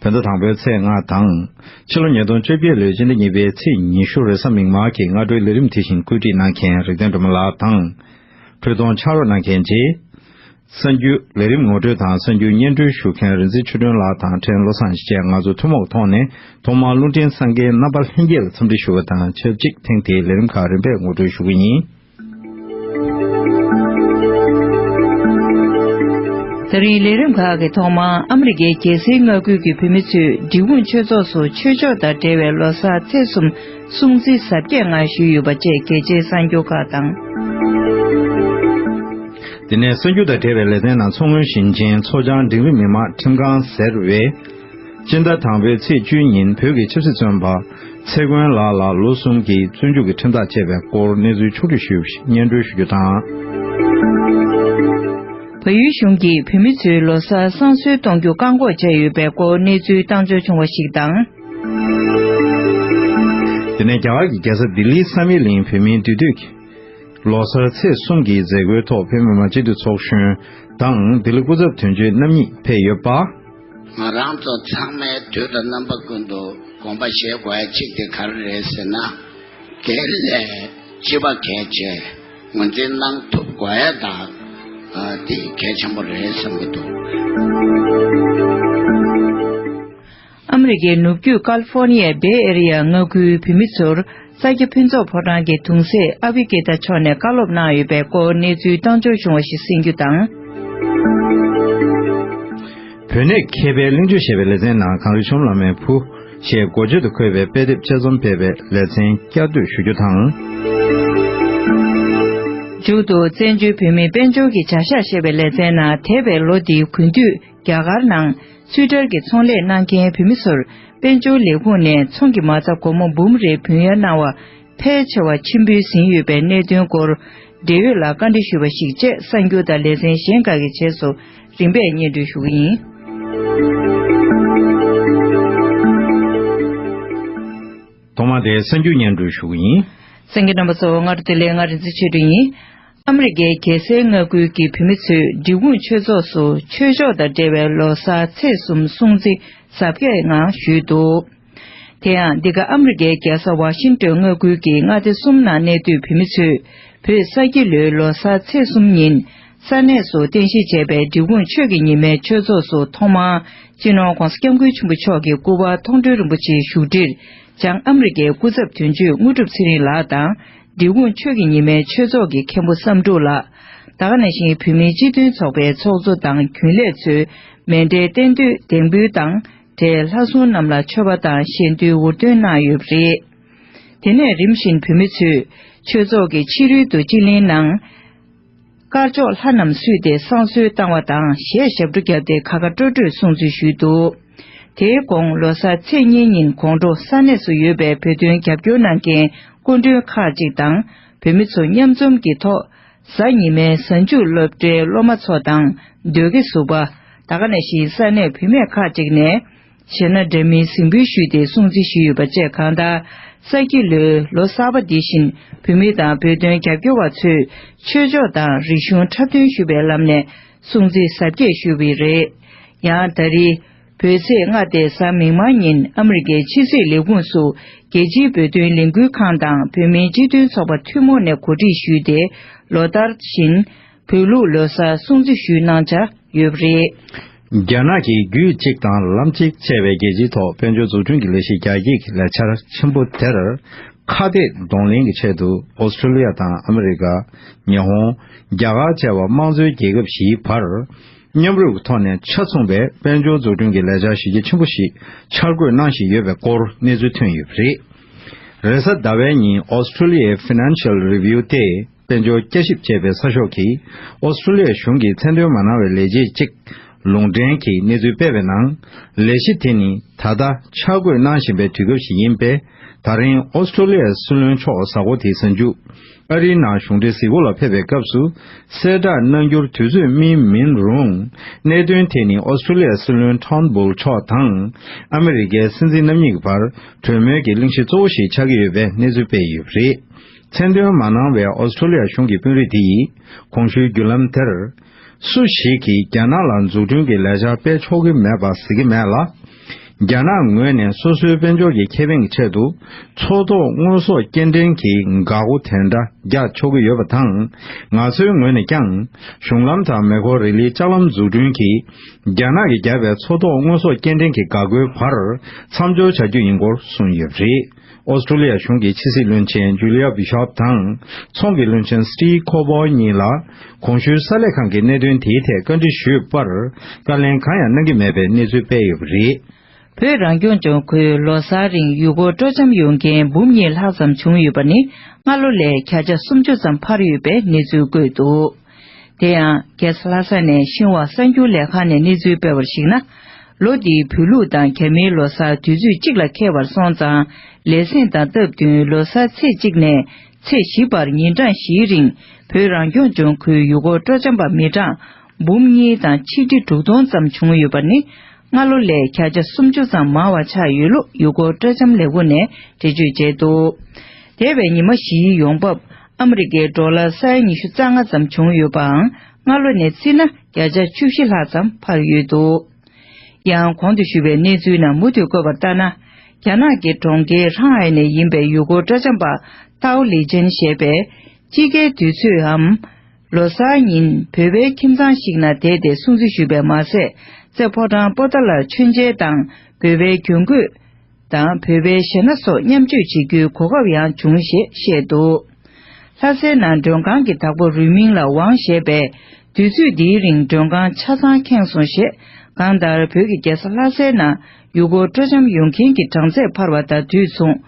བོད་ཟླ་དང་པོའི་ཚེས་ལྔ་དང། ཕྱི་ལོ་ཉིས་སྟོང་བཅོ་བརྒྱད་ལོའི་སྤྱི་ཟླ་གཉིས་པའི་ཚེས་ཉི་ཤུར་རེས་གཟའ་མིག་དམར་གྱི་སྔ་དྲོའི་ལས་རིམ་དེ་བཞིན་བཀོད་སྒྲིག་གནང་མཁན་རིག་ལྡན་སྒྲོལ་མ་ལགས་དང། འཕྲུལ་རྡོང་ཕྱག་རོགས་གནང་མཁན་རྗེ། གསར་འགྱུར་ལས་རིམ་ངོ་སྤྲོད་དང་གསར་འགྱུར་སྙན་སྒྲོན་ཞུ་མཁན་རིན་ཆེན་ཆོས་སྒྲོན་ལགས་དང་ཕྲན་བློ་བཟང་བཅས་ང་ཚོ་ཐུན་མོང་ཐོག་ནས་ཐོག་མར་རླུང་འཕྲིན་སངས་རྒྱས་རྣམ་པ་ལྷན་རྒྱས་ལ་འཚམས་འདྲི་ཞུ་བ་དང་ཆབས་ཅིག་ཐེངས་དེའི་ལས་རིམ་ཁག་རིམ་པས་ངོ་སྤྲོད་ཞུ་གི་ཡིན། ད་རིང་ལས་རིམ་ཁག་གི་ཐོག་མ་ཨ་མི་རི་ཀའི་རྒྱལ་སའི་མངའ་ཁུལ་གྱི་བུད་མེད་ཚོས་འབྲི་གུང་ཆོས་ཚོགས་སུ་ཆོས་ཕྱོགས་དང་འབྲེལ་བའི་ལོ་སར་ཚེས་གསུམ་སྲུང་བརྩི་གཟབ་རྒྱས་ངང་ཞུས་ཡོད་པ་བཅས་གལ་ཆེའི་གསར་འགྱུར་ཁག་དང། དེ་ནས་གསར་འགྱུར་དང་འབྲེལ་བའི་ལེ་ཚན་ནང་མཚོ་སྔོན་ཞིང་ཆེན་མཚོ་བྱང་འབྲིང་རིམ་མི་དམངས་ཁྲིམས་ཁང་ཟེར་བས། སྤྱི་ཟླ་དང་པོའི་ཚེས་བཅུའི་ཉིན་བོད་ཀྱི་ཆབ་སྲིད་བཙོན་པ། ཚེ་མགོན་ལགས་ལ་ལོ་གསུམ་གྱི་བཙོན་འཇུག་གི་ཁྲིམས་ཐག་བཅད་པའི་སྐོར་གནས་ཚུལ་ཕྱོགས་བསྒྲིགས་ཞུས་པར་སྙན་སྒྲོན་ཞུ་རྒྱུ་དང། བལ་ཡུལ་གཞུང་གིས་བོད་མི་ཚོའི་ལོ་སར་བསང་གསོལ་གཏོང་རྒྱུ་བཀག་འགོག་བྱས་ཡོད་པའི་སྐོར་གནས་ཚུལ་བཏང་འབྱོར་བྱུང་བ་ཞིག་དང། དེ་ནས་རྒྱ་གར་གྱི་རྒྱལ་ས་ལྡི་ལིའི་བསམ་ཡས་གླིང་བོད་མིའི་འདུས་སྡོད་ཀྱིས། ལོ་སར་ཚེས་གསུམ་གྱི་མཛད་སྒོའི་ཐོག་བོད་མི་མང་སྤྱི་འཐུས་ཚོགས་གཞོན་དང་ལྡི་ལི་སྐུ་ཚབ་དོན་གཅོད་རྣམ་གཉིས་ཕེབས་ཡོད་པ། ང་རང་ཚོ་ཚང་མས་དུས་ལ་རྣམ་པ་ཀུན་ཏུ་དགོངས་པ་བཞེས་དགོས་ཡ་གཅིག་དེ་ག་རེ་རེད་ཟེར་ན། དེ་ལས་སྤྱི་བ་གལ་ཆེ། ངོས་འཛིན་གནང་ཐུབ་དགོས་ཡ་དང་དེ་གལ་ཆེན་པོ་རེད་བསམ་གྱི་འདུག། ཨ་མེ་རི་ཀའི་ནུབ་རྒྱུད་ཀལ་ཧྥོ་ནི་ཡའི Bay Area མངའ་ཁུལ་བུད་མེད་ཚོར། ས་སྐྱ་ཕུན་ཚོགས་ཕོ་བྲང་གི་དུང་སེ་ཨ་བྷི་ཀི་ཏཱ་མཆོག་ནས་བཀའ་སློབ་གནང་ཡོད་པའི་སྐོར་གནས་ཚུལ་གཏོང་འབྱོར་བྱུང་བ་ཞིག་གསན་རྒྱུ་དང། བོད་གནས་མཁས་པའི་གླིང་བཅུ་ཞེས་པའི་ལེ་ཚན་ནང་གངས་རི་ཆོམ་ལ་མའི་བུ། ཞེས་མགོ་བརྗོད་དུ་འཁོད་པའི་དཔེ་དེབ་དཔྱད་རྩོམ་སྤེལ་བའི་ལེ་ཚན་བསྐྱར་བཟློས་ཞུ་རྒྱུ་དང། མཇུག་ཏུ་བཙན་བྱོལ་བོད་མིའི་དཔལ་འབྱོར་གྱི་བྱ་གཞག་ཞེས་པའི་ལེ་ཚན་ནང་དེ་བས་ལོ་འདིའི་གུས་འདུད། རྒྱ་གར་ནང་ཚུད་དར་གྱི་ཚོང་ལས་གནང་མཁན་བོད་མི་ཚོར་དཔལ་འབྱོར་ལས་ཁུངས་ནས་ཚོང་གི་མ་རྩ་སྒོར་མོ་འབུམ་རེ་བུན་གཡར་གནང་བ་ཕལ་ཆེ་བ་ཕྱིར་འབུལ་ཟིན་ཡོད་པའི་གནད་དོན་སྐོར་འབྲེལ་ཡོད་ལ་བཀའ་འདྲི་ཞུས་པ་ཞིག་བཅས་གསར་འགྱུར་དང་ལེ་ཚན་གཞན་འགའ་གི་རྗེས་སུ་རིམ་པས་སྙན་སྒྲོན་ཞུ་གི་ཡིན། ཐོག་མར་དེའི་གསར་འགྱུར་སྙན་སྒྲོན་ཞུ་གི་ཡིན། སེང་གེ་རྣམ་པ་ཚོ་ང་རོ་དེ་ལས་ང་རིན་ཆེན་ཆོས་སྒྲོན་ཡིན། ཨ་མི་རི་ཀའི་རྒྱལ་སའི་མངའ་ཁུལ་གྱི་བུད་མེད་ཚོས་འབྲི་གུང་ཆོས་ཚོགས་སུ་ཆོས་ཕྱོགས་དང་འབྲེལ་བའི་ལོ་སར་ཚེས་གསུམ་སྲུང་བརྩི་གཟབ་རྒྱས་ངང་ཞུས་འདུག་དེ་ཡང་འདི་ག་ཨ་མི་རི་ཀའི་རྒྱལ་ས་ཝ་ཤིང་ཏོན་མངའ་ཁུལ་གྱི་མངའ་སྡེ་གསུམ་ནང་གནས་སྡོད་བུད་མེད་ཚོས་བོད་ས་སྐྱིད་ལོའི་ལོ་སར་ཚེས་གསུམ་ཉིན་ས་གནས་སུ་རྟེན་གཞི་བྱས་པའི་འབྲི་གུང་ཆོས་ཀྱི་ཉི་མའི་ཆོས་ཚོགས་སུ་ཐོག་མར་སྤྱི་ནོར ྋགོང་ས ྋསྐྱབས་མགོན་ཆེན་པོ་མཆོག་གི་སྐུ་དབར་ཐོག་མགྲོན་རིན་པོ་ཆེའི་བཞུགས་ཁྲིར་བྱང་ཨ་མི་རི་ཀའི་སྐུ་ཚབ་དོན་གཅོད་དངོས་གྲུབ་ཚེ་རིང་ལགས་དང་འབྲི་གུང་ཆོས་ཀྱི་ཉི་མའི་ཆོས་ཚོགས་ཀྱི་མཁན་པོ་བསམ་འགྲུབ་ལགས། ད་ག་ནས་ཤིང་བོད་མིའི་སྤྱི་མཐུན་ཚོགས་པའི་ཚོགས་གཙོ་དང་རྒྱུན་ལས་ཚོས་མེ་འབྲས་རྟེན་འདུས་གདེང་འབུལ་དང་འབྲེལ་ལྷ་སྲུང་རྣམས་ལ་མཆོད་པ་དང་བཞེས་འདུལ་འུར་འདོན་གནང་ཡོད་པ་རེད། དེ་ནས་རིམ་བཞིན་བོད་མི་ཚོས་ཆོས་ཚོགས་ཀྱི་ཕྱི་རོལ་དུ་སྤྱི་གླིང་ནང། དཀར་ཕྱོགས་ལྷ་རྣམས་བསུས་ཏེ་བསང་གསོལ་བཏང་བ་དང་ཞལ་ཞབས་བྲོ་བརྒྱབ་སྟེ་ཁ་ཁ་སྤྲོ་སྤྲོས་གསུང་ཚུལ་ཞུས་འདུག་དེའི་དགོང་ལོ་སར་ཚེས་གཉིས་ཉིན་གོང་འབྲོག་ས་གནས་སུ་ཡོད་པའི་བོད་དོན་རྒྱབ་སྐྱོར་གནང་མཁན་སྐུ་མགྲོན་ཁག་ཅིག་དང་བོད་མི་ཚོ་མཉམ་འཛོམས་ཀྱིས་ཐོག་གཟའ་ཉི་མའི་གཟའ་མཇུག་སློབ་གྲྭའི་སློབ་མ་ཚོ་དང་ཟློས་དགེ་བསུ་བདག་ཁ་ནས་བཞིན་ས་གནས་བུད་མེད་ཁག་ཅིག་ནས། བྱས་ན་འདྲ་མིན་གཟིགས་འབུལ་ཞུས་ཏེ་སྲུང་བརྩི་ཞུས་ཡོད་པ་བཅས་གང་ལྟར། གསར་སྐྱེས་ལོའི་ལོ་གསར་པ་འདི་བཞིན་བུད་མེད་དང་བོད་དོན་རྒྱབ་སྐྱོར་བ་ཚོས་ཆོས་ཕྱོགས་དང་རིག་གཞུང་འཁྲབ་སྟོན་ཞུ་བའི་ལམ་ནས་སྲུང་བརྩི་གཟབ་རྒྱས་ཞུ་འི་རེད། ཡང་ད་རི། བོད་ཚེས་ལྔ་སྟེ་གཟའ་མིག་དམར་ཉིན་ཨ་མི་རི་ཀའི་ཕྱི་སྲིད་ལས་ཁུངས་སུ་རྒྱལ་སྤྱིའི་བོད་དོན་ལས་འགུལ་ཁང་དང་བོད་མིའི་སྤྱི་མཐུན་ཚོགས་པ་ཐུན་མོང་ནས་གོ་སྒྲིག་ཞུས་ཏེ་ལོ་ལྟར་བཞིན། བོད་ལུགས་ལོ་སར་སྲུང་བརྩི་ཞུས་གནང་འཆར་ཡོད་པ་རེད། རྒྱ་ནག་གིས་རྒྱུད་གཅིག་དང་ལམ་གཅིག་ཅེས་པའི་རྒྱལ་སྤྱིའི་ཐོག་དཔལ་འབྱོར་འཛུགས་སྐྲུན་གྱི་ལས་གཞི་རྒྱ་སྐྱེད་ཀྱི་ལས་འཆར་ཆེན་པོ་དེར་ཁ་གཏད་གདོང་ལེན་གྱི་ཆེད་དུ་ཨོ་སི་ཁྲུ་ལི་ཡ་དང་ཨ་མི་རི་ཀ། ཉི་ཧོང། རྒྱ་གར་བཅས་པ་དམངས་གཙོའི་རྒྱལ་ཁབ་བཞིའི་བར་མཉམ་རུབ་ཀྱི་ཐོག་ནས་ཆ་མཚུངས་པའི་དཔལ་འབྱོར་འཛུགས་སྐྲུན་གྱི་ལས་འཆར་གཞི་རྒྱ་ཆེན་པོ་ཞིག་འཆར་འགོད་གནང་བཞིན་ཡོད་པའི་སྐོར་གནས་ཚུལ་ཐོན་ཡོད་པ་རེད། རེས་གཟའ་ཟླ་བའི་ཉིན་ཨོ་སི་ཁྲུ་ལི་ཡའི Financial Review ལྟེ་དཔལ་འབྱོར་བསྐྱར་ཞིབ་བྱས་པའི་གསར་ཤོག་གིས་ཨོ་སི་ཁྲུ་ལི་ཡ་གཞུང་གིས་མཚན་འདོན་མ་གནང་བའི་ལས་བྱེད་ཅིག་ལུང་འདྲེན་གྱིས་གནས་ཚུལ་སྤེལ་བའི་ནང། ལས་གཞི་དེ་ནི་ད་ལྟ་འཆར་འགོད་གནང་བཞིན་པའི་དུས་སྐབས་ཤིག་ཡིན་པས་ད་རིང་ཨོ་སི་ཁྲུ་ལི་ཡའི་སྲིད་བློན་མཆོག་གཟའ་འཁོར་དེའི་གཟའ་མཇུག་ཨ་རིའི་ནང་གཞུང་འབྲེལ་གཟིགས་སྐོར་ལ་ཕེབས་པའི་སྐབས་སུ་གསལ་བསྒྲགས་གནང་རྒྱུར་དུས་ཚོད་སྨིན་མིན་རུང། གནད་དོན་དེ་ནི་ཨོ་སི་ཁྲུ་ལི་ཡའི་སྲིད་བློན་ཐཱོན་བུལ་མཆོག་དང་ཨ་མི་རི་ཀའི་སྲིད་འཛིན་རྣམ་གཉིས་ཀྱི་བར་གྲོས་མོལ་གྱི་གླེང་གཞི་གཙོ་བོ་ཞིག་ཆགས་ཀྱི་ཡོད་པའི་གནས་ཚུལ་སྤེལ་ཡོད་པ་རེད། མཚན་འདོན་མ་གནང་བའི་ཨོ་སི་ཁྲུ་ལི་ཡ་གཞུང་གི་དཔོན་རིགས་དེ་ཡིས་གོང་ཞུའི་བརྒྱུད་ལམ་དེར། སུ་ཞིག་གིས་རྒྱ་ནག་ལ་འཛུགས་སྐྲུན་གྱི་ལས་འཆར་སྤེལ་ཆོག་གི་མེད་པ་གཟིགས་ཀྱི་མེད་ལ། རྒྱ་ནག་ངོས་ནས་སོ་སོའི་དཔལ་འབྱོར་གྱི་ཁེ་ཕན་གྱི་ཆེད་དུ་མཚོ་ཐོག་དངོས་ཟོག་སྐྱེལ་འདྲེན་གྱི་འགག་སྒོ་དེ་འདྲ་རྒྱག་ཆོག་གི་ཡོད་པ་དང། ང་ཚོའི་ངོས་ནས་ཀྱང་གཞུང་ལམ་དང་མེ་འཁོར་རི་ལིའི་ལྕགས་ལམ་འཛུགས་སྐྲུན་གྱིས་རྒྱ་ནག་གིས་བརྒྱབ་པའི་མཚོ་ཐོག་དངོས་ཟོག་སྐྱེལ་འདྲེན་གྱི་འགག་སྒོའི་བར་མཚམས་སྦྱོར་བྱ་རྒྱུ་ཡིན་སྐོར་གསུངས་ཡོད་པ་རེད། ཨོ་སི་ཁྲུ་ལི་ཡ་གཞུང་གི་ཕྱི་སྲིད་བློན་ཆེན་ཇུ་ལི་ཡ་བྷི་ཤོབ་དང་ཚོང་གི་བློན་ཆེན་སི་ཏི་ཁོ་བྷོ་གཉིས་ལ་གོང་ཞུའི་གསར་ལས་ཁང་གིས་གནད་དོན་དེའི་ཐད་བཀའ་འདྲི་ཞུས་པར་བཀའ་ལན་གང་ཡང་གནང་གི་མེད་པའི་གནས་ཚུལ་སྤེལ་ཡོད་པ་རེད། བོད་རང་སྐྱོང་ལྗོངས་ཁུལ་ལོ་གསར་རིང་ཡུལ་སྐོར་སྤྲོ་འཆམ་ཡོང་མཁན་འབུམ་གཉིས་ལྷག་ཙམ་བྱུང་ཡོད་པ་ནི་སྔ་ལོ་ལས་གྱ་ཆ་སུམ་ཅུ་ཙམ་འཕར་ཡོད་པའི་གནས་ཚུལ་བཀོད་འདུག། དེ་ཡང་རྒྱལ་ས་ལྷ་ས་ནས་ཤིང་བྷ་གསར་འགྱུར་ལས་ཁང་ནས་གནས་ཚུལ་སྤེལ་བར་གཞིགས་ན། ལོ་འདིའི་བོད་ལུགས་དང་གྱ་མིའི་ལོ་སར་དུས་ཚོད་གཅིག་ལ་འཁེལ་བར་སོང་ཙང་ལས་གཟེངས་དང་སྟབས་བསྟུན་ལོ་སར་ཚེས་གཅིག་ནས་ཚེས་བཞི་བར་ཉིན་གྲངས་བཞིའི་རིང་བོད་རང་སྐྱོང་ལྗོངས་ཁུལ་ཡུལ་སྐོར་སྤྲོ་འཆམ་པ་མི་གྲངས་འབུམ་གཉིས་དང་ཆིག་ཁྲི་དྲུག་སྟོང་ཙམ་བྱུང་ཡོད་པ་ནི་སྔ་ལོ་ལས་གྱ་ཆ་སུམ་ཅུ་ཙམ་མང་བ་ཆགས་ཡོད་ལུགས་ཡུལ་སྐོར་སྤྲོ་འཆམ་ལས་ཁུངས་ནས་འགྲེལ་བརྗོད་བྱས་འདུག་དེ་བས་ཉི་མ་བཞིའི་ཡོང་འབབ་ཨ་ཨ་མི་རི་ཀའི་འབྲོག་ལ་ས་ཡ་ཉི་ཤུ་རྩ་ལྔ་ཙམ་བྱུང་ཡོད་པའང་སྔ་ལོ་ནས་བརྩིས་ན་བརྒྱ་ཆ་བཅུ་བཞི་ལྷག་ཙམ་འཕར་ཡོད་འདུག་ཡང་གོང་དུ་ཞུས་པའི་གནས་ཚུལ་ནང་མུ་མཐུད་བཀོད་པ་ལྟར་ན། རྒྱ་ནག་གི་གྲོང་ཁྱེར་ཧྲང་ཧའེ་ནས་ཡིན་པའི་ཡུལ་སྐོར་སྤྲ་འཆམ་པ་ཏའོ་ལི་ཅན་ཞེས་པས་དཔྱིད་ཀའི་དུས་ཚོདའམ། ལོ་གསར་ཉིན་བོད་པའི་ཁྱིམ་ཚང་ཞིག་ན་བསྡད་དེ་སྲུང་བརྩི་ཞུས་པས་མ་ཟད་རྩེ་ཕོ་ཀྲང་པོ་ཏཱ་ལར་མཆོད་མཇལ་དང་འབོད་པའི་གྱོན་གོས། དང་བོད་པའི་གཞས་སྣ་སོགས་མཉམ་སྤྱོད་བྱེད་རྒྱུའི་གོ་སྐབས་ཡང་བྱུང་ཞེས་བཤད་འདུག་ལྷ་སའི་ནང་མགྲོན་ཁང་གི་བདག་པོ་རུས་མིང་ལ་ཝང་ཞེས་པས་དུས་ཚོད་འདིའི་རིང་མགྲོན་ཁང་ཆ་ཚང་ཁེངས་སོང་ཞེས་གང་ལྟར་བོད་ཀྱི་རྒྱལ་ས་ལྷ་སའི་ནང་ཡུལ་སྐོར་སྤྲོ་འཆམ་ཡོང་མཁན་གྱི་གྲངས་ཚད་འཕར་བ་དང་དུས་མཚུངས།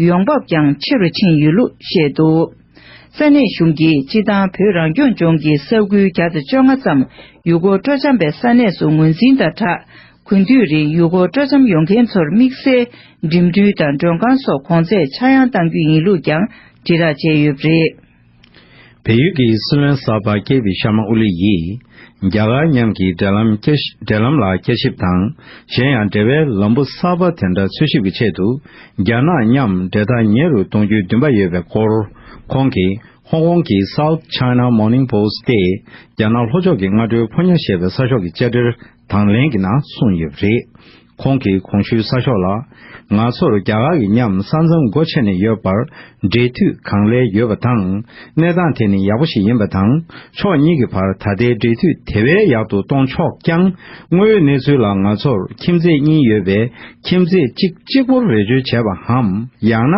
ཡོང་འབབ་ཀྱང་ཆེ་རུ་ཕྱིན་ཡོད་ལུགས་བཤད་འདུག་ས་གནས་གཞུང་གིས་སྤྱི་བཏང་བོད་རང་སྐྱོང་ལྗོངས་ཀྱི་ས་ཁུལ་བརྒྱ་དང་བཅོ་ལྔ་ཙམ་ཡུལ་སྐོར་སྤྲོ་འཆམ་པའི་ས་གནས་སུ་ངོས་འཛིན་དང་སྦྲགས། དགུན་དུས་རིང་ཡུལ་སྐོར་སྤྲོ་འཆམ་ཡོང་མཁན་ཚོར་དམིགས་བསལ་འགྲིམ་འགྲུལ་དང་མགྲོན་ཁང་སོགས་གོང་ཚད་ཆག་ཡང་གཏང་རྒྱུ་ཡིན་ལུགས་ཀྱང་དྲིལ་རགས་བྱས་ཡོད་པ་རེད། བལ་ཡུལ་གྱི་སྲིད་བློན་གསར་པ་ཀེ་བི་ཤར་མ་ཨོ་ལི་ཡིས་རྒྱ་གར་མཉམ་གྱི་འབྲེལ་ལམ་འབྲེལ་ལམ་ལ་བསྐྱར་ཞིབ་དང་གཞན་ཡང་འབྲེལ་བའི་ལམ་བུ་གསར་པ་དེ་འདྲ་འཚོལ་ཞིབ་ཀྱི་ཆེད་དུ་རྒྱ་ནག་མཉམ་འབྲེལ་ཐག་ཉེ་རུ་གཏོང་རྒྱུའི་འདུན་པ་ཡོད་པའི་སྐོར་ཁོང་གིས་ཧོང་ཀོང་གི South China Morning Post སྟེ་རྒྱ་ནག་ལྷོ་ཕྱོགས་ཀྱི་སྔ་དྲོའི་ཕོ་ཉར་ཞེས་པའི་གསར་ཤོག་གི་བཅར་འདྲིར་དང་ལེན་གྱི་ན་གསུངས་ཡོད་པ་རེད། ཁོང་གིས་གོང་ཞུས་ས་ཤོག་ལ། ང་ཚོར་རྒྱ་གར་གྱི་ཉམས་ས་མཚམས་སྒོ་ཕྱེ་ནས་ཡོད་པར་འབྲེལ་མཐུད་གང་ལེགས་ཡོད་པ་དང་གནས་སྟངས་དེ་ནི་ཡག་པོ་ཞིག་ཡིན་པ་དང་ཕྱོགས་གཉིས་ཀྱི་བར་ད་ལྟའི་འབྲེལ་མཐུད་དེ་བས་ཡག་ཏུ་གཏོང་ཆོག་ཀྱང་དངོས་ཡོད་གནས་ཚུལ་ལ་ང་ཚོར་ཁྱིམ་མཚེས་གཉིས་ཡོད་པས་ཁྱིམ་མཚེས་གཅིག་གཅིག་པོར་རེ་བཅོལ་བྱས་པའམ་ཡང་ན་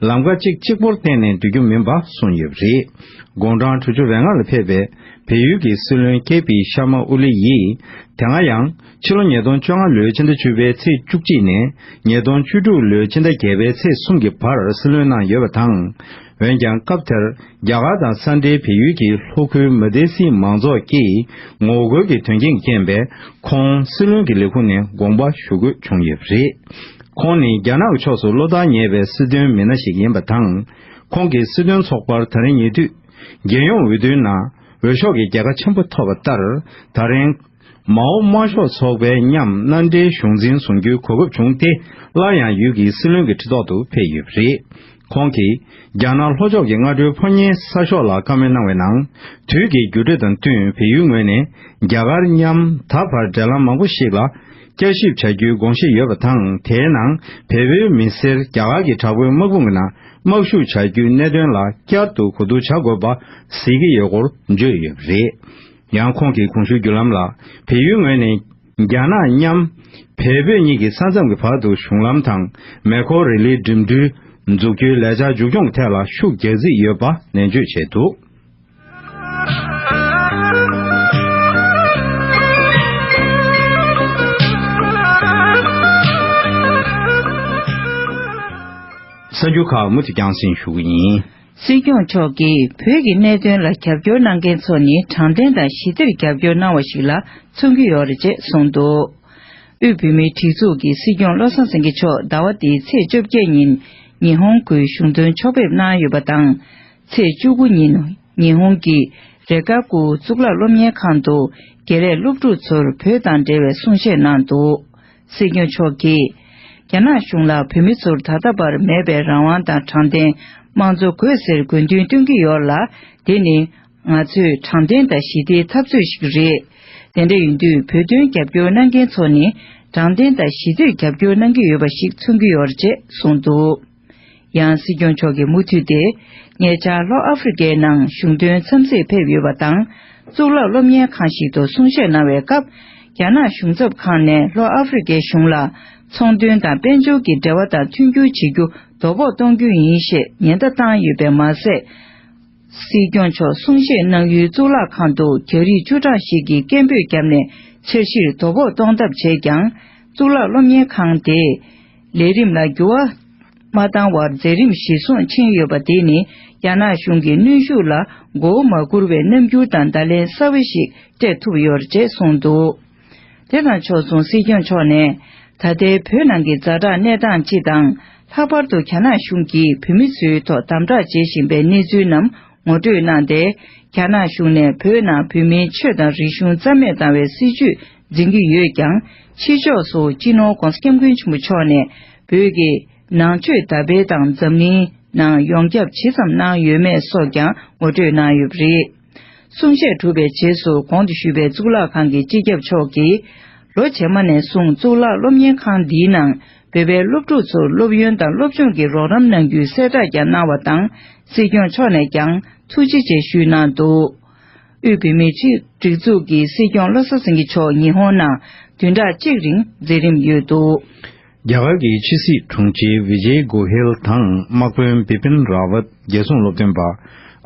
ལམ་ཁ་གཅིག་གཅིག་པོར་བརྟེན་ནས་འདུལ་རྒྱུ་མིན་པ་གསུངས་ཡོད་པ་རེད། དགུང་གྲངས་དྲུག་ཅུ་རེ་ལྔ་ལ་ཕེབས་པའི། བལ་ཡུལ་གྱི་སྲིད་བློན་ཀེ་པི་ཤར་མ་ཨོ་ལི་ཡིས་དེ་སྔ་ཡང་ཕྱི་ལོ་ཉིས་སྟོང་བཅོ་ལྔ་ལོའི་ཕྱི་ཟླ་བཅུ་པའི་ཚེས་བཅུ་གཅིག་ནས་ཉིས་སྟོང་བཅུ་དྲུག་ལོའི་ཕྱི་ཟླ་བརྒྱད་པའི་ཚེས་གསུམ་གྱི་བར་སྲིད་བློན་གནང་ཡོད་པ་དང། འོན་ཀྱང་སྐབས་དེར་རྒྱ་གར་དང་ས་འབྲེལ་བལ་ཡུལ་གྱི་ལྷོ་ཁུལ་མཱི་དེ་སི་མང་ཚོགས་ཀྱིས་ངོ་རྒོལ་གྱི་དོན་རྐྱེན་གྱི་རྐྱེན་པས་ཁོང་སྲིད་བློན་གྱི་ལས་ཁུངས་ནས་དགོངས་པ་ཞུ་དགོས་བྱུང་ཡོད་པ་རེད། ཁོང་ནི་རྒྱ་ནག་གི་ཕྱོགས་སུ་བློ་ཐག་ཉེ་བའི་སྲིད་དོན་མི་སྣ་ཞིག་ཡིན་པ་དང། ཁོང་གིས་སྲིད་དོན་ཚོགས་པར་ད་རིང་ཉེ་དུས། རྒྱལ་ཡོངས་འོས་བསྡུའི་ནང་འོས་ཤོག་གི་རྒྱལ་ཁ་ཆེན་པོ་ཐོབ་པ་ལྟར་ད་རིང། མའོ་དམར་ཤོག་ཚོགས་པའི་མཉམ་མནའ་འབྲེལ་གཞུང་འཛིན་བཟུང་རྒྱུའི་གོ་སྐབས་བྱུང་སྟེ་སླར་ཡང་ཡུལ་གྱི་སྲིད་བློན་གྱི་ཁྲི་ཐོག་ཏུ་ཕེབས་ཡོད་པ་རེད། ཁོང་གིས་རྒྱ་ནག་ལྷོ་ཕྱོགས་ཀྱི་སྔ་དྲོའི་ཕོ་ཉའི་ས་ཤོག་ལ་བཀའ་མོལ་གནང་བའི་ནང་དུས་ཀྱི་འགྱུར་འགྲོས་དང་བསྟུན་བལ་ཡུལ་ངོས་ནས་རྒྱ་གར་མཉམ་ད་བར་འབྲེལ་ལམ་མང་པོ་ཞིག་ལ་བསྐྱར་ཞིབ་བྱ་རྒྱུའི་དགོངས་བཞེས་ཡོད་པ་དང་དེའི་ནང་བལ་བོའི་མི་སེར་རྒྱ་གར་གྱི་དྲག་པོའི་དམག་དཔུང་གི་ནང་དམག་ཞུགས་བྱ་རྒྱུའི་གནད་དོན་ལ་བསྐྱར་དུ་གོ་བསྡུར་བྱ་དགོས་པ་གཟིགས་ཀྱི་ཡོད་སྐོར་བརྗོད་ཡོད་པ་རེད། ཡང་ཁོང་གིས་གོང་ཞུས་རྒྱུ་ལམ་ལ་བལ་ཡུལ་ངོས་ནས་རྒྱ་ནག་མཉམ། བལ་བོད་གཉིས་ཀྱི་ས་མཚམས་ཀྱི་བར་དུ་གཞུང་ལམ་དང་མེ་འཁོར་རི་ལིའི་འགྲིམ་འགྲུལ་འཛུགས་རྒྱུའི་ལས་འཆར་མཇུག་སྐྱོང་ཐད་ལ་ཤུགས་རྒྱག་རྩིས་ཡོད་པ་ནན་བརྗོད་བྱས་འདུག། གསར་འགྱུར་ཁག་མུ་མཐུད་བསྐྱང་སྲིང་ཞུ་གི་ཡིན། སྲིད་སྐྱོང་མཆོག་གིས་བོད་ཀྱི་གནད་དོན་ལ་རྒྱབ་སྐྱོར་གནང་མཁན་ཚོ་ནི་དྲང་བདེན་དང་ཞི་བདེར་རྒྱབ་སྐྱོར་གནང་བ་ཞིག་ལ་མཚོན་གྱི་ཡོད་རེད་ཅེས་གསུངས་འདུག་དབུས་བོད་མིའི་སྒྲིག་འཛུགས་ཀྱི་སྲིད་སྐྱོང་བློ་བཟང་སེང་གེ་མཆོག་ཟླ་བ་འདིའི་ཚེས་བཅོ་བརྒྱད་ཉིན་ཉི་ཧོང་གུའི་གཞུང་དོན་ཕྱོགས་ཕེབས་གནང་ཡོད་པ་དང། ཚེས་བཅུ་དགུ་ཉིན་ཉི་ཧོང་གི་རེ་གཱ་ཀུའུ་གཙུག་ལག་སློབ་གཉེར་ཁང་དུ་དགེ་ལས་སློབ་ཕྲུག་ཚོར་བོད་དང་འབྲེལ་བའི་གསུང་བཤད་གནང་འདུག་སྲིད་སྐྱོང་མཆོག་གིས། རྒྱ་ནག་གཞུང་ལ་བོད་མི་ཚོར་ད་ལྟ་བར་མེད་པའི་རང་དབང་དང་དྲང་བདེན་དམངས་གཙོ་དགོས་ཟེར་དགོས་འདུན་བཏོན་གྱི་ཡོད་ལ་དེ་ནི་ང་ཚོས་དྲང་བདེན་དང་ཞི་བདེའི་འཐབ་རྩོད་ཞིག་རེད། དེ་འདྲ་ཡིན་དུས་བོད་དོན་རྒྱབ་སྐྱོར་གནང་མཁན་ཚོ་ནི་དྲང་བདེན་དང་ཞི་བདེར་རྒྱབ་སྐྱོར་གནང་གི་ཡོད་པ་ཞིག་མཚོན་གྱི་ཡོད་རེད་ཅེས་གསུངས་འདུག། ཡང་སྲིད་སྐྱོང་མཆོག་གིས་མུ་མཐུད་དེ་ཉེ་ཆར་ལྷོ་ཨ་ཧྥེ་རི་ཀའི་ནང་གཞུང་དོན་འཚམས་གཟིགས་ཕེབས་ཡོད་པ་དང་གཙུག་ལག་སློབ་གཉེར་ཁང་ཞིག་ཏུ་གསུང་བཤད་གནང་བའི་སྐབས་རྒྱ་ནག་གཞུང་ཚབ་ཁང་ནས་ལྷོ་ཨ་ཧྥེ་རི་ཀའི་གཞུང་ལ་ཚོང་དོན་དང་དཔལ་འབྱོར་གྱི་འབྲེལ་བ་དང་མཐུན་འགྱུར་བྱེད་རྒྱུ་དོ་ཕོག་གཏོང་རྒྱུ་ཡིན་ཞེས་ཉེན་བརྡ་བཏང་ཡོད་པས་མ་ཟད། སྲིད་སྐྱོང་མཆོག་གསུང་བཤད་གནང་ཡུལ་གཙུག་ལག་ཁང་དུ་རྒྱ་རིགས་བཅུ་གྲངས་ཤིག་གིས་སྐད་འབོད་བརྒྱབ་ནས་འཆར་གཞིར་དོ་ཕོག་གཏོང་ཐབས་བྱས་ཀྱང་གཙུག་ལག་སློབ་གཉེར་ཁང་དེས། ལས་རིམ་ལ་འགྱུར་བ་མ་བཏང་བར་མཛད་རིམ་བཞི་སོང་ཕྱིན་ཡོད་པ་དེ་ནི་རྒྱ་ནག་གཞུང་གི་གནོན་ཤུགས་ལ་མགོ་བོ་མ་སྒུར་བའི་རྣམ་འགྱུར་དང་བརྡ་ལན་གསར་བ་ཞིག་སྤྲད་ཐུབ་ཡོད་ཅེས་གསུངས་འདུག་དེ་དང་ཕྱོགས་མཚུངས་སྲིད་སྐྱོང་མཆོག་ནས། ད་ལྟའི་བོད་ནང་གི་རྫ་དྲག་གནས་སྟངས་སྤྱི་དང། ལྷག་པར་དུ་རྒྱ་ནག་གཞུང་གིས་བོད་མི་ཚོའི་ཐོག་དམ་དྲག་བྱེད་བཞིན་པའི་གནས་ཚུལ་རྣམས་ངོ་སྤྲོད་གནང་སྟེ། རྒྱ་ནག་གཞུང་ནས་བོད་ནང་བོད་མིའི་ཆོས་དང་རིག་གཞུང་རྩ་མེད་བཏང་བའི་སྲིད་བྱུས་འཛིན་གྱི་ཡོད་ཀྱང་ཕྱི་ཕྱོགས་སུ་སྤྱི་ནོར ྋགོང་ས ྋསྐྱབས་མགོན་ཆེན་པོ་མཆོག་ནས་བོད་ཀྱི་ནང་ཆོས་དར་སྤེལ་དང་འཛམ་གླིང་ནང་ཡོངས་ཁྱབ་ཇི་ཙམ་གནང་ཡོད་མེད་སོགས་ཀྱང་ངོ་སྤྲོད་གནང་ཡོད་པ་རེད། གསུང་བཤད་གྲུབ་པའི་རྗེས་སུ་གོང་དུ་ཞུས་པའི་གཙུག་ལག་ཁང་གི་སྤྱི་ཁྱབ་མཆོག་གིས་ལོ་རྗེས་མ་ནས་བཟུང་གཙུག་ལག་སློབ་གཉེར་ཁང་འདིའི་ནང་བོད་པའི་སློབ་ཕྲུག་ཚོར་སློབ་ཡོན་དང་སློབ་སྦྱོང་གི་རོགས་རམ་གནང་རྒྱུའི་གསལ་བསྒྲགས་ཀྱང་གནང་བ་དང་སྲིད་སྐྱོང་མཆོག་ནས་ཀྱང་ཐུགས་རྗེ་ཆེ་ཞུས་གནང་འདུག། དབུས་བོད་མིའི་ཆེད་སྒྲིག་འཛུགས་ཀྱི་སྲིད་སྐྱོང་བློ་བཟང་སེང་གེ་མཆོག་ཉི་ཧོང་ནང་བདུན་ཕྲག་གཅིག་རིང་མཛད་རིམ་ཡོད་འདུག། རྒྱ་གར་གྱི་ཕྱི་སྲིད་དྲུང་ཆེ་བི་ཇེ་གོ་ཧེལ་དང་དམག་དཔོན་བི་པིན་རཱ་ཝད་རྒྱལ་སྲུང་སློབ་སྟོན་པ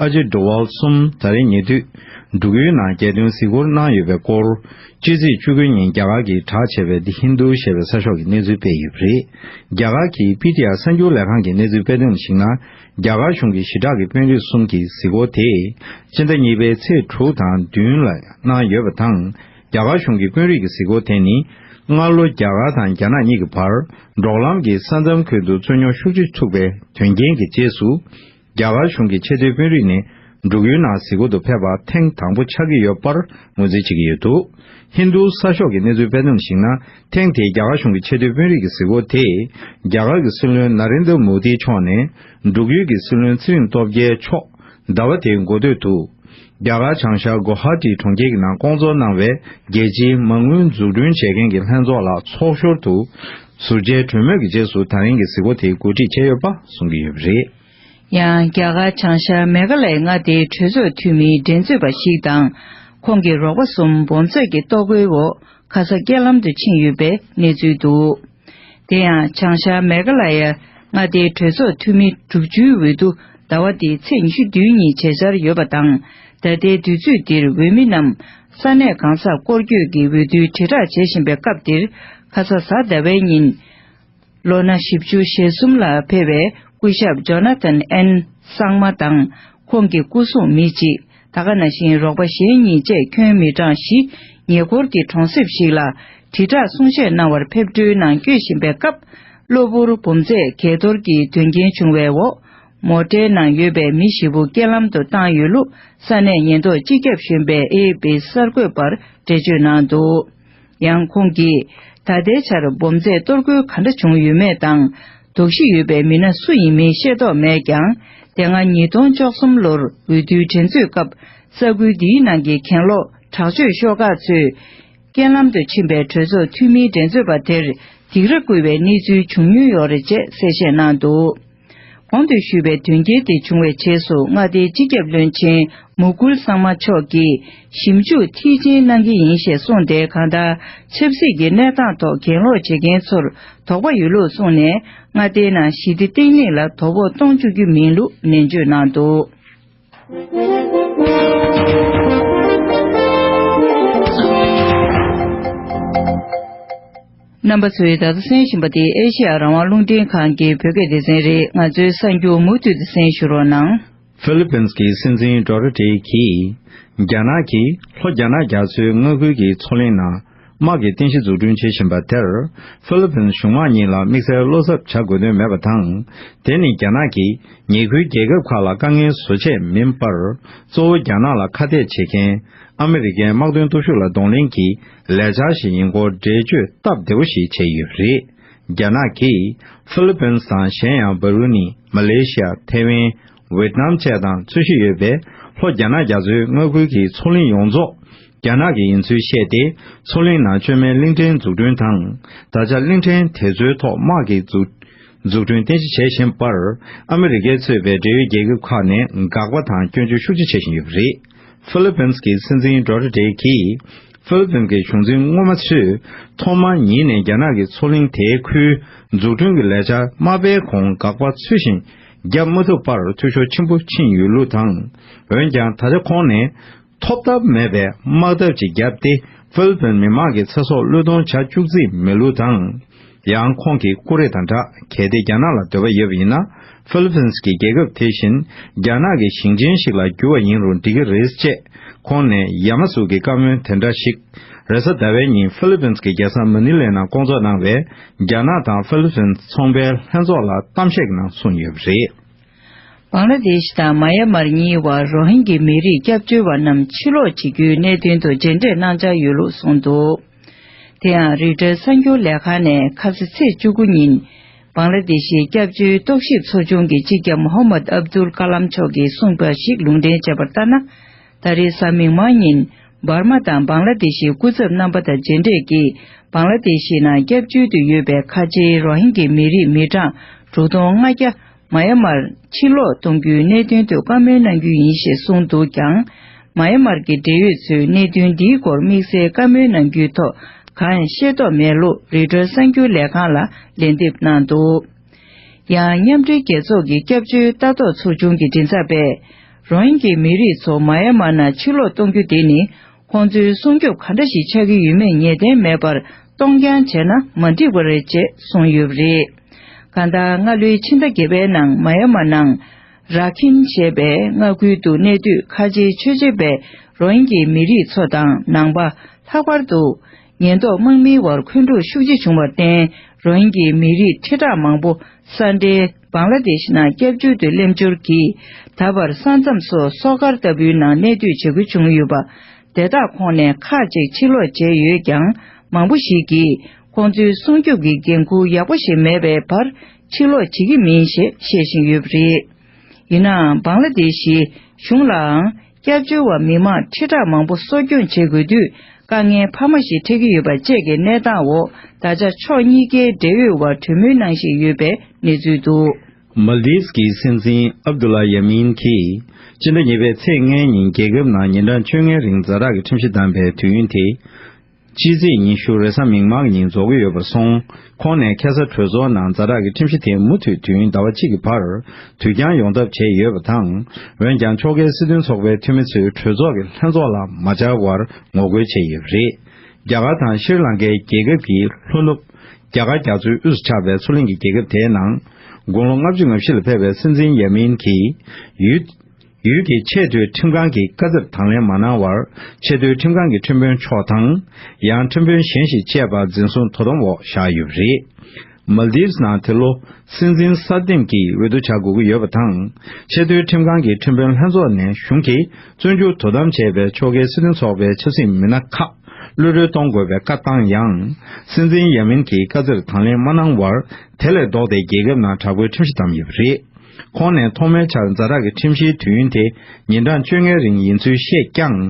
Ajit Doval གསུམ་ད་རེས་ཉེ་དུས་འབྲུག་ཡུལ་ནང་རྒྱལ་དོན་གཟིགས་སྐོར་གནང་ཡོད་པའི་སྐོར། སྤྱི་ཚེས་བཅུ་དགུ་ཉིན་རྒྱ་གར་གྱིས་གྲགས་ཆེ་བའི་དི་ཧིན་རྡུ་ཞེས་པའི་གསར་ཤོག་གིས་གནས་ཚུལ་སྤེལ་ཡོད་པ་རེད། རྒྱ་གར་གྱི་པི་ཏི་ཨར་གསར་འགྱུར་ལས་ཁང་གིས་གནས་ཚུལ་སྤེལ་དོན་ལ་གཞིགས་ན། རྒྱ་གར་གཞུང་གི་ཞི་དྲག་གི་དཔོན་རིགས་གསུམ་གྱི་གཟིགས་སྐོར་དེ་སྤྱི་ཟླ་གཉིས་པའི་ཚེས་དྲུག་དང་བདུན་ལ་གནང་ཡོད་པ་དང་རྒྱ་གར་གཞུང་གི་དཔོན་རིགས་ཀྱི་གཟིགས་སྐོར་དེ་ནི་སྔར་ལོ་རྒྱ་གར་དང་རྒྱ་ནག་གཉིས་ཀྱི་བར་འབྲོག་ལམ་གྱི་ས་མཚམས་ཁུལ་དུ་རྩོད་རྙོག་ཤུགས་ཆེ་ཚུགས་པའི་དོན་རྐྱེན་གྱི་རྗེས་སུ་རྒྱ་གར་གཞུང་གི་ཆེས་མཐོའི་དཔོན་རིགས་ནས་འབྲུག་ཡུལ་ནང་གཟིགས་སྐོར་དུ་ཕེབས་པ་ཐེངས་དང་པོ་ཆགས་ཀྱི་ཡོད་པར་ངོས་འཛིན་བྱེད་ཀྱི་ཡོད་འདུག་ཧིན་རྡུ་ས་ཤོག་གི་གནས་ཚུལ་སྤེལ་དོན་ལ་གཞིགས་ན་ཐེངས་དེའི་རྒྱ་གར་གཞུང་གི་ཆེས་མཐོའི་དཔོན་རིགས་ཀྱི་གཟིགས་སྐོར་དེས་རྒྱ་གར་གྱི་སྲིད་བློན་ན་རེན་དཱ་མོ་དཱིའི་མཆོག་ནས་འབྲུག་ཡུལ་གྱི་སྲིད་བློན་ཚེ་རིང་སྟོབས་རྒྱལ་མཆོག་ཟླ་བ་དེའི་འགོ་སྟོད་དུ་རྒྱ་གར་བྱང་ཤར་གོ་ཧཱ་ཀྲི་གྲོང་ཁྱེར་གྱི་ནང་བསྐོང་ཚོགས་གནང་བའི་རྒྱལ་སྤྱིའི་མ་དངུལ་འཛུགས་སྐྲུན་བྱེད་མཁན་གྱི་ལྷན་ཚོགས་ལ་ཚོགས་ཞོར་དུ་ཟུར་བཅད་གྲོས་མོལ་གྱི་རྗེས་སུ་ད་རིང་གི་གཟིགས་སྐོར་དེའི་འགོ་ཁྲིད་བྱས་ཡོད་པ་གསུང་གི་ཡོད་པ་རེད། ཡང་རྒྱ་གར་བྱང་ཤར་མེ་གྷ་ལའི་མངའ་སྡེའི་གྲོས་ཚོགས་འཐུས་མིའི་འགྲན་རྩོད་པ་ཞིག་དང་ཁོང་གི་རོགས་པ་གསུམ་འབོམ་རྫས་ཀྱི་ལྟོ་གོས་འོག་ཁ་ས་སྐྱེལ་ལམ་དུ་ཕྱིན་ཡོད་པའི་གནས་ཚུལ་འདུག་དེ་ཡང་བྱང་ཤར་མེ་གྷ་ལ་ཡའི་མངའ་སྡེའི་གྲོས་ཚོགས་འཐུས་མི་དྲུག་ཅུའི་འོས་བསྡུ་ཟླ་བ་འདིའི་ཚེས་ཉི་ཤུ་བདུན་ཉིན་བྱེད་འཆར་ཡོད་པ་དང་ད་ལྟའི་དུས་ཚོད་འདིར་འོས་མི་རྣམས་ས་གནས་གང་སར་སྐོར་སྐྱོད་ཀྱིས་འོས་བསྡུའི་དྲིལ་བསྒྲགས་བྱེད་བཞིན་པའི་སྐབས་འདིར་ཁ་ས་ཟ་ཟླ་བའི་ཉིན། ལོ་ན་བཞི་བཅུ་ཞེ་གསུམ་ལ་ཕེབས་པའི་སྐུ་ཞབས Jonathan N། སངས་མ་དང། ཁོང་གི་སྐུ་སྲུང་མི་གཅིག་ད་ག་ན་ཤིང་རོགས་པ་གཞན་གཉིས་བཅས་ཁྱོན་མི་གྲངས་བཞི། ཉེ་འཁོར་གྱི་གྲོང་གསེབ་ཞིག་ལ་དྲིལ་བསྒྲགས་གསུང་བཤད་གནང་བར་ཕེབས་འཕྲུལ་ནང་སྐྱོད་བཞིན་པའི་སྐབས། གློ་བུར་འབུམ་རྫས་གས་གཏོར་གྱི་དོན་རྐྱེན་བྱུང་བའི་འོག་མོ་ཏྲའི་ནང་ཡོད་པའི་མི་བཞི་བོ་རྐྱེན་ལམ་དུ་བཏང་ཡོད་ལུགས་ས་གནས་ཉེན་རྟོག་སྤྱི་ཁྱབ་གཞོན་པས་ཨེ་ཨེ་པི་གསར་འགོད་པར་འགྲེལ་བརྗོད་གནང་འདུག། ཡང་ཁོང་གིས། ད་ལྟའི་ཆར་སྦོམ་རྫས་གཏོར་རྒོལ་ག་འདྲ་བྱུང་ཡོད་མེད་དང་དོགས་གཞི་ཡོད་པའི་མི་སྣ་སུ་ཡིན་མིན་ཤེས་རྟོགས་མེད་ཀྱང་དེ་སྔ་ཉིས་སྟོང་བཅོ་གསུམ་ལོར་འོས་བསྡུའི་དྲན་གསོའི་སྐབས་ས་ཁུལ་འདིའི་ནང་གི་གྱེན་ལོག་དྲག་སྤྱོད་ཤོག་ཁག་ཚོས་རྐྱེན་ལམ་དུ་ཕྱིན་པའི་གྲོས་ཚོགས་འཐུས་མིའི་འགྲན་རྩོད་པ་དེར་སྡིགས་ར་བསྐུལ་བའི་གནས་ཚུལ་བྱུང་མྱོང་ཡོད་རེད་ཅེས་གསལ་བཤད་གནང་འདུག། གོང་དུ་ཞུས་པའི་དོན་རྐྱེན་དེ་བྱུང་བའི་རྗེས་སུ་མངའ་སྡེའི་སྤྱི་ཁྱབ་བློན་ཆེན་མོ་ཀུལ་གསང་མ་མཆོག་གིས་ཞིབ་འཇུག་མཐིལ་ཕྱིན་གནང་གི་ཡིན་ཞེས་གསུངས་ཏེ་གང་ལྟར་ཆབ་སྲིད་ཀྱི་གནས་སྟངས་ཐོག་གྱེན་ལོག་བྱེད་མཁན་ཚོར་དོགས་པ་ཡོད་ལུགས་གསུངས་ནས་མངའ་སྡེའི་ནང་ཞི་བདེ་བརྟན་ལྷིང་ལ་དོ་ཕོག་གཏོང་བཅུག་རྒྱུ་མིན་ལུགས་ནན་བརྗོད་གནང་འདུག། རྣམ་པ་ཚོས་ད་ལྟ་གསན་བཞིན་པ་འདི་ཨེ་ཤི་ཡ་རང་དབང་རླུང་འཕྲིན་ཁང་གི་བོད་སྐད་སྡེ་ཚན་རེད་ང་ཚོའི་གསར་འགྱུར་མུ་མཐུད་དུ་གསན་ཞུ་རོགས་གནང། Philippines གྱི་སྲིད་འཛིན Duterte གྱིས་རྒྱ་ནག་གིས་ལྷོ་རྒྱ་ནག་རྒྱ་མཚོའི་མངའ་ཁུལ་གྱི་མཚོ་གླིང་ནང་དམག་གི་རྟེན་གཞི་འཛུགས་སྐྲུན་བྱེད་བཞིན་པ་དེར་ཧྥི་ལི་ཕིན་གཞུང་དམངས་གཉིས་ལ་དམིགས་བསལ་བློ་འཚབ་བྱ་དགོས་དོན་མེད་པ་དང། དེ་ནི་རྒྱ་ནག་གིས་ཉེ་ཁུལ་རྒྱལ་ཁབ་ཁག་ལ་དཀའ་ངལ་བཟོ་ཆེད་མིན་པར། གཙོ་བོ་རྒྱ་ནག་ལ་ཁ་གཏད་བྱེད་མཁན་ཨ་མི་རི་ཀའི་དམག་དོན་སྟོབས་ཤུགས་ལ་གདོང་ལེན་གྱི་ལས་འཆར་ཞིག་ཡིན་སྐོར་འགྲེལ་བརྗོད་སྟབས་བདེ་བོ་ཞིག་བྱས་ཡོད་པ་རེད། རྒྱ་ནག་གིས་ཧྥི་ལི་ཕིན་དང་གཞན་ཡང་བྷ་རུ་ནི་མ་ལེ་ཤི་ཡ་ཐེ་ཝན་ཝེ་ཏི་ནམ་བཅས་དང་རྩོད་གཞི་ཡོད་པས་ལྷོ་རྒྱ་ནག་རྒྱ་མཚོའི་མངའ་ཁུལ་གྱི་མཚོ་གླིང་ཡོངས་རྫོགས་རྒྱ་ནག་གི་ཡིན་ཚུལ་བཤད་དེ་མཚོ་གླིང་ནང་བཅོས་མའི་གླིང་ཕྲན་འཛུགས་སྐྲུན་དང་ད་ཆ་གླིང་ཕྲན་དེ་ཚོའི་ཐོག་དམག་གི་འཛུགས་འཛུགས་སྐྲུན་བརྟན་གཞི་བྱེད་བཞིན་པར་ཨ་མི་རི་ཀས་གཙོས་པའི་འབྲེལ་ཡོད་རྒྱལ་ཁབ་ཁག་ནས་དགག་པ་དང་སྐྱོན་བརྗོད་ཤུགས་ཆེ་བྱེད་བཞིན་ཡོད་པ་རེད། ཧྥི་ལི་པིན་སི་གི་སྲིད་འཛིན་རྡྲོ་རི་ཏེག་གིས་ཧྥི་ལི་པིན་གྱི་གཞུང་འཛིན་སྔོན་མ་ཚོས་ཐོག་མ་ཉིད་ནས་རྒྱ་ནག་གི་མཚོ་གླིང་དེའི་ཁུལ་འཛུགས་སྐྲུན་གྱི་ལས་འཆར་མ་སྤེལ་གོང་དགག་པ་ཚུལ་བཞིན་རྒྱབ་མ་ཐུབ་པར་འཐུས་ཤོར་ཆེན་པོ་ཕྱིན་ཡོད་ལུགས་དང། འོན་ཀྱང་ད་ཆ་ཁོང་ནས་ཐོབ་ཐབས་མེད་པའི་དམག་འཐབ་ཅིག་བརྒྱབ་སྟེ་ཧྥི་ལི་ཕིན་མི་མང་གི་ཚེ་སྲོག་བློས་གཏོང་བྱ་བཅུག་རྩིས་མེད་ལུགས་དང། ཡང་ཁོང་གི་ཀུ་རེ་དང་སྦྲགས་གལ་ཏེ་རྒྱ་ནག་ལ་འདོད་པ་ཡོད་པ་ཡིན་ན་ཧྥི་ལི་ཕིན་གྱི་རྒྱལ་ཁབ་དེ་བཞིན་རྒྱ་ནག་གི་ཞིང་ཆེན་ཞིག་ལ་འགྱུར་བ་ཡིན་རུང་འགྲིག་གི་རེད་ཅེས་ཁོང་ནས་ཡ་མ་གཟུགས་ཀྱི་བཀའ་མོལ་དེ་འདྲ་ཞིག་རེས་གཟའ་ཟླ་བའི་ཉིན་ཧྥི་ལི་ཕིན་གྱི་རྒྱལ་ས་མ་ནི་ལེ་ནང་སྐོང་ཚོགས་གནང་བའི་རྒྱ་ནག་དང་ཧྥི་ལི་ཕིན་ཚོང་པའི་ལྷན་ཚོགས་ལ་གཏམ་བཤད་ཀྱི་ནང་གསུངས་ཡོད་པ་རེད། བང་ལ་དེ་ཤི་དང་མ་ཡ་མར་གཉིས་བར་རོ་ཧིན་གྱི་མི་རིགས་སྐྱབས་བཅོལ་བ་རྣམས་ཕྱིར་ལོག་བྱེད་རྒྱུའི་གནད་དོན་དུ་མཇལ་འཕྲད་གནང་འཆར་ཡོད་ལུགས་གསུངས་འདུག་དེ་ཡང་རིག་གྲྭའི་གསར་འགྱུར་ལས་ཁང་ནས་ཁབ་སི་ཚེས་བཅུ་དགུ་ཉིན་བང་ལ་དེ་ཤིའི་སྐྱབས་བཅོལ་རྟོག་ཞིབ་ཚོ་ཆུང་གི་སྤྱི་ཁྱབ་མོ་ཧོ་མད་ཨབ་དུལ་ཀ་ལམ་མཆོག་གིས་གསུངས་པ་ཞིག་ལུང་འདྲེན་བྱས་པར་ལྟར་ན། ད་རེས་གཟའ་མིག་དམར་ཉིན་འབར་མ་དང་བང་ལ་དེ་ཤིའི་སྐུ་ཚབ་རྣམ་པ་དང་མཇལ་འཕྲད་ཀྱིས་བང་ལ་དེ་ཤི་ནང་སྐྱབས་བཅོལ་དུ་ཡོད་པའི་ཁ་ཆེའི་རོ་ཧིན་གི་མི་རིགས་མི་གྲངས་དྲུག་སྟོང་ལྔ་བརྒྱ་མ་ཡ་མར་ཕྱིར་ལོག་གཏོང་རྒྱུའི་གནད་དོན་ཐོག་བཀའ་མོལ་གནང་རྒྱུ་ཡིན་ཞེས་གསུངས་འདུག་ཀྱང། མ་ཡ་མར་གྱི་འབྲེལ་ཡོད་ཚོས་གནད་དོན་འདིའི་སྐོར་དམིགས་བསལ་བཀའ་མོལ་གནང་རྒྱུའི་ཐོག་གང་ཡང་ཤེས་རྟོགས་མེད་ལུགས་རི་ཁྲོད་གསར་འགྱུར་ལས་ཁང་ལ་ལན་འདེབས་གནང་འདུག་ཡང། མཉམ་འབྲེལ་རྒྱལ་ཚོགས་ཀྱི་སྐྱབས་བཅོལ་ལྟ་རྟོག་ཚོགས་ཆུང་གི་མགྲིན་ཚབ་པས། རང་ཡིན་གྱི་མི་རིགས་ཚོ་མ་ཡ་མ་ན་ཕྱིར་ལོག་གཏོང་རྒྱུ་དེ་ནི་ཁོང་ཚོའི་སྲུང་སྐྱོབ་ག་འདྲ་ཞིག་ཆགས་ཀྱི་ཡོད་མེད་ངེས་གཏན་མེད་པར་གཏོང་རྐྱང་བྱས་ན་མ་འགྲིག་པ་རེད་ཅེས་གསུངས་ཡོད་པ་རེད། གང་ལྟར་སྔ་ལོའི་ཕྱི་ཟླ་བརྒྱད་པའི་ནང་མ་ཡ་མ་ནང། རཱ་ཁིན་ཞེས་པའི་མངའ་ཁུལ་དུ་གནས་དུས་ཁ་ཆེའི་ཆོས་བྱེད་པའི་རང་ཡིན་གྱི་མི་རིགས་ཚོ་དང་ནང་པ་ལྷག་པར་དུ། ཉེན་རྟོག་དམག་མིའི་བར་འཁོན་འཁྲུག་ཤུགས་ཆེ་བྱུང་བར་བརྟེན་རང་ཡིན་གྱི་མི་རིགས་ཁྲི་ཕྲག་མང་པོ་ས་འདྲེན། བཱང་ལ་དེ་ཤི་ནང་སྐྱབས་བཅོལ་དུ་སླེབས་འབྱོར་གྱིས་ད་བར་ས་མཚམས་སུ་གསོག་སྒར་ལྟ་བུའི་ནང་གནས་སྡོད་བྱེད་དགོས་བྱུང་ཡོད་པ། དེ་དག་ཁོང་ནས་ཁག་གཅིག་ཕྱིར་ལོག་བྱས་ཡོད་ཀྱང་མང་པོ་ཞིག་གིས་ཁོང་ཚོའི་སྲུང་སྐྱོབ་ཀྱི་འགན་འཁུར་ཡག་པོ་ཞིག་མེད་པའི་བར་ཕྱིར་ལོག་བྱེད་ཀྱི་མིན་ཞེས་བཤད་བཞིན་ཡོད་པ་རེད། ཡིན་ནའང་བཱང་ལ་དེ་ཤིའི་གཞུང་ལའང་སྐྱབས་བཅོལ་བ་མི་མང་ཁྲི་ཕྲག་མང་པོ་གསོ་སྐྱོང་བྱེད་དགོས་དུས་དཀའ་ངལ་འཕར་མ་ཞིག་འཕྲད་ཀྱི་ཡོད་པ་བཅས་ཀྱི་གནས་སྟངས་འོག་ད་ཆ་ཕྱོགས་གཉིས་ཀའི་འབྲེལ་ཡོད་བར་གྲོས་མོལ་གནང་བཞིན་ཡོད་པའི་གནས་ཚུལ་འདུག། མཱལ་དིབ་ཀྱི་སྲིད་འཛིན་ཨབ་དུ་ལཱ་ཡཱ་མིན་གྱིས་སྤྱི་ཟླ་གཉིས་པའི་ཚེས་ལྔའི་ཉིན་རྒྱལ་ཁབ་ནང་ཉིན་གྲངས་བཅོ་ལྔའི་རིང་རྫ་དྲག་གི་ཁྲིམས་གཞི་བསྡམས་པའི་དུས་ཡུན་དེ་སྤྱི་ཚེས་ཉི་ཤུར་རེས་གཟའ་མིག་དམར་ཉིན་རྫོགས་ཀྱི་ཡོད་པར་སོང་ཁོང་ནས་ཁེ་སར་གྲོས་ཚོགས་ནང་རྫ་དྲག་གི་ཁྲིམས་གཞི་དེ་མུ་མཐུད་དུས་ཡུན་ཟླ་བ་གཅིག་གི་བར་དུ་འགྱངས་ཡོང་ཐབས་བྱས་ཡོད་པ་དང་འོན་ཀྱང་ཕྱོགས་འགལ་སྲིད་དོན་ཚོགས་པའི་འཐུས་མི་ཚོས་གྲོས་ཚོགས་ཀྱི་ལྷན་ཚོགས་ལ་མ་བཅར་བར་ངོ་རྒོལ་བྱས་ཡོད་པ་རེད། རྒྱ་གར་དང་ཤིར་ལང་ཀའི་རྒྱལ་ཁབ་ཀྱི་ལྷོ་ནུབ། རྒྱ་གར་རྒྱ་མཚོའི་དབུས་སུ་ཆགས་པའི་མཚོ་གླིང་གི་རྒྱལ་ཁབ་དེའི་ནང། དགུང་ལོ་ལྔ་བཅུ་ང་བཞི་ལ་ཕེབས་པའི་སྲིད་འཛིན་ཡཱ་མིན་གྱིས་ཡུལ། ཡུལ་གྱི་ཆེས་མཐོའི་ཁྲིམས་ཁང་གིས་བཀའ་སྩལ་དང་ལེན་མ་གནང་བར་ཆེས་མཐོའི་ཁྲིམས་ཁང་གི་ཁྲིམས་དཔོན་མཆོག་དང། ཡང་ཁྲིམས་དཔོན་གཞན་ཞིག་བཅས་པ་འཛིན་བཟུང་དོ་དམ་འོག་བཞག་ཡོད་པ་རེད། Maldives ནང་དེ་ལོ་སྲིད་འཛིན་གསར་འདེམས་ཀྱི་འོས་བསྡུ་བྱ་དགོས་ཀྱི་ཡོད་པ་དང། ཆེས་མཐོའི་ཁྲིམས་ཁང་གི་ཁྲིམས་དཔོན་ལྷན་ཚོགས་ནས་གཞུང་གིས་བཙོན་འཇུག་དོ་དམ་བྱས་པའི་ཕྱོགས་འགལ་སྲིད་དོན་ཚོགས་པའི་ཆབ་སྲིད་མི་སྣ་ཁག་ཀློད་གྲོལ་གཏོང་དགོས་པའི་བཀའ་བཏང་ཡང། སྲིད་འཛིན་ཡ་མིན་གྱིས་བཀའ་སྩལ་དང་ལེན་མ་གནང་བར་དེ་ལས་ལྡོག་སྟེ་རྒྱལ་ཁབ་ནང་དྲག་པོའི་ཁྲིམས་གཞི་བསྡམས་ཡོད་པ་རེད། ཁོང་ནས་ཐོག་མའི་ཆར་འཛའ་རག་གི་ཁྲིམས་གཞིའི་དུས་ཡུན་དེ་ཉིན་གྲངས་བཅོ་ལྔའི་རིང་ཡིན་ཚུལ་བཤད་ཀྱང།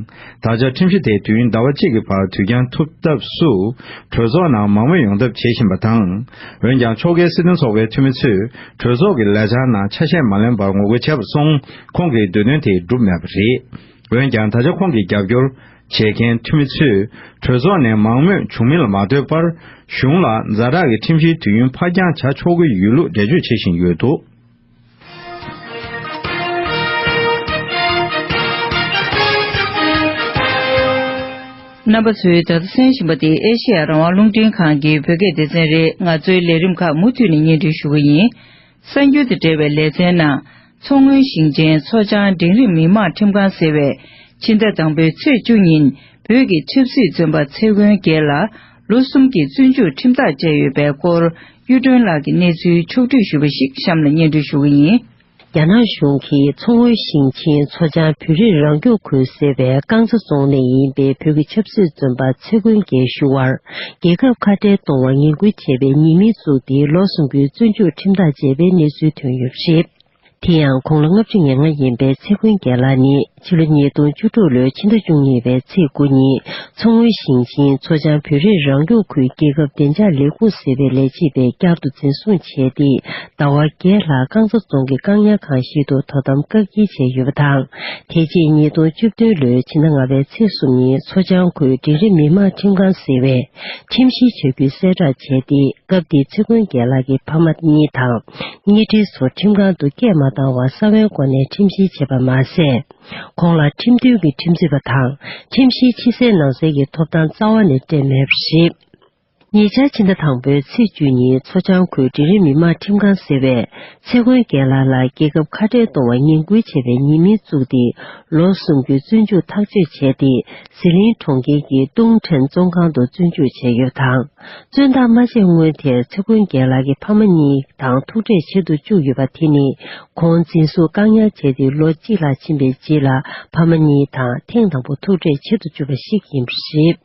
ད་ཆ་ཁྲིམས་གཞི་དེ་དུས་ཡུན་ཟླ་བ་གཅིག་གི་བར་དུས་འགྱངས་ཐུབ་ཐབས་སུ་གྲོས་ཚོགས་ནང་མང་མོས་ཡོང་ཐབས་བྱེད་བཞིན་པ་དང། འོན་ཀྱང་ཕྱོགས་འགལ་སྲིད་དོན་ཚོགས་པའི་འཐུས་མི་ཚོས་གྲོས་ཚོགས་ཀྱི་ལས་འཆར་ནང་ཆ་ཤས་མ་ལོན་པར་ངོ་རྒོལ་བྱས་པ་སོང་ཁོང་གིས་འདོད་དོན་དེ་འགྲུབ་མེད་པ་རེད། འོན་ཀྱང་ད་ཆ་ཁོང་གིས་རྒྱབ་སྐྱོར། བྱེད་མཁན་འཐུས་མི་ཚོས་གྲོས་ཚོགས་ནས་མང་མོས་བྱུང་མིན་ལ་མ་ལྟོས་པར་གཞུང་ལ་མཛའ་གྲགས་ཀྱི་ཁྲིམས་གཞིའི་དུས་ཡུན་འཕར་འགྱངས་བྱ་ཆོག་གི་ཡོད་ལུགས་འགྲེལ་བརྗོད་བྱེད་བཞིན་ཡོད་འདུག། རྣམ་པ་ཚོས་ད་ལྟ་གསན་བཞིན་པ་དེ་ཨེ་ཤེ་ཡ་རང་དབང་རླུང་འཕྲིན་ཁང་གི་བོད་སྐད་སྡེ་ཚན་རེད་ང་ཚོའི་ལས་རིམ་ཁག་མུ་མཐུད་ནས་གཉེན་སྒྲིག་ཞུ་གི་ཡིན། གསར་འགྱུར་དང་འབྲེལ་བའི་ལེ་ཚན་ནང། མཚོ་སྔོན་ཞིང་ཆེན་མཚོ་བྱང་འབྲིང་རིམ་མི་དམངས་ཁྲིམས་ཁང་ཟེར་བས་ཕྱི་ཟླ་དང་པོའི་ཚེས་བཅུ་ཉིན་བོད་ཀྱི་ཆབ་སྲིད་བཙོན་པ་ཚེ་དབོན་རྒྱལ་ལ་ལོ་གསུམ་གྱི་བཙོན་འཇུག་ཁྲིམས་ཐག་བཅད་ཡོད་པའི་སྐོར་གཡུ་སྒྲོན་ལགས་ཀྱི་གནས་ཚུལ་ཕྱོགས་བསྡུས་ཞུས་པ་ཞིག་གཤམ་ལ་སྙན་སྒྲོན་ཞུ་གི་ཡིན། རྒྱ་ནག་གཞུང་གིས་མཚོ་སྔོན་ཞིང་ཆེན་མཚོ་བྱང་བོད་རིགས་རང་སྐྱོང་ཁུལ་ཟེར་བའི་རྐང་ཚ་རྫོང་ནས་ཡིན་པའི་བོད་ཀྱི་ཆབ་སྲིད་བཙོན་པ་ཚེ་དབོན་རྒྱལ་ཞུ་བར་རྒྱལ་ཁབ་ཁ་བྲལ་གཏོང་བར་ངན་སྐུལ་བྱས་པའི་ཉེས་མིང་བཙུགས་ཏེ་ལོ་གསུམ་གྱི་བཙོན་འཇུག་ཁྲིམས་ཐག་བཅད་པའི་གནས་ཚུལ་ཐོན་ཡོད་པ་རེད། དེ་ཡང་ཁོང་ལོ་ལྔ་བཅུ་ཉེར་ལྔ་ཡིན་པའི་ཚེ་ཀུན་རྒྱལ་ལགས་ནི་ཕྱི་ལོ་ཉིས་སྟོང་བཅུ་དྲུག་ལོའི་ཕྱི་ཟླ་བཅུ་གཉིས་པའི་ཚེས་དགུ་ཉིན་མཚོ་སྔོན་ཞིང་ཆེན་མཚོ་བྱང་བོད་རིགས་རང་སྐྱོང་ཁུལ་རྒྱལ་ཁབ་བདེ་འཇགས་ལས་ཁུངས་ཟེར་བའི་ལས་བྱེད་པས་བསྐྱར་དུ་འཛིན་བཟུང་བྱས་ཏེ་ཟླ་བ་བརྒྱད་ལྷག་རྐང་ཚ་རྫོང་གི་བཀག་ཉར་ཁང་ཞིག་ཏུ་དོ་དམ་བཀག་བསྐྱིལ་བྱས་ཡོད་པ་དང། དེ་རྗེས་ཉིས་སྟོང་བཅུ་བདུན་ལོའི་ཕྱི་ཟླ་ལྔ་པའི་ཚེས་གསུམ་ཉིན་མཚོ་བྱང་ཁུལ་འབྲིང་རིམ་མི་དམངས་ཁྲིམས་ཁང་ཟེར་བས་ཁྲིམས་བཤེར་བྱ་རྒྱུ་གསལ་བསྒྲགས་བྱས་ཏེ་སྐབས་དེའི་ཚེ་མགོན་རྒྱལ་ལགས་ཀྱི་ཕ་མ་གཉིས་དང། གཉེན་སྒྲིག་ཚོ་ཁྲིམས་ཁང་དུ་སྐད་མ་བཏང་བར་ས་བོན་སྒོ་ནས་ཁྲིམས་བཤེར་བྱས་པ་མ་ཟད། ཁོང་ལ་ཁྲིམས་མཐུན་གྱི་ཁྲིམས་རྩོད་པ་དང་ཁྲིམས་བཤེར་ཕྱི་གསལ་ནང་གསལ་གྱི་ཐོབ་ཐང་རྩ་བ་ནས་སྤྲད་མེད་པ་རེད། ཉེ་ཆར་ཕྱི་ཟླ་དང་པོའི་ཚེས་བཅུ་ཉིན་མཚོ་བྱང་ཁུལ་འབྲིང་རིམ་མི་དམངས་ཁྲིམས་ཁང་ཟེར་བས་ཚེ་མགོན་རྒྱལ་ལགས་ལ་རྒྱལ་ཁབ་ཁ་བྲལ་གཏོང་བར་ངན་སྐུལ་བྱས་པའི་ཉེས་མིང་བཙུགས་ཏེ་ལོ་གསུམ་རྒྱུན་བཙོན་འཇུག་ཐག་གཅོད་བྱས་ཏེ་ཟི་ལིང་གྲོང་ཁྱེར་གྱི་ཏུང་ཁྲན་བཙོན་ཁང་དུ་བཙོན་འཇུག་བྱས་ཡོད་དང། བཙོན་བདག་མ་བྱས་སྔོན་དེར་ཚེ་མགོན་རྒྱལ་ལགས་ཀྱི་ཕ་མ་གཉིས་དང་ཐུག་འཕྲད་བྱེད་དུ་བཅུག་ཡོད་པ་དེ་ནི་ཁོང་འཛིན་བཟུང་བཀག་ཉར་བྱས་ཏེ་ལོ་གཅིག་ལྷག་ཕྱིན་པའི་རྗེས་ལ་ཕ་མ་གཉིས་དང་ཐེངས་དང་པོ་ཐུག་འཕྲད་བྱེད་དུ་བཅུག་པ་ཞིག་ཡིན་པ་རེད།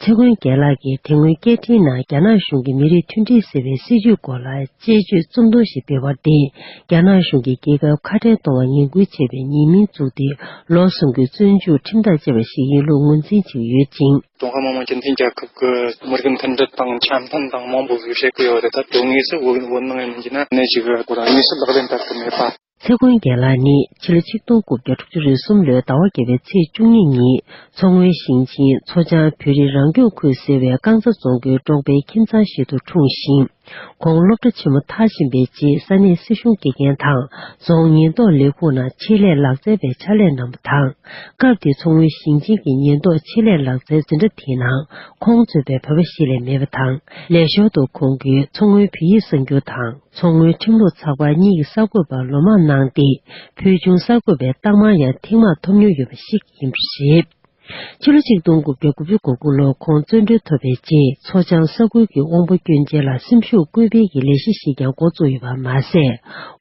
ཚེ་མགོན་རྒྱལ་ལགས་ཀྱིས་དེ་སྔོན་སྐད་འཕྲིན་ནང་རྒྱ་ནག་གཞུང་གིས་མི་རིགས་མཐུན་སྒྲིལ་ཟེར་བའི་སྲིད་བྱུས་སྐོར་ལ་དཔྱད་བརྗོད་རྩོམ་ཐུང་ཞིག་སྤེལ་བར་བརྟེན་རྒྱ་ནག་གཞུང་གིས་རྒྱལ་ཁབ་ཁ་བྲལ་གཏོང་བར་ངན་སྐུལ་བྱས་པའི་ཉེས་མིང་བཙུགས་ཏེ་ལོ་གསུམ་གྱི་བཙོན་འཇུག་ཁྲིམས་ཐག་བཅད་པ་ཞིག་ཡིན་ལུགས་ངོས་འཛིན་བྱེད་ཀྱི་ཡོད་ཅིང། ཀྲུང་ཧྭ་མི་དམངས་སྤྱི་མཐུན་རྒྱལ་ཁབ་ཀྱི་མི་རིགས་མཐུན་སྒྲིལ་དང་འཆམ་མཐུན་དང་མང་པོ་ཞིག་བྱེད་ཀྱི་ཡོད་རེད་ད་དུང་དངོས་སུ་འོས་འགན་འཁུར་ནས་མིན་གྱི་ནི་གནད་ཅིག་ཡོད་སྐོར་དངོས་སུ་ལག་ལེན་བསྟར་ཐུབ་མེད་པ། ཚེ་མགོན་རྒྱལ་ལགས་ནི་སྤྱི་ལོ་ཆིག་སྟོང་དགུ་བརྒྱ་དྲུག་ཅུ་རེ་གསུམ་ལོའི་ཟླ་བ་བརྒྱད་པའི་ཚེས་བཅུ་གཉིས་ཉིན་མཚོ་སྔོན་ཞིང་ཆེན་མཚོ་བྱང་བོད་རིགས་རང་སྐྱོང་ཁུལ་ཟེར་བའི་རྐང་ཚ་རྫོང་གི་འབྲོག་པའི་ཁྱིམ་ཚང་ཞིག་ཏུ་འཁྲུངས་ཤིང། ཁོང་སློབ་གྲྭ་ཆེན་མོ་མཐར་ཕྱིན་པའི་རྗེས་ས་གནས་སྲིད་གཞུང་དགེ་རྒན་དང་རྫོང་ཉེན་རྟོག་ལས་ཁུངས་ནང་ཆེད་ལས་ལག་རྩལ་པའི་ཕྱག་ལས་གནང་བ་དང། སྐབས་དེའི་མཚོ་སྔོན་ཞིང་ཆེན་གྱི་ཉེན་རྟོག་ཆེད་ལས་ལག་རྩལ་འཛིན་གྲྭ་དེའི་ནང་ཁོང་གཙོས་པའི་བོད་པ་བཞི་ལས་མེད་པ་དང་ལས་ཞོར་དུ་ཁོང་གིས་མཚོ་སྔོན་བོད་ཡིག་གསར་འགྱུར་དང། མཚོ་སྔོན་ཁྲིམས་ལུགས་ཚགས་པར་གཉིས་ཀྱི་གསར་འགོད་པར་ལོ་མང་གནང་སྟེ་ཕུལ་བྱུང་གསར་འགོད་པའི་རྟགས་མང་ཡང་ཐེངས་མང་ཐོབ་མྱོང་ཡོད་པ་ཞིག་ཡིན་པ་རེད། ཕྱི་ལོ་ཆིག་སྟོང་དགུ་བརྒྱ་དགུ་བཅུ་གོ་དགུ་ལོར་ཁོང་བཙོན་གྲོལ་ཐོབ་པའི་རྗེས་མཚོ་བྱང་ས་ཁུལ་གྱི་དབང་བོ་སྐྱོན་ཅན་ལ་སེམས་ཤུགས་སྐུལ་སྤེལ་གྱི་ལས་གཞི་ཞིག་ཀྱང་འགོ་བཙུགས་ཡོད་པ་མ་ཟད་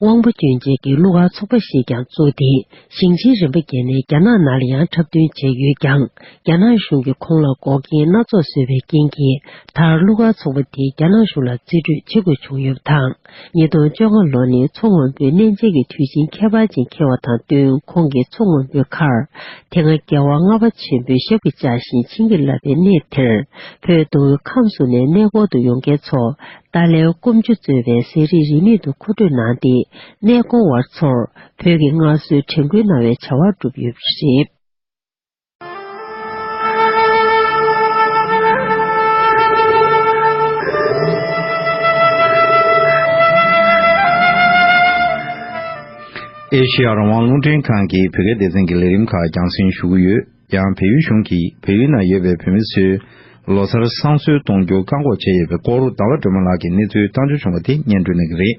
དབང་བོ་སྐྱོན་ཅན་གྱི་གླུ་གར་ཚོགས་པ་ཞིག་ཀྱང་བཙུགས་ཏེ་ཞིང་ཆེན་རིམ་པ་བརྒྱད་ནས་རྒྱ་ནག་ནར་ཡང་འཁྲབ་སྟོན་བྱས་ཡོད་ཀྱང་རྒྱ་ནག་གཞུང་གིས་ཁོང་ལ་འགོག་རྐྱེན་སྣ་ཚོགས་བཟོས་པའི་རྐྱེན་གྱིས་དར་གླུ་གར་ཚོགས་པ་དེ་རྒྱ་ནག་གཞུང་ལ་རྩིས་སྤྲོད་བྱེད་དགོས་བྱུང་ཡོད་པ་དང་ཉིས་སྟོང་བཅོ་ལྔ་ལོ་ནི་མཚོ་སྔོན་པོའི་གནས་མཇལ་གྱི་དུས་ཆེན་ཁྱད་པར་ཅན་འཁེལ་བ་དང་བསྟུན་ཁོང་གིས་མཚོ་སྔོན་པོའི་མཁར་དེ་སྔ་རྒྱལ་བ་ལྔ་པ་ཆེན་པོའི་ཞབས་ཀྱིས་བཅགས་ཤིང་བྱིན་གྱིས་བརླབས་པའི་གནས་དེར་བོད་མདོ་དབུས་ཁམས་སུ་ནས་གནས་སྐོར་དུ་ཡོང་མཁན་ཚོ་ཏཱ་ལའི་སྐོམ་ཆུ་བཙོས་པའི་ཟས་རིགས་རིན་མེད་དུ་མཁོ་སྤྲོད་གནང་སྟེ་གནས་སྐོར་བར་ཚོར་བོད་ཀྱི་སྔར་སྲོལ་དྲན་སྐུལ་གནང་བའི་བྱ་བ་བསྒྲུབས་ཡོད་པ་རེད། ཨེ་ཤེ་ཡ་རང་དབང་རླུང་འཕྲིན་ཁང་གིས་བོད་སྐད་སྡེ་ཚན་གྱི་ལས་རིམ་ཁག་རྒྱང་སྲིང་ཞུ་གི་ཡོད། ཡང་བལ་ཡུལ་གཞུང་གིས་བལ་ཡུལ་ན་ཡོད་པའི་བོད་མི་ཚོའི་ལོ་སར་བསང་གསོལ་གཏོང་རྒྱུ་བཀག་འགོག་བྱས་ཡོད་པའི་སྐོར་ཟླ་བ་སྒྲོལ་མ་ལགས་ཀྱིས་གནས་ཚུལ་བཏང་འབྱོར་བྱུང་བ་དེ་སྙན་སྒྲོན་གནང་གི་རེད།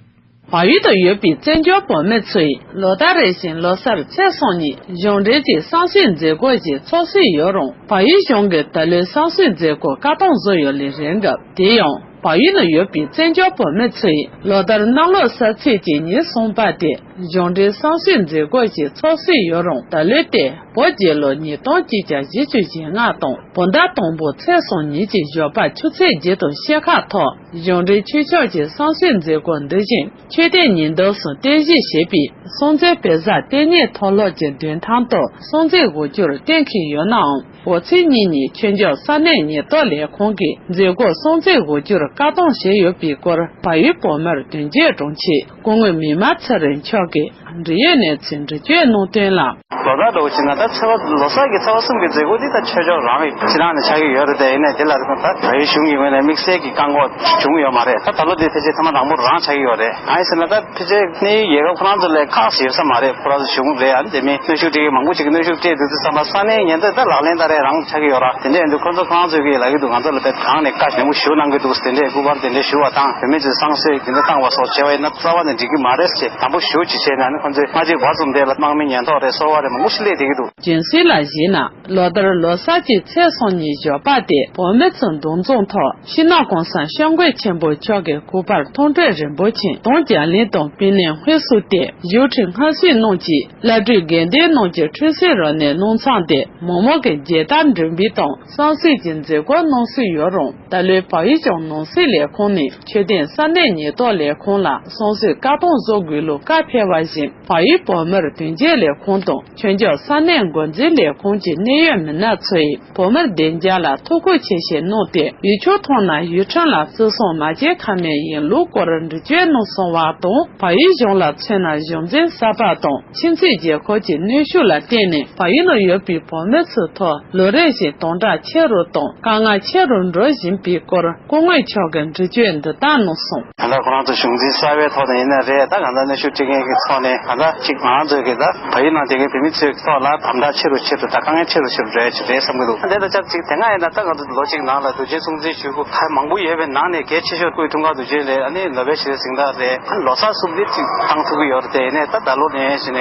བལ་ཡུལ་དུ་ཡོད་པའི་བཙན་བྱོལ་བོད་མི་ཚོས་ལོ་ཟླ་རེ་བཞིན་ལོ་སར་ཚེས་གསུམ་ཉིན་གཞུང་འབྲེལ་གྱི་བསམ་ཤེས་མཛད་སྒོ་ཞིག་འཚོགས་སྲོལ་ཡོད་རུང་བལ་ཡུལ་གཞུང་གིས་ད་ལོའི་བསམ་ཤེས་མཛད་སྒོ་བཀའ་ཐང་བཟོ་ཡོད་ལས་རེད་སྐབས་དེ་ཡང་བལ་ཡུལ་ན་ཡོད་པའི་བཙན་བྱོལ་བོད་མི་ཚོས་ལོ་ཟླར་གནམ་ལོ་སར་ཚེས་གཅིག་ཉིན་གསུམ་པ་དེ་གཞུང་འབྲེལ་བསམ་ཤེས་མཛད་སྒོ་ཞིག་འཚོགས་སྲོལ་ཡོད་རུང་ད་ལོའི་ཏེ་བོད་རྒྱལ་ལོ་ཉིས་སྟོང་གཅིག་བརྒྱ་བཞི་ཅུ་ཞེ་ལྔ་དང་བོད་ཟླ་དང་པོ་ཚེས་གསུམ་ཉིན་གྱི་ཞོགས་པ་ཆུ་ཚོད་བརྒྱད་དང་ཕྱེད་ཁ་ཐོག། གཞུང་འབྲེལ་ཆོས་ཕྱོགས་ཀྱི་བསམ་ཤེས་མཛད་སྒོ་འདི་བཞིན་ཆོས་དད་ཉིན་ལྡབ་གསུམ་རྟེན་གཞི་བྱས་པའི་སྲོང་བཙན་དཔལ་བཟང་ལྟེ་གནས་མཐོ་སློབ་ཀྱི་མདུན་ཐང་དུ་སྲོང་བཙན་སྒོ་སྐྱོར་གཏན་འཁེལ་ཡོད་ནའང་འོ་ཚེ་གཉིས་ཉིན་ཆོས་འབྱོར་ས་གནས་ཉེན་རྟོག་ལས་ཁུངས་ཀྱིས་མཛད་སྒོར་སྲོང་བཙན་སྒོ་སྐྱོར་བཀག་སྡོམ་བྱས་ཡོད་པའི་སྐོར་བལ་ཡུལ་བོད་མིར་དོན་གཅོད་དྲུང་ཆེ་སྐུ་ངོས་མི་དམངས་ཚེ་རིང་མཆོག་གིས་འབྲེལ་ཡོད་གནས་ཚུལ་འདྲི་གཅོད་གནང་དོན་ལ། ལོ་ཟླ་འགྲོ་བ་ཕྱིན་ན་ད་ཚེ་བ་ལོ་སར་གྱི་ཚེ་བ་གསུམ་གྱི་མཛད་སྒོ་འདི་ད་ཆོས་ཕྱོགས་རང་གི་ཕྱི་ནང་ནས་ཆགས་ཀྱི་ཡོད་རེད་དེ་ཡིན་ནའི་དེ་ལ་ད་བལ་ཡུལ་གཞུང་གི་ངོས་ནས་དམིགས་བསལ་གྱི་བཀག་འགོག་བྱུང་ཡོད་མ་རེད་ད་ད་ལོ་འདི་ཕལ་ཆེར་ཐ་མ་དང་པོ་རང་ཆགས་ཀྱི་ཡོད་རེད་གང་ཡིན་ཟེར་ན་ད་ཕལ་ཆེར་གནས་ཡུལ་རྒྱལ་ཁབ་ཁོ་རང་ཚོ་ལས་ཁག་ཞིག་ཡོད་ས་མ་རེད་ཁོ་རང་ཚོ་གཞུང་རེད་ཨ་དེ་མིན་གནོད་ཤུགས་སྤྲད་མཁན་མང་པོ་ཞིག་གིས་གནོད་ཤུགས་སྤྲད་འདུག་ཚུལ་བསམ་པ་ས་གནས་ཉེན་རྟོག་ད་ལག་ལེན་ད་རེས་རང་ཆགས་ཀྱི་ཡོད་ར་དེ་འདྲས་ཡིན་དུས་ཁོ་ཚོ་ཁོ་རང་ཚོ་གིས་ལག་གི་འདུག་ང་ཚོ་ལ་དེ་གང་ནས་བཀའ་ནན་པོ་ཞུ་གནང་གི་འདུག་ཟེར་འདྲས་སྐུ་པར་དེ་འདྲས་ཞུ་བ་དང་བུད་མེད་ཚོས་བསང་གསོལ། དེ་འདྲ་བཏང་བ་སོགས་བྱས་བས་ན་རྩ་བ་ནས་འགྲིག་གི་མ་རེད་ཅེས་དམ་པོ་ཞུ་ཅིག་བྱས་ན་ནི་ཁོང་ཚོས་སྔ་རྗེས་འགོ་རྩོམ་དེ་ལ་དམག་མི་ཉེན་རྟོག་རེད་སོ་བ་རེད་མ་ངུ་ཤི་ལེ་བསྡད་ཀྱི་འདུག། རྗེན་ཟིན་ལ་གཞིགས་ན་ལོ་ལྟར་ལོ་གསར་གྱི་ཚེས་སོ་གཉིས་ཞོགས་པ་སྟེ་བོད་མི་ཚོ་མདུང་རྫོང་ཐོག་ཤིང་ནགས་ཀོང་སང་ཤོག་མགོས་ཆེན་པོ་མཆོག་གི་སྐུ་པར་མཐོང་གྲོལ་རིན་པོ་ཆེན་དང་རྒྱ་གླིང་དང་སྤིན་ལེན་དབུས་སུ་བལྟས་བཞུགས་ཁྲི་ལྔ་གཟིགས་གནང་གྱིས་བླ་སྤྲུལ་དགེ་ལྡན་རྣམས་ཀྱི་འཁྲུལ་གསིལ་རོ་ནས་གནང་ཚང་སྟེ་མོག་མོག་གི་རྒྱལ་དར་འགྲེང་བི་དང་སང་གསེར་གྱི་མཛེས་སྒོ་གནང་སྲོལ་ཡོད་རུང། ད་ལོའི་བག་ཡིག་ལྗོངས་ནོར་སྲིད་ལས་ཁུངས་ནས་ཆོས་ལྡན་ས་གནས་ཉེན་རྟོག་ལས་ཁུངས་ལ་སོང་ཟོས་བཀག་སྡོམ་བཟོ་དགོས་ལུགས་བཀའ་ཕེབས་པ་བཞིན་བག་ཡིག་བོད་མིར་དོན་གཅོད་ལས་ཁུངས་དང་ཆོས་འབྱོར་ས་གནས་མགོ་འཛིན་ལས་ཁུངས་ཀྱི་གནད་ཡོད་མི་སྣ་ཚོས་བོད་མིར་བདེ་འཇགས་ལ་ཐུགས་ཁུར་ཆེ་བཞེས་གནང་སྟེ་ཡུལ་ཕྱོགས་ཐོག་ན་ཡུལ་ཁྲིམས་ལ་བརྩི་སྲུང་མ་བྱེད་ཁ་མའི་ཡིན་ལུགས་སྐོར་འདྲི་གཅོད་གནང་སོང་བ་དང་བག་ཡིག་གཞུང་ལ་མཚོན་ན་གཞུང་འཛིན་གསར་པ་དང། ཕྱི་ཚེས་བརྒྱད་འཁོར་གྱི་གནོན་ཤུགས་ལ་བརྟེན་ནས་བ་ཡུལ་ན་ཡོད་པའི་བོད་མི་ཚོའི་ཐོག་ལོ་རེ་བཞིན་སྟོང་ཕྲག་ཆེ་རུ་དང་དཀའ་ངལ་ཆེ་རུ་འགྲོ་བཞིན་པའི་སྐོར་སྐུ་དངོས་མཆོག་གིས་འགྲེལ་བརྗོད་འདི་ལྟར་གནང་སོང། ད་ལྟ་ཁོ་རང་ཚོ་གཞུང་འཛིན་གསར་བའི་ཐོག་ནས་ཡིན་ནི་རེད་ད་གང་ཟག་གནོན་ཤུགས་སྤྲད་མཁན་གྱི་ཚོགས་ནས་གང་ཟག་ཅིག་མང་ཚོས་ཀྱིས་ད་བ་ཡུལ་ནང་སྡོད་མཁན་བོད་མི་ཚོའི་ཐོག་ལ་དམ་དྲག་ཆེ་རུ་ཆེ་རུ་དང་དཀའ་ངལ་ཆེ་རུ་ཆེ་རུ་འགྲོ་ཡ་ཆེ་རེད་བསམ་གྱི་འདུག་དེ་ལྟར་ཆགས་ཚིག་དེ་སྔ་ཡིན་ན་ད་གང་ཟག་ལོ་གཅིག་ནང་ལ་རྡོ་རྗེ་གསུང་འཛིན་ཞུས་སྐུ་ཕལ་མང་པོ་ཡོད་པའི་ནང་ནས་གལ་ཆེ་ཤོས་སྐུའི་ཐུགས་ཁག་ཏུ་བྱོན་ལས་ནི་ལོ་པའི་ཕྱི་རོལ་གཟིངས་རྟགས་རེད། ཁོས་ལོ་སར་གསུང་འབུལ་ཅིག་བཏང་ཐུབ་ཀྱི་ཡོད་རེད་དེ་ནས་ད་ད་ལོ་ནས་བྱས་ནས།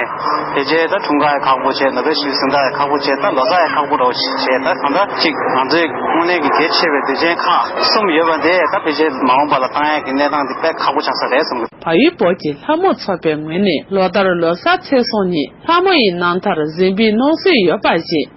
དེ་རྗེས་ད་འཁྲུངས་སྐར་ཡི་ཁག་པོ་བྱས་ལོ་པའི་ཕྱི་རོལ་གཟིངས་རྟགས་ཡི་ཁག་པོ་བྱས་ད་ལོ་སར་ཡི་ཁག་པོ་རོགས་བྱས་ད་གང་འདྲ་ཅིག་ང་ཚོའི་སྔོན་གླེང་གི་གལ་ཆེ་བའི་དུས་ཆེན་ཁག་གསུམ་ཡོད་པ་འདི་ད་ཕལ་ཆེར་མ་འོངས་པ་ལ་བཏང་ཡག་གི་གནས་སྟངས་འདི་དཔེ་ཁག་པོ་ཆགས་ས་རེད་བསམ་གི། བ་ཡི་བོད་ཀྱི་ལྷ་མོ་ཚོགས་པའི་ངོས་ནས་ལོ་ལྟར་ལོ་སར་ཚེས་སོ་གཉིས་ལྷ་མོ་ཡི་རྣམ་ཐར་གཟིངས་འབུལ་གནང་སྲོལ་ཡོད་པ་བཞིན།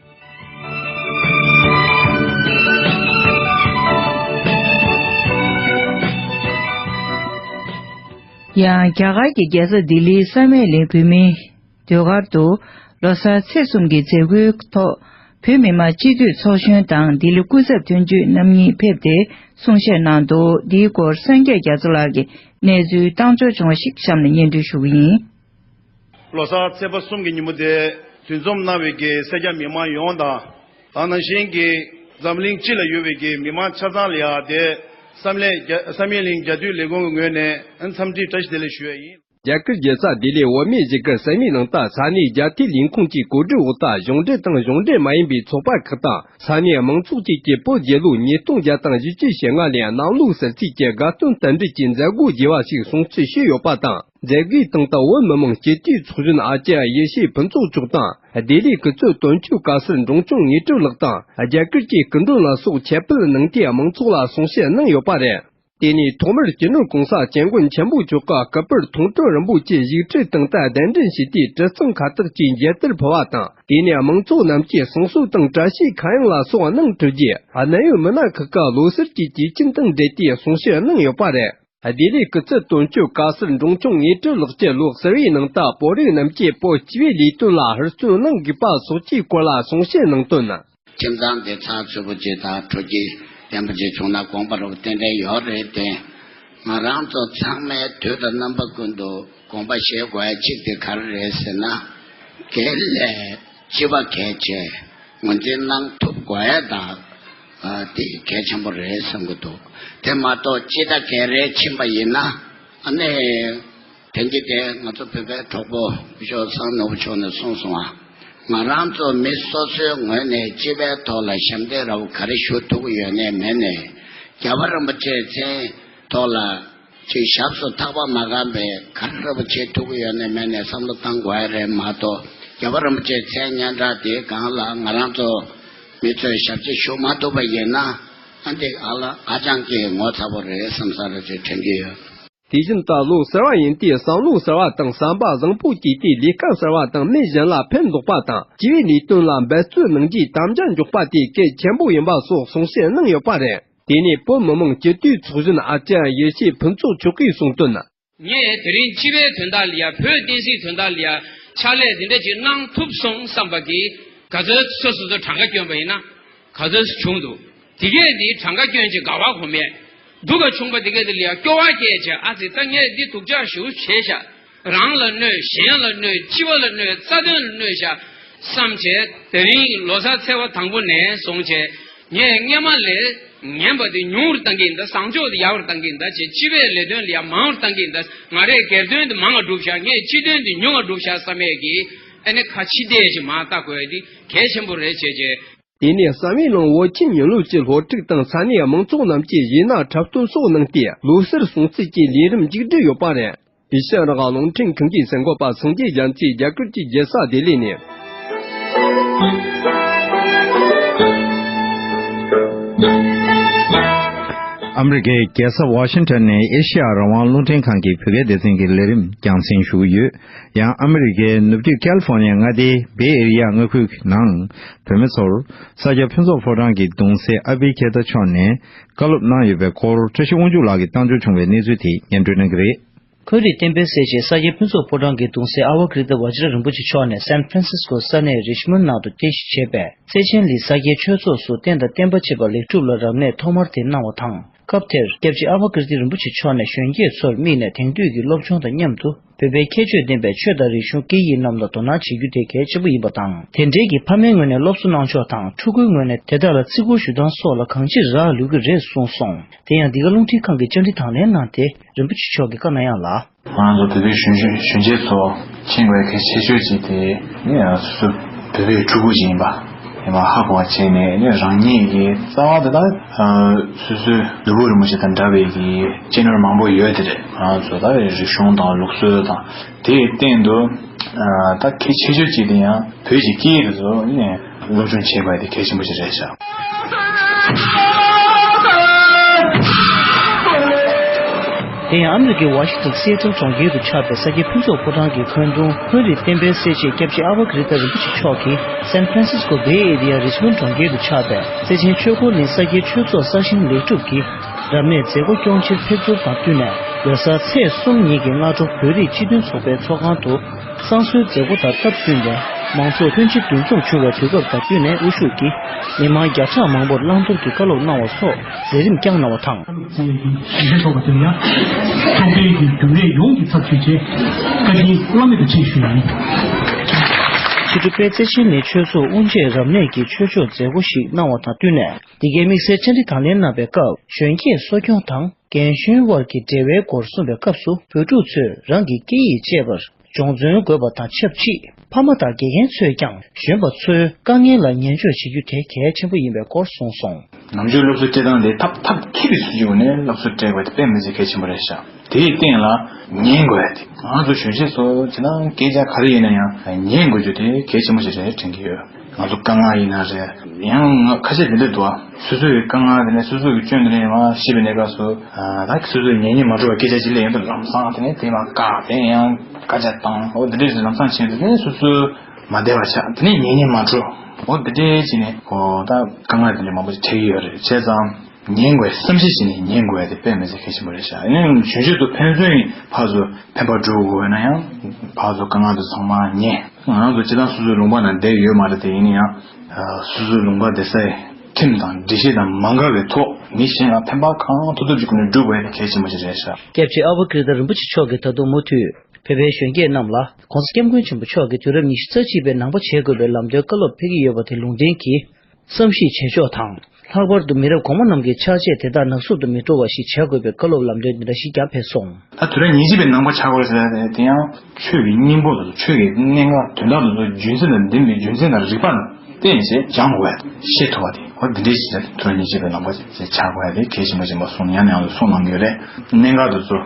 ཡང་རྒྱ་གར་གྱི་རྒྱལ་ས་ལྡི་ལིའི་ས་མེག་ལེ་བོད་མིའི་སྡོད་སྒར་དུ་ལོ་སར་ཚེས་གསུམ་གྱི་མཛད་སྒོའི་ཐོག་བོད་མི་མང་སྤྱི་འཐུས་ཚོགས་གཞོན་དང་ལྡི་ལི་སྐུ་ཚབ་དོན་གཅོད་རྣམ་གཉིས་ཕེབས་ཏེ་གསུང་བཤད་གནང་འདུག་འདིའི་སྐོར་སངས་རྒྱས་རྒྱ་མཚོ་ལགས་ཀྱི་གནས་ཚུལ་བཏང་འབྱོར་བྱུང་བ་ཞིག་གཤམ་ནས་སྙན་སྒྲོན་ཞུ་གི་ཡིན། ལོ་སར་ཚེས་པ་གསུམ་གྱི་ཉིན་མོ་དེ་དུས་འཛོམས་གནང་བའི་གེ་སེར་རྒྱ་མི་དམངས་ཡོངས་དང། དང་ནང་བཞིན་གྱི་འཛམ་གླིང་སྤྱི་ལ་ཡོད་པའི་གེ་མི་དམངས་ཆ་ཚང་ལ་ཡང་དེ་བསམ་ལས་བསམ་ཡས་གླིང་རྒྱ་དུས་ལས་ཁུངས་ཀྱི་ངོས་ནས་འཚམས་འདྲི་བཀྲ་ཤིས་བདེ་ལེགས་ཞུ་ཡས་ཡིན། རྒྱ་གར་རྒྱལ་ས་ལྡི་ལིའི་འོས་མི་གཞིས་ཀར་ས་མིག་ནང་དང་ས་གནས་རྒྱ་དུས་ལས་ཁུངས་ཀྱི་གོ་སྒྲིག་འོག་དང་གཞུང་འབྲེལ་དང་གཞུང་འབྲེལ་མ་ཡིན་པའི་ཚོགས་པ་ཁག་དང་ས་གནས་མང་ཚོགས་བཅས་ཀྱིས་པོ་རྒྱལ་ལོ་ཉིས་སྟོང་བརྒྱ་དང་བཞི་ཅུ་ཞེ་ལྔ་ལོའི་ནང་ལུགས་གསར་ཚིགས་ཀྱི་དགའ་སྟོན་དམ་འབྲི་གྱི་མཛད་སྒོ་རྒྱས་པ་ཞིག་བཟུང་ཚུལ་ཞུས་ཡོད་པ་དང། མཛད་སྒོའི་སྟེང་ཏང་ཨུད་མི་དམངས་སྤྱི་འཐུས་ཚོགས་གཞོན་ཨ་ཅེ་ཡེ་ཤེས་ཕུན་ཚོགས་མཆོག་དང་སྡེ་ལས་ཀུན་གཙོས་དོན་གཅོད་དཀའ་སེལ་འབྲོང་ཆུང་ངེས་སྤྲུལ་ལགས་དང་རྒྱ་གར་གྱི་སྐུ་མགྲོན་ལ་སོགས་ཁྱབ་སྤེལ་གནང་སྟེ་མང་ཚོགས་ལ་གསུང་བཤད་གནང་ཡོད་པ་རེད། དེ་ནས་ཐོག་མར་སྤྱི་ནོར ྋགོང་ས ྋསྐྱབས་མགོན་ཆེན་པོ་མཆོག་ག་གཱ་པུར་མཐོང་གྲོལ་རིན་པོ་ཆེ་བཞུགས་ཁྲིའི་སྟེང་དུ་གདན་འདྲེན་བྱས་ཏེ་གྲི་གཙང་ཁ་བཏགས་ཀྱིས་མཇལ་དར་ཕུལ་བ་དང་དེ་ནས་མང་ཚོགས་རྣམས་ཀྱིས་གསུང་གསོལ་དང་བཀྲ་ཤིས་ཁ་གཡང་ལ་སོགས་གནང་གྲུབ་རྗེས་གནད་ཡོད་མི་སྣ་ཁག་གི་ལོ་གསར་གྱི་དུས་ཆེན་དང་འབྲེལ་ཏེ་གསུང་བཤད་གནང་ཡོད་པ་རེད། བདེ་ལེགས་སྐུ་ཚེ་དོན་གཅོད་དཀའ་སེལ་འབྲོང་ཆུང་ངེས་སྤྲོད་ལག་ཁྱེར་ལོ་གསར་བའི་ནང་རྟ་ཕོ་རིགས་རྣམས་སྐྱེས་སྤོ་བྱེད་པའི་ལས་དོན་ལ་ཧུར་བརྩོན་གནང་དགོས་པ་སོགས་ཀྱི་སྐོར་ལ་གསུང་བཤད་གནང་དོན། ཁྱིམ་ཚང་བདེ་ཚང་ཚུད་པོ་བྱེད་དང་དྲོ་སྐྱིད་ལྡན་པོ་བྱེད་བྱུང་ན་དགོངས་པ་རབ་ཏན་ཏན་ཡོད་རེད་དེ། ང་རང་ཚོ་ཚང་མས་དུས་དང་རྣམ་པ་ཀུན་ཏུ་དགོངས་པ་བཞེས་དགོས་གཅིག་དེ་ག་རེ་རེད་ཟེར་ན། དགེ་ལས། སྤྱི་བ་གལ་ཆེ། ངོས་འཛིན་གནང་ཐུབ་དགོས་ཡ་ད། དེ་གལ་ཆེན་པོ་རེད་བསམ་གྱི་འདུག་དེ་མ་གཏོགས་སྤྱི་ད་གལ་རེ་ཕྱིན་པ་ཡིན་ན། ནི། དེང་གི་དེ་ང་ཚོ་བོད་པའི་གྲོགས་པོ་བཞོ་བཟང་ནོར་བུ་མཆོག་ནས་གསུངས་སོང་བ། ང་རང་ཚོ་མི་སོ་སོའི་ངོས་ནས་སྤྱི་བའི་ཐོག་ལ་ཞབས་འདེགས་ར་བ་ག་རེ་ཞུ་ཐུབ་ཀྱི་ཡོད་ནའི་མེད་ནའི། རྒྱལ་བ་རིན་པོ་ཆེའི་མཚན་ཐོག་ལ། ཅིག་ཞབས་སུ་ཐག་པ་མ་བསྐམས་པའི་ཁར་རིན་པོ་ཆེ་ཐུགས་ཡོད་ནས་མལ་ནས་བསམ་བློ་བཏང་དགོས་ཨེ་རེད་མ་གཏོགས་རྒྱལ་བ་རིན་པོ་ཆེའི་མཚན་སྙན་གྲགས་དེའི་སྒང་ལ་ང་རང་ཚོ་མི་ཚོས་ཞབས་ཕྱི་ཞུ་མ་ཐུབ་པ་ཡིན་ན་ཨ་འདི་ཨ་ལ་ཨ་ཅང་གིས་ངོ་ཚ་པོ་རེད་བསམ་ས་རེད་ཅེས་དྲན་གྱི་ཡོད། དེ་བཞིན་བཀའ་བློན་ཟེར་བ་ཡིན་དུས་བསམ་བློ་ཟེར་བ་དང་བསམ་པ་བཟང་པོ་བསྐྱེད་དུས་ལས་ཀ་ཟེར་བ་དང་མི་གཞན་ལ་ཕན་འདོགས་པ་དང་སྤྱི་བའི་ལས་དོན་ལ་འབད་བརྩོན་གནང་རྒྱུའི་དམ་བཅའ་འཇོག་པ་དེ་གལ་ཆེན་པོ་ཡིན་པ་སོགས་གསུང་བཤད་གནང་ཡོད་པ་རེད། དེ་ནས་བོད་མི་མང་སྤྱི་འཐུས་ཚོགས་གཞོན་ཨ་ཅེ་ཡེ་ཤེས་ཕུན་ཚོགས་མཆོག་གིས་གསུངས་དོན། ངས་དེ་རིང་སྤྱི་པའི་དོན་དག་ལ་ཡང་བོད་བསྟན་སྲིད་དོན་དག་ལ་ཡང་ཕྱག་ལས་འདི་འདྲ་ཅིག་གནང་ཐུབ་སོང་བསམ་པ་གིས། ག་ཚོད་སོ་སོ་ཚོ་གྲངས་ཀ་བསྐྱོན་པ་ཡིན་ན་ག་ཚོད་སུ་བྱུང་འདུག་དེ་གས་དེ་གྲངས་ཀ་བསྐྱོན་ཅིག་དགའ་བ་གོ་མེད་འདུག་ག་བྱུང་པ་དེ་གས་དེ་ལ་ཡང་སྐྱོ་བ་སྐྱེས་བྱས་ཨ་ཙི་ད་ངས་འདི་ཐུགས་ཅག་ཞུ་བྱས་ཤག། རང་ལ་གནོད་གཞན་ལ་གནོད་སྤྱི་བ་ལ་གནོད་རྩ་དོན་ལ་གནོད་བྱ། བསམ་བྱས་དེ་རིང་ལོ་སར་ཚེས་བ་དང་པོ་ནས་བཟུང་བྱས་ཉེས་ལྔས་མ་ལས་ངན་པ་དེ་ཉུང་བར་གཏང་གིན་གདའ་བཟང་ཕྱོགས་དེ་ཡག་པར་གཏང་གིན་གདའ་བྱས་སྤྱི་བའི་ལས་དོན་ལ་ཡག་མང་བར་གཏང་གིན་གདའ་ང་རེས་སྒེར་དོན་དེ་མང་ང་སྒྲུབ་བྱ་ངས་སྤྱི་དོན་དེ་ཉུང་ང་སྒྲུབ་བྱ་བསམ་མེད་ཀྱིས་ཨེ་ནི་ཁ་ཕྱི་བལྟས་ཤིག་མ་ལྟ་དགོས་འདི་གལ་ཆེན་པོ་རེད་བྱས་རྗེས། དེ་ནས་གསང་བའི་ནང་བོད་ཁྱིམ་ཉིན་ལོ་གཅིག་སློབ་ཁྲིད་བཏང་ས་ནས་མང་ཚོགས་རྣམས་ཀྱི་གཞས་སྣ་འཁྲབ་སྟོན་སོགས་གནང་སྟེ་ལོ་སར་སྲུང་བརྩི་བཅས་ལས་རིམ་མཇུག་བསྒྲིལ་ཡོད་པ་རེད། དེ་ཤེས་རབ་དབང་ལུང་ཁྲིམས་གང་གི་ཟེར་འགོ་པ་ཟུང་རྒྱས་རྒྱལ་མཚེས་རྒྱ་གར་གྱི་རྒྱལ་སར་བདེ་ལེགས་ནས། ཨ་མི་རི་ཀའི་རྒྱལ་ས་ཝ་ཤིན་ཏོན་ནས་ཨེ་ཤེ་ཡ་རང་དབང་རླུང་འཕྲིན་ཁང་གི་བོད་སྐད་སྡེ་ཚན་གྱི་ལས་རིམ་རྒྱང་སྲིང་ཞུ་གི་ཡོད། ཡང་ཨ་མི་རི་ཀའི་ནུབ་རྒྱུད་ཀལ་ཕོར་ནེ་མངའ་སྡེའི་བེ་ཨེ་རི་ཡ་མངའ་ཁུལ་གྱི་ནང་བོད་མི་ཚོར་ས་སྐྱ་ཕུན་ཚོགས་ཕོ་བྲང་གི་གདུང་སྲས་ཨ་བྷི་གྷེ་ཏ་མཆོག་ནས་བཀའ་སློབ་གནང་ཡོད་པའི་སྐོར་བཀྲ་ཤིས་དབང་ཕྱུག་ལགས་ཀྱིས་བཏང་འབྱོར་བྱུང་བའི་གནས་ཚུལ་དེ་སྙན་སྒྲོན་གནང་གི་རེད། ཁོས་རིགས་བསྟན་པའི་སྲས་བཅས་ས་སྐྱའི་ཕུན་ཚོགས་ཕོ་བྲང་གི་གདུང་སྲས་ཨ་བྷ་ཀིརྟི་བ་ཅཱ་ར་རིན་པོ་ཆེ་མཆོག་ནས San Francisco ས་གནས Richmond ནང་དུ་རྟེན་གཞི་བྱས་པའི་རྩེ་ཆེན་ལི་ས་སྐྱའི་ཆོས་ཚོགས་སུ་རྟེན་དང་བརྟེན་པ་བྱེད་པ་ལེགས་གྲུབ་ལ་རབ་གནས་ཐོག་མར་དེ་གནང་བ་དང་སྐབས་དེར་སྐྱབས་རྗེ་ཨ་བྷ་ཀིརྟི་རིན་པོ་ཆེ་མཆོག་ནས་གཞོན་སྐྱེས་ཚོར་དམིགས་ནས་དེང་དུས་ཀྱི་སློབ་སྦྱོང་དང་མཉམ་དུ། བོད་པའི་ཁྱད་ཆོས་ལྡན་པའི་ཆོས་དང་རིག་གཞུང་སྐད་ཡིག་རྣམས་ལ་དོ་སྣང་བྱེད་རྒྱུ་དེ་གལ་ཆེན་པོ་ཡིན་པ་དང་དེ་འབྲེལ་གྱི་ཕ་མའི་ངོས་ནས་སློབ་གསོ་གནང་ཕྱོགས་དང་ཕྲུ་གུའི་ངོས་ནས་དེ་དག་ལ་བརྩི་བཀུར་ཞུ་སྟངས་སོགས་ལ་གང་ཅིར་རག་ལུས་ཀྱི་རེད་གསུངས་སོང། དེ་ཡང་འདི་ག་རླུང་འཕྲིན་ཁང་གིས་བཅར་འདྲི་དང་ལེན་གནང་སྟེ་རིན་པོ་ཆེ་མཆོག་གིས་བཀའ་གནང་ཡག་ལ། ང་ཚོ་བོད་པའི་གཞོན་ཤོས་གཞོན་སྐྱེས་ཚོ་ཁྱེད་འགའི་གལ་ཆེ་ཤོས་གཅིག་དེ། ངས་སོ་སོ་བོད་པའི་ཕྲུ་གུ་ཞིག་ཡིན་པ། ཡིན་པ་ཧ་གོ་བ་བྱས་ནས་ནི་རང་ཉིད་ཀྱི་རྩ་བ་དེ་དག་སོ་སོའི་ནུ་བོ་རིན་པོ་ཆེ་དང་འདྲ་བའི་གྱི་གཅེས་ནོར་མང་པོ་ཡོད་དེ་རེད་ང་ཚོ་ད་རེ་རིག་གཞུང་དང་ལུགས་སྲོལ་དང་དེའི་སྟེང་དུ་ད་གལ་ཆེ་ཤོས་ཅིག་དེ་ཡང་བོད་ཀྱི་སྐད་ཡིག་དེ་ཚོ་ནི་སློབ་སྦྱོང་བྱེད་པ་དེ་གལ་ཆེན་པོ་ཅིག་རེད་བྱ། དེ་ཡང་ཨ་མི་རི་ཀའི་ཝཱ་ཤི་ཏན་སི་ཨེ་ཏེལ་གྲོང་ཁྱེར་དུ་ཆགས་པའི་ས་སྐྱའི་ཕུན་ཚོགས་ཕོ་བྲང་གི་འཁོན་རྡུང་འཁོན་རིགས་བསྟན་པའི་སེར་བྱེས་སྐྱབས་རྗེ་ཨ་བྷ་ཀི་རི་ཏཱ་རིན་པོ་ཆེ་མཆོག་གིས་སན་ཕར་སིས་ཀོ་བྷེ་ཨེ་རི་ཡ་རིས་བྷོན་གྲོང་ཁྱེར་དུ་ཆགས་པའི་རྩེ་ཆེན་ཆོས་འཁོར་གླིང་ས་སྐྱའི་ཆོས་ཚོགས་གསར་བཞེངས་ལེགས་གྲུབ་ཀྱི་རབ་གནས་མཛད་སྒོ་སྐྱོང་ཕྱིར་ཕེབས་ཚུལ་དང་བསྟུན་ནས་ལོ་སར་ཚེས་གསུམ་ཉིན་གྱི་སྔ་དྲོ་བོད་རིགས་སྤྱི་མཐུན་ཚོགས་པའི་ཚོགས་ཁང་དུ་བསང་གསོལ་མཛད་སྒོ་དང་སྟབས་བསྟུན་ནས་མང་ཚོགས་ལྷན་ཅིག་འདུ་འཛོམས་བྱུང་བའི་དུས་སྐབས་དང་བསྟུན་ནས་དབུ་བཞུགས་ཀྱིས་མི་མང་བརྒྱ་ཕྲག་མང་པོར་བླང་དོར་གྱི་བཀའ་སློབ་གནང་བ་སོགས། མཛད་རིམ་བསྐྱངས་གནང་བ་དང། བཅས་ཀྱི་ཞིབ་བཤེར་ཚོགས་པ་དེར་ཡང། ཚོགས་འདུའི་རྒྱུན་རྒྱུན་ལས་ཡོངས་ཀྱི་ཚབ་བྱས་རྗེས། བཀའ་དྲིན་བླ་མེད་དུ་ཆེ་ཞུ་ཡིན། ཕྱི་དྲོ་པད་ཚེ་ཆེན་ནས་ཆོས་ཚོགས་དབུ་འབྱེད་རབ་གནས་ཀྱི་ཆོས་ཕྱོགས་མཛད་སྒོ་ཞིག་གནང་བ་དང་བསྟུན་ནས་འདི་གའི་དམིགས་བསལ་བཅར་འདྲི་དང་ལེན་གནང་བའི་སྐབས་གཞོན་སྐྱེས་གསོ་སྐྱོང་དང་རྒན་གཞོན་དབར་གྱི་འབྲེལ་བའི་སྐོར་གསུངས་པའི་སྐབས་སུ་བོད་ཕྲུག་ཚོས་རང་གི་སྐད་ཡིག་སྤྱད་པར་སྦྱོང་བརྩོན་དགོས་པ་དང་ཆབས་ཅིག་ཕ་མ་དང་དགེ་རྒན་ཚོས་ཀྱང་གཞོན་པ་ཚོའི་དཀའ་ངལ་ལ་ཉན་འཇོག་བྱེད་རྒྱུ་དེ་གལ་ཆེན་པོ་ཡིན་པའི་སྐོར་གསུངས་སོང། ནང་ཆོས་སློབ་གསོ་སྤྱི་སྟངས་དེ་ཐབས་ཐབས་མཁས་པའི་སྲིད་ཇུས་འོག་ནས་སློབ་གསོ་སྤྲད་དགོས་དེ་དཔེ་མི་སྲིད་གལ་ཆེན་པོ་རེད་ཤག་དེའི་སྟེང་ལ་ཉན་དགོས་རེད་དེ་ང་ཚོ་གཞོན་སྐྱེས་ཚོ་བྱས་ན་སྐད་ཆ་ག་རེ་ཡིན་ན་ཡང་ཉན་དགོས་རྒྱུ་དེ་གལ་ཆེན་པོ་ཞིག་རེད་དྲན་གྱི་ཡོད། ང་ཚོ་དཀའ་ངལ་ཡིན་ན་རེད། ཡང་ང་ཁ་ཆད་དེ་འདྲས་འདུག་སོ་སོའི་དཀའ་ངལ་དེ་ནས་སོ་སོའི་སྐྱོན་དེ་ནས་ཡང་ཤེས་པའི་གནས་སྐབས་སུ། ད་སོ་སོའི་ཉེས་ཉེས་མ་གྲུབ་པ་སྐད་ཆ་གཅིག་ལས་ཡོད་དོ་ལམ་སང་དེ་ནས་དེ་མ་བཀག་དེ་ནས་ཡང་བཀའ་རྒྱ་བཏང་ཨོ་དེ་འདྲས་ལམ་སང་བྱས་ཏེ་དེ་ནས་སོ་སོའི་མ་བདེ་བ་ཆགས་དེ་ནས་ཉེས་ཉེས་མ་གྲུབ་ཨོ་དེ་འདྲས་བྱས་ནས་ཨོ་ད་དཀའ་ངལ་དེ་འདྲས་མང་པོ་ཞིག་འཕྲད་ཀྱི་ཡོད་རེད་བྱས་ཙང། ཉན་དགོས་བསམ་བཞིན་བྱས་ནས་ཉན་དགོས་ཡ་དེ་དཔེ་མི་ཟེར་གལ་ཆེན་པོ་རེད་ཤག་ཡིན་ནའང་གཞོན་ཤོས་དུ་ཕན་ཚུན་ཡིན་ཕག་གཟུགས་ཕན་པར་འགྲོ་དགོས་ན་ཡང་ཕག་གཟུགས་དཀའ་ངལ་དུ་ཚང་མ་ཉན། ང་རང་ཚོ་སྤྱི་དང་སོ་སོའི་ལུང་པ་ན་བསྡད་ཡོད་མ་རེད་དེ་ཡིན་ན་ཡང། སོ་སོའི་ལུང་པ་བསྡད་སའི་ཁྲིམས་དང་སྒྲིག་གཞི་དང་མ་འགལ་བའི་ཐོག་མི་གཞན་ལ་ཕན་པ་གང་ཐུབ་ཐུབ་ཀྱི་སྒོ་ནས་སྒྲུབ་དགོས་ཡ་དེ་གལ་ཆེན་པོ་ཞིག་རེད་ཤག། སྐྱབས་རྗེ་ཨ་བྷ་ཀིརྟ་རིན་པོ་ཆེ་མཆོག་གིས་ད་དུང་མུ་མཐུད་བོད་པའི་གཞོན་སྐྱེས་རྣམས་ལ ྋགོང་ས ྋསྐྱབས་མགོན་ཆེན་པོ་མཆོག་གིས་དུས་རབས་ཉི་ཤུ་རྩ་གཅིག་པའི་ནང་པ་བྱེད་དགོས་པའི་ལམ་སྟོན་བཀའ་སློབ་ཕེབས་ཀྱི་ཡོད་པ་དེ་ལུང་བསྟན་གྱིས་བསམ་གཞིག་བྱེད་ཕྱོགས་དང། ལྷག་པར་དུ་མི་རབས་གོང་མ་རྣམས་ཀྱི་ཕྱག་རྗེས་དེ་དག་ནག་བསུབ་ཏུ་མི་འགྲོ་བ་ཞིག་བྱ་དགོས་པའི་བཀའ་སློབ་ལམ་སྟོན་འདི་འདྲ་ཞིག་ཀྱང་ཕེབས་སོང། ད་དུས་རབས་ཉེར་གཅིག་པའི་ནང་པ་བྱ་དགོས་ཟེར་ནས་དེ་ཡང། ཆོས་ཀྱི་སྙིང་པོ་དང་ཆོས་ཀྱི་གནད་འགག་དོན་དག་དང་རྒྱུད་འཛིན་དང་འདི་མི་རྒྱུད་འཛིན་དང་རིགས་པ་ནང་བསྟན་བྱས་སྦྱང་དགོས་པ་དང་ཤེས་ཐུབ་པ་དེ་འོ་འདི་འདྲའི་ཞིག་ད་དུས་རབས་ཉེར་གཅིག་པའི་ནང་པ་བྱ་དགོས་པ་དེ་གལ་ཆེན་པོ་ཞིག་མ་སོང་ཡང་ནས་ཡང་དུ་སོང་ལང་གི་རེད་གནད་འགག་དེ་ཚོ།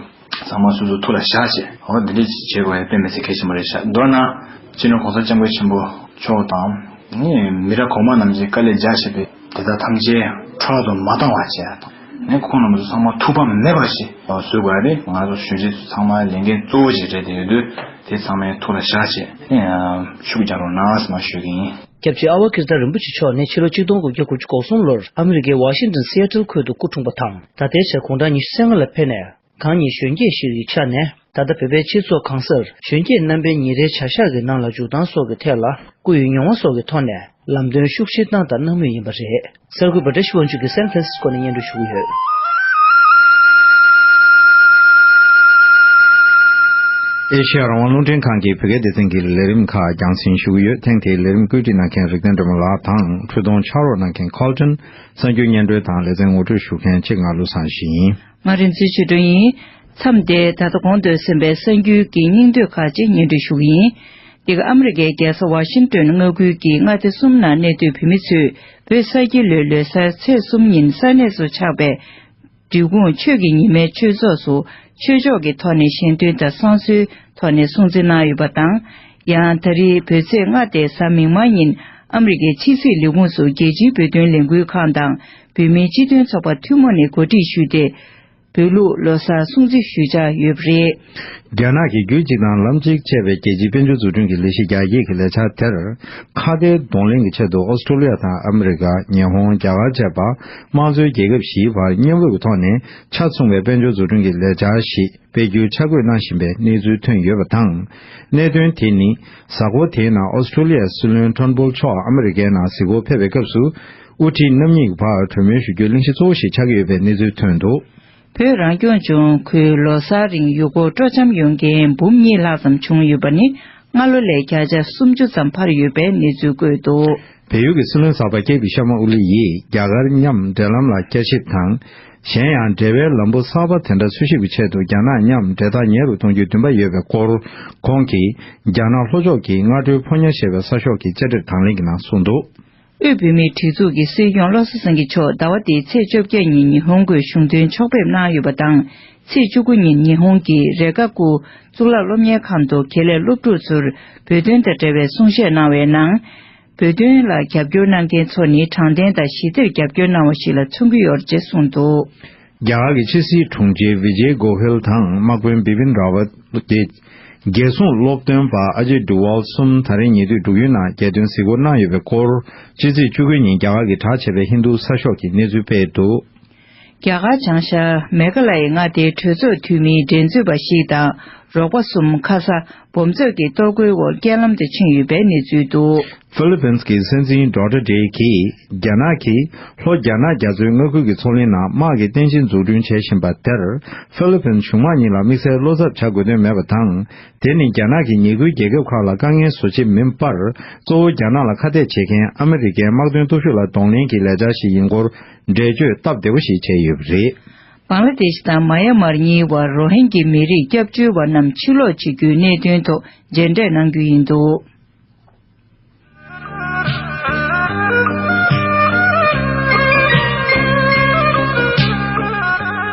ཚང་མ་སོ་སོའི་ཐུགས་ལ་བཞག་ཅེས། འོ་དེ་འདྲས་ཅིག་བྱེད་དགོས་ཡ་དཔེ་མི་ཚེ་གལ་ཆེན་པོ་རེད་ཤག་མདོར་ན། སྤྱིར་ན ྋགོང་ས ྋསྐྱབས་མགོན་ཆེན་པོ་མཆོག་དང། ནས་མི་རབས་གོང་མ་རྣམས་ཀྱིས་དཀའ་ལས་རྒྱག་བཞིན་པའི་དེ་དག་ཐམས་ཅད་འཕྲོ་བརླག་ཏུ་མ་བཏང་བ་བྱས་དང། ནས་ཁོང་རྣམས་ཚོ་ཚང་མ་ཐུགས་ཕམ་མེད་པར་ཞིག་བཟོས་དགོས་ཡ་རེད་ང་ཚོ་གཞོན་སྐྱེས་ཚོས་ཚང་མའི་ལས་འགན་གཙོ་བོ་ཅིག་སྤྲད་དེ་ཡོད་དུས་དེ་ཚང་མའི་ཐུགས་ལ་བཞག་ཅེས། ཤུགས་རྒྱག་རོགས་གནང་ཨ་ཟེར་མ་ཞུས་གིན། སྐྱབས་རྗེ་ཨ་བྷ་ཀིརྟ་རིན་པོ་ཆེ་མཆོག་ནི་ཕྱི་ལོ་གཅིག་སྟོང་དགུ་བརྒྱ་དགུ་ཅུ་གོ་གསུམ་ལོར་ཨ་མི་རི་ཀའི་ཝཱ་ཤིང་ཏོན་སི་ཨེ་ཏིལ་ཁུལ་དུ་སྐུ་འཁྲུངས་པ་དང་ད་ལྟའི་ཆར་གུང་ཁྲང་ཉི་ཤུ་སྲས་ལྔ་ལ་ཕེབས་ནས་གང་ཉིད་གཞོན་སྐྱེས་ཤིག་ཡི་ཆ་ནས་ད་ལྟ་བོད་པའི་སྤྱི་ཚོགས་གང་སར་གཞོན་སྐྱེས་རྣམ་པའི་ཉིན་རེའི་བྱ་གཞག་གི་ནང་ལ་འཇུག་སྟངས་སོགས་ཀྱི་ཐད་ལ་སྐུ་ཡི་མྱོང་བ་སོགས་ཀྱི་ཐོག་ནས་ལམ་སྟོན་ཤུགས་ཆེ་བཏང་དང་གནང་མུས་ཡིན་པ་རེད། གསར་འགོད་པ་བཀྲ་ཤིས་དབང་ཕྱུག་གིས་སན་ཕྲན་སིས་ཀོ་ནས་བརྙན་འཕྲིན་ཞུ་གི་ཡོད། ཨེ་ཤེ་ཡ་རང་དབང་རླུང་འཕྲིན་ཁང་གིས་བོད་སྐད་སྡེ་ཚན་གྱི་ལས་རིམ་ཁག་རྒྱང་སྲིང་ཞུ་གི་ཡོད་ཐེངས་དེའི་ལས་རིམ་བཀོད་སྒྲིག་གནང་མཁན་རིག་ལྡན་སྒྲོལ་མ་ལགས་དང་འཕྲུལ་སྡོང་ཕྱག་རོགས་གནང་མཁན Colton གསར་འགྱུར་སྙན་སྒྲོན་དང་ལེ་ཚན་ངོ་སྤྲོད་ཞུ་མཁན་ཆེད་མངགས་ཀླུ་བཟང་ཞིང། ང་རིན་ཚུལ་ཆོས་སྒྲོན་ཡིན། མཚམས་འདིར་ད་ལྟ་གོང་སྡོད་ཟིན་པའི་གསར་འགྱུར་གྱི་སྙིང་བསྡུས་ཁག་ཅིག་སྙན་སྒྲོན་ཞུ་གི་ཡིན། འདི་ག་ཨ་མི་རི་ཀའི་རྒྱལ་ས་བྷ་ཤིང་ཏོན་མངའ་ཁུལ་གྱི་མངའ་སྡེ་གསུམ་ནང་གནས་སྡོད་བོད་མི་ཚོས་བོད་གསར་སྐྱེ་ལོའི་ལོ་སར་ཚེས་གསུམ་ཉིན་ས་གནས་སུ་ཆགས་པའི། འབྲི་གུང་ཆོས་ཀྱི་ཉི་མའི་ཆོས་ཚོགས་སུ་ཆོས་ཕྱོགས་ཀྱི་ཐོག་ནས་གཞན་དོན་དང་བསང་གསོལ་ཐོག་ནས་སྲུང་བརྩི་གནང་ཡོད་པ་དང། ཡང་ད་རིང་བོད་ཚེས་ལྔ་སྟེ་གཟའ་མིག་དམར་ཉིན་ཨ་མི་རི་ཀའི་ཕྱི་སྲིད་ལས་ཁུངས་སུ་རྒྱལ་སྤྱིའི་བོད་དོན་ལས་འགུལ་ཁང་དང། བོད་མིའི་སྤྱི་མཐུན་ཚོགས་པ་ཐུན་མོང་ནས་གོ་སྒྲིག་ཞུས་ཏེ། བོད་ལུགས་ལོ་སར་སྲུང་བརྩི་ཞུ་འཆར་ཡོད་པ་རེད། རྒྱ་ནག་གིས་རྒྱུད་གཅིག་དང་ལམ་གཅིག་ཅེས་པའི་རྒྱལ་སྤྱིའི་དཔལ་འབྱོར་འཛུགས་སྐྲུན་གྱི་ལས་གཞི་རྒྱ་སྐྱེད་ཀྱི་ལས་འཆར་དེར་ཁ་བརྡའི་གདོང་ལེན་གྱི་ཆེད་དུ་ཨོ་སི་ཀྲོ་ལི་ཡ་དང་ཨ་མི་རི་ཀ། ཉི་ཧོང། རྒྱ་གར་བཅས་པདྨ་མཚོའི་རྒྱལ་ཁབ་བཞིའི་བར་བརྙན་དབུས་ཀྱི་ཐོག་ནས་ཆ་མཚུངས་པའི་དཔལ་འབྱོར་འཛུགས་སྐྲུན་གྱི་ལས་འཆར་ཞིག་སྤེལ་རྒྱུའི་འཆར་འགོད་གནང་བཞིན་པའི་གནས་ཚུལ་ཐོན་ཡོད་པ་དང། གནད་དོན་དེ་ནི་གཟའ་འཁོར་དེའི་ནང་ཨོ་སི་ཀྲོ་ལི་ཡའི་སྲིད་བློན་ཁྲོན་པོལ་མཆོག་ཨ་མི་རི་ཀའི་ནང་གཟིགས་སྐོར་ཕེབས་པའི་སྐབས་སུ། དབུ་ཁྲིད་རྣམ་གཉིས་ཀྱི་བར་གྲོས་མོལ་ཞུ་རྒྱུའི་གླེང་གཞི་གཙོ་བོ་ཞིག་ཆགས་ཀྱི་ཡོད་པའི་གནས་ཚུལ་ཐོན་འདུག། བོད་རང་སྐྱོང་ལྗོངས་ཁུལ་ལོ་སར་རིང་ཡུལ་སྐོར་སྤྲོ་འཆམ་ཡོང་མཁན་འབུམ་གཉིས་ལྷག་ཙམ་བྱུང་ཡོད་པ་ནི་སྔ་ལོ་ལས་བརྒྱ་ཆ་སུམ་ཅུ་ཙམ་འཕར་ཡོད་པའི་གནས་ཚུལ་བཀོད་འདུག། བལ་ཡུལ་གྱི་སྲིད་བློན་གསར་པ་ཀེ་པི་ཤར་མ་ཨོ་ལི་ཡིས་རྒྱ་གར་མཉམ་འབྲེལ་ལམ་ལ་བསྐྱར་ཞིབ་དང། གཞན་ཡང་འབྲེལ་བའི་ལམ་བུ་གསར་པ་དེ་འདྲ་འཚོལ་ཞིབ་ཀྱི་ཆེད་དུ་རྒྱ་ནག་མཉམ་འབྲེལ་ཐག་ཉེ་རུ་གཏོང་རྒྱུའི་འདུན་པ་ཡོད་པའི་སྐོར་ཁོང་གིས་རྒྱ་ནག་ལྷོ་ཕྱོགས་ཀྱི་སྔ་དྲོའི་ཕོ་ཉར་ཞེས་པའི་གསར་ཤོག་གི་བཅར་འདྲིར་དང་ལེན་གྱི་ནང་གསུངས་འདུག། དབུས་བོད་མིའི་སྒྲིག་འཛུགས་ཀྱི་སྲིད་སྐྱོང་བློ་བཟང་སེང་གེ་མཆོག་ཟླ་བ་འདིའི་ཚེས་བཅོ་བརྒྱད་ཉིན་ཉི་ཧོང་གི་གཞུང་དོན་ཕྱོགས་ཕེབས་གནང་ཡོད་པ་དང་ཚེས་བཅུ་དགུ་ཉིན་ཉི་ཧོང་གི་རེ་ཀ་ཀུ་གཙུག་ལག་སློབ་གཉེར་ཁང་དུ་གྷེ་ལས་སློབ་ཕྲུག་ཚོར་བོད་དོན་དང་འབྲེལ་བའི་གསུང་བཤད་གནང་བའི་ནང། བོད་དོན་ལ་རྒྱབ་སྐྱོར་གནང་མཁན་ཚོ་ནི་དྲང་བདེན་དང་ཞི་བདེར་རྒྱབ་སྐྱོར་གནང་བ་ཞིག་ལ་མཚོན་གྱི་ཡོད་ཅེས་གསུངས་འདུག། རྒྱ་གར་གྱི་ཕྱི་སྲིད་དྲུང་ཆེ་བི་ཇེ་གོ་བྷེལ་དང་དམག་དཔོན་བི་པིན་རཱ་ཝཱད། རྒྱལ་སྲུང་སློབ་སྟོན་པ་ཨ་ཇེ་སྒྲུ་ཝཱལ་གསུམ་ད་རེས་ཉེ་དུས་འབྲུག་ཡུལ་ནང་རྒྱལ་སྟོན་གཟིགས་སྐོར་གནང་ཡོད་པའི་སྐོར་ཕྱི་ཚེས་བཅུ་དགུའི་ཉིན་རྒྱ་གར་གྱི་གྲགས་ཆེ་བའི་ཧིན་རྡུ་ས་ཤོག་གིས་གནས་ཚུལ་སྤེལ་འདུག། རྒྱ་གར་བྱང་ཤར་མེ་གྷ་ལ་ཡའི་མངའ་སྡེའི་གྲོས་ཚོགས་འཐུས་མིའི་འགྲན་རྩོད་པ་ཞིག་དང་རོགས་པ་གསུམ་ཁ་ས་འབུམ་ཚོགས་ཀྱིས་གཏོར་རྒོལ་འོག་རྐྱེན་ལམ་དུ་ཕྱིན་ཡོད་པའི་གནས་ཚུལ་འདུག། ཧྥི་ལི་ཕིན་གྱི་སྲིད་འཛིན་ལྡོག་ཏྲ་ཏྲེ་གིས་རྒྱ་ནག་གིས་ལྷོ་རྒྱ་ནག་རྒྱ་མཚོའི་མངའ་ཁུལ་གྱི་མཚོ་གླིང་ནང་དམག་གི་རྟེན་གཞི་འཛུགས་སྐྲུན་བྱེད་བཞིན་པ་དེར་ཧྥི་ལི་ཕིན་གཞུང་དམངས་གཉིས་ལ་དམིགས་བསལ་བློ་འཚབ་བྱ་དགོས་དོན་མེད་པ་དང་དེ་ནི་རྒྱ་ནག་གིས་ཉེ་ཁུལ་རྒྱལ་ཁབ་ཁག་ལ་དཀའ་ངལ་བཟོ་ཆེད་མིན་པར་གཙོ་བོ་རྒྱ་ནག་ལ་ཁ་གཏད་བྱེད་མཁན་ཨ་མི་རི་ཀའི་དམག་དོན་སྟོབས་ཤུགས་ལ་གདོང་ལེན་གྱི་ལས་འཆར་ཞིག་ཡིན་སྐོར་འགྲེལ་བརྗོད་སྟབས་བདེ་བོ་ཞིག་བྱས་ཡོད་པ་རེད། བཱང་ལ་དེ་ཤི་དང་མཱ་ཡཱ་མཱར་གཉིས་དབར་རོ་ཧིན་གྱི་མི་རིགས་སྐྱབས་བཅོལ་བ་རྣམས་ཕྱིར་ལོག་བྱེད་རྒྱུའི་གནད་དོན་ཐོག་མཇལ་འཕྲད་གནང་རྒྱུ་ཡིན་འདུག།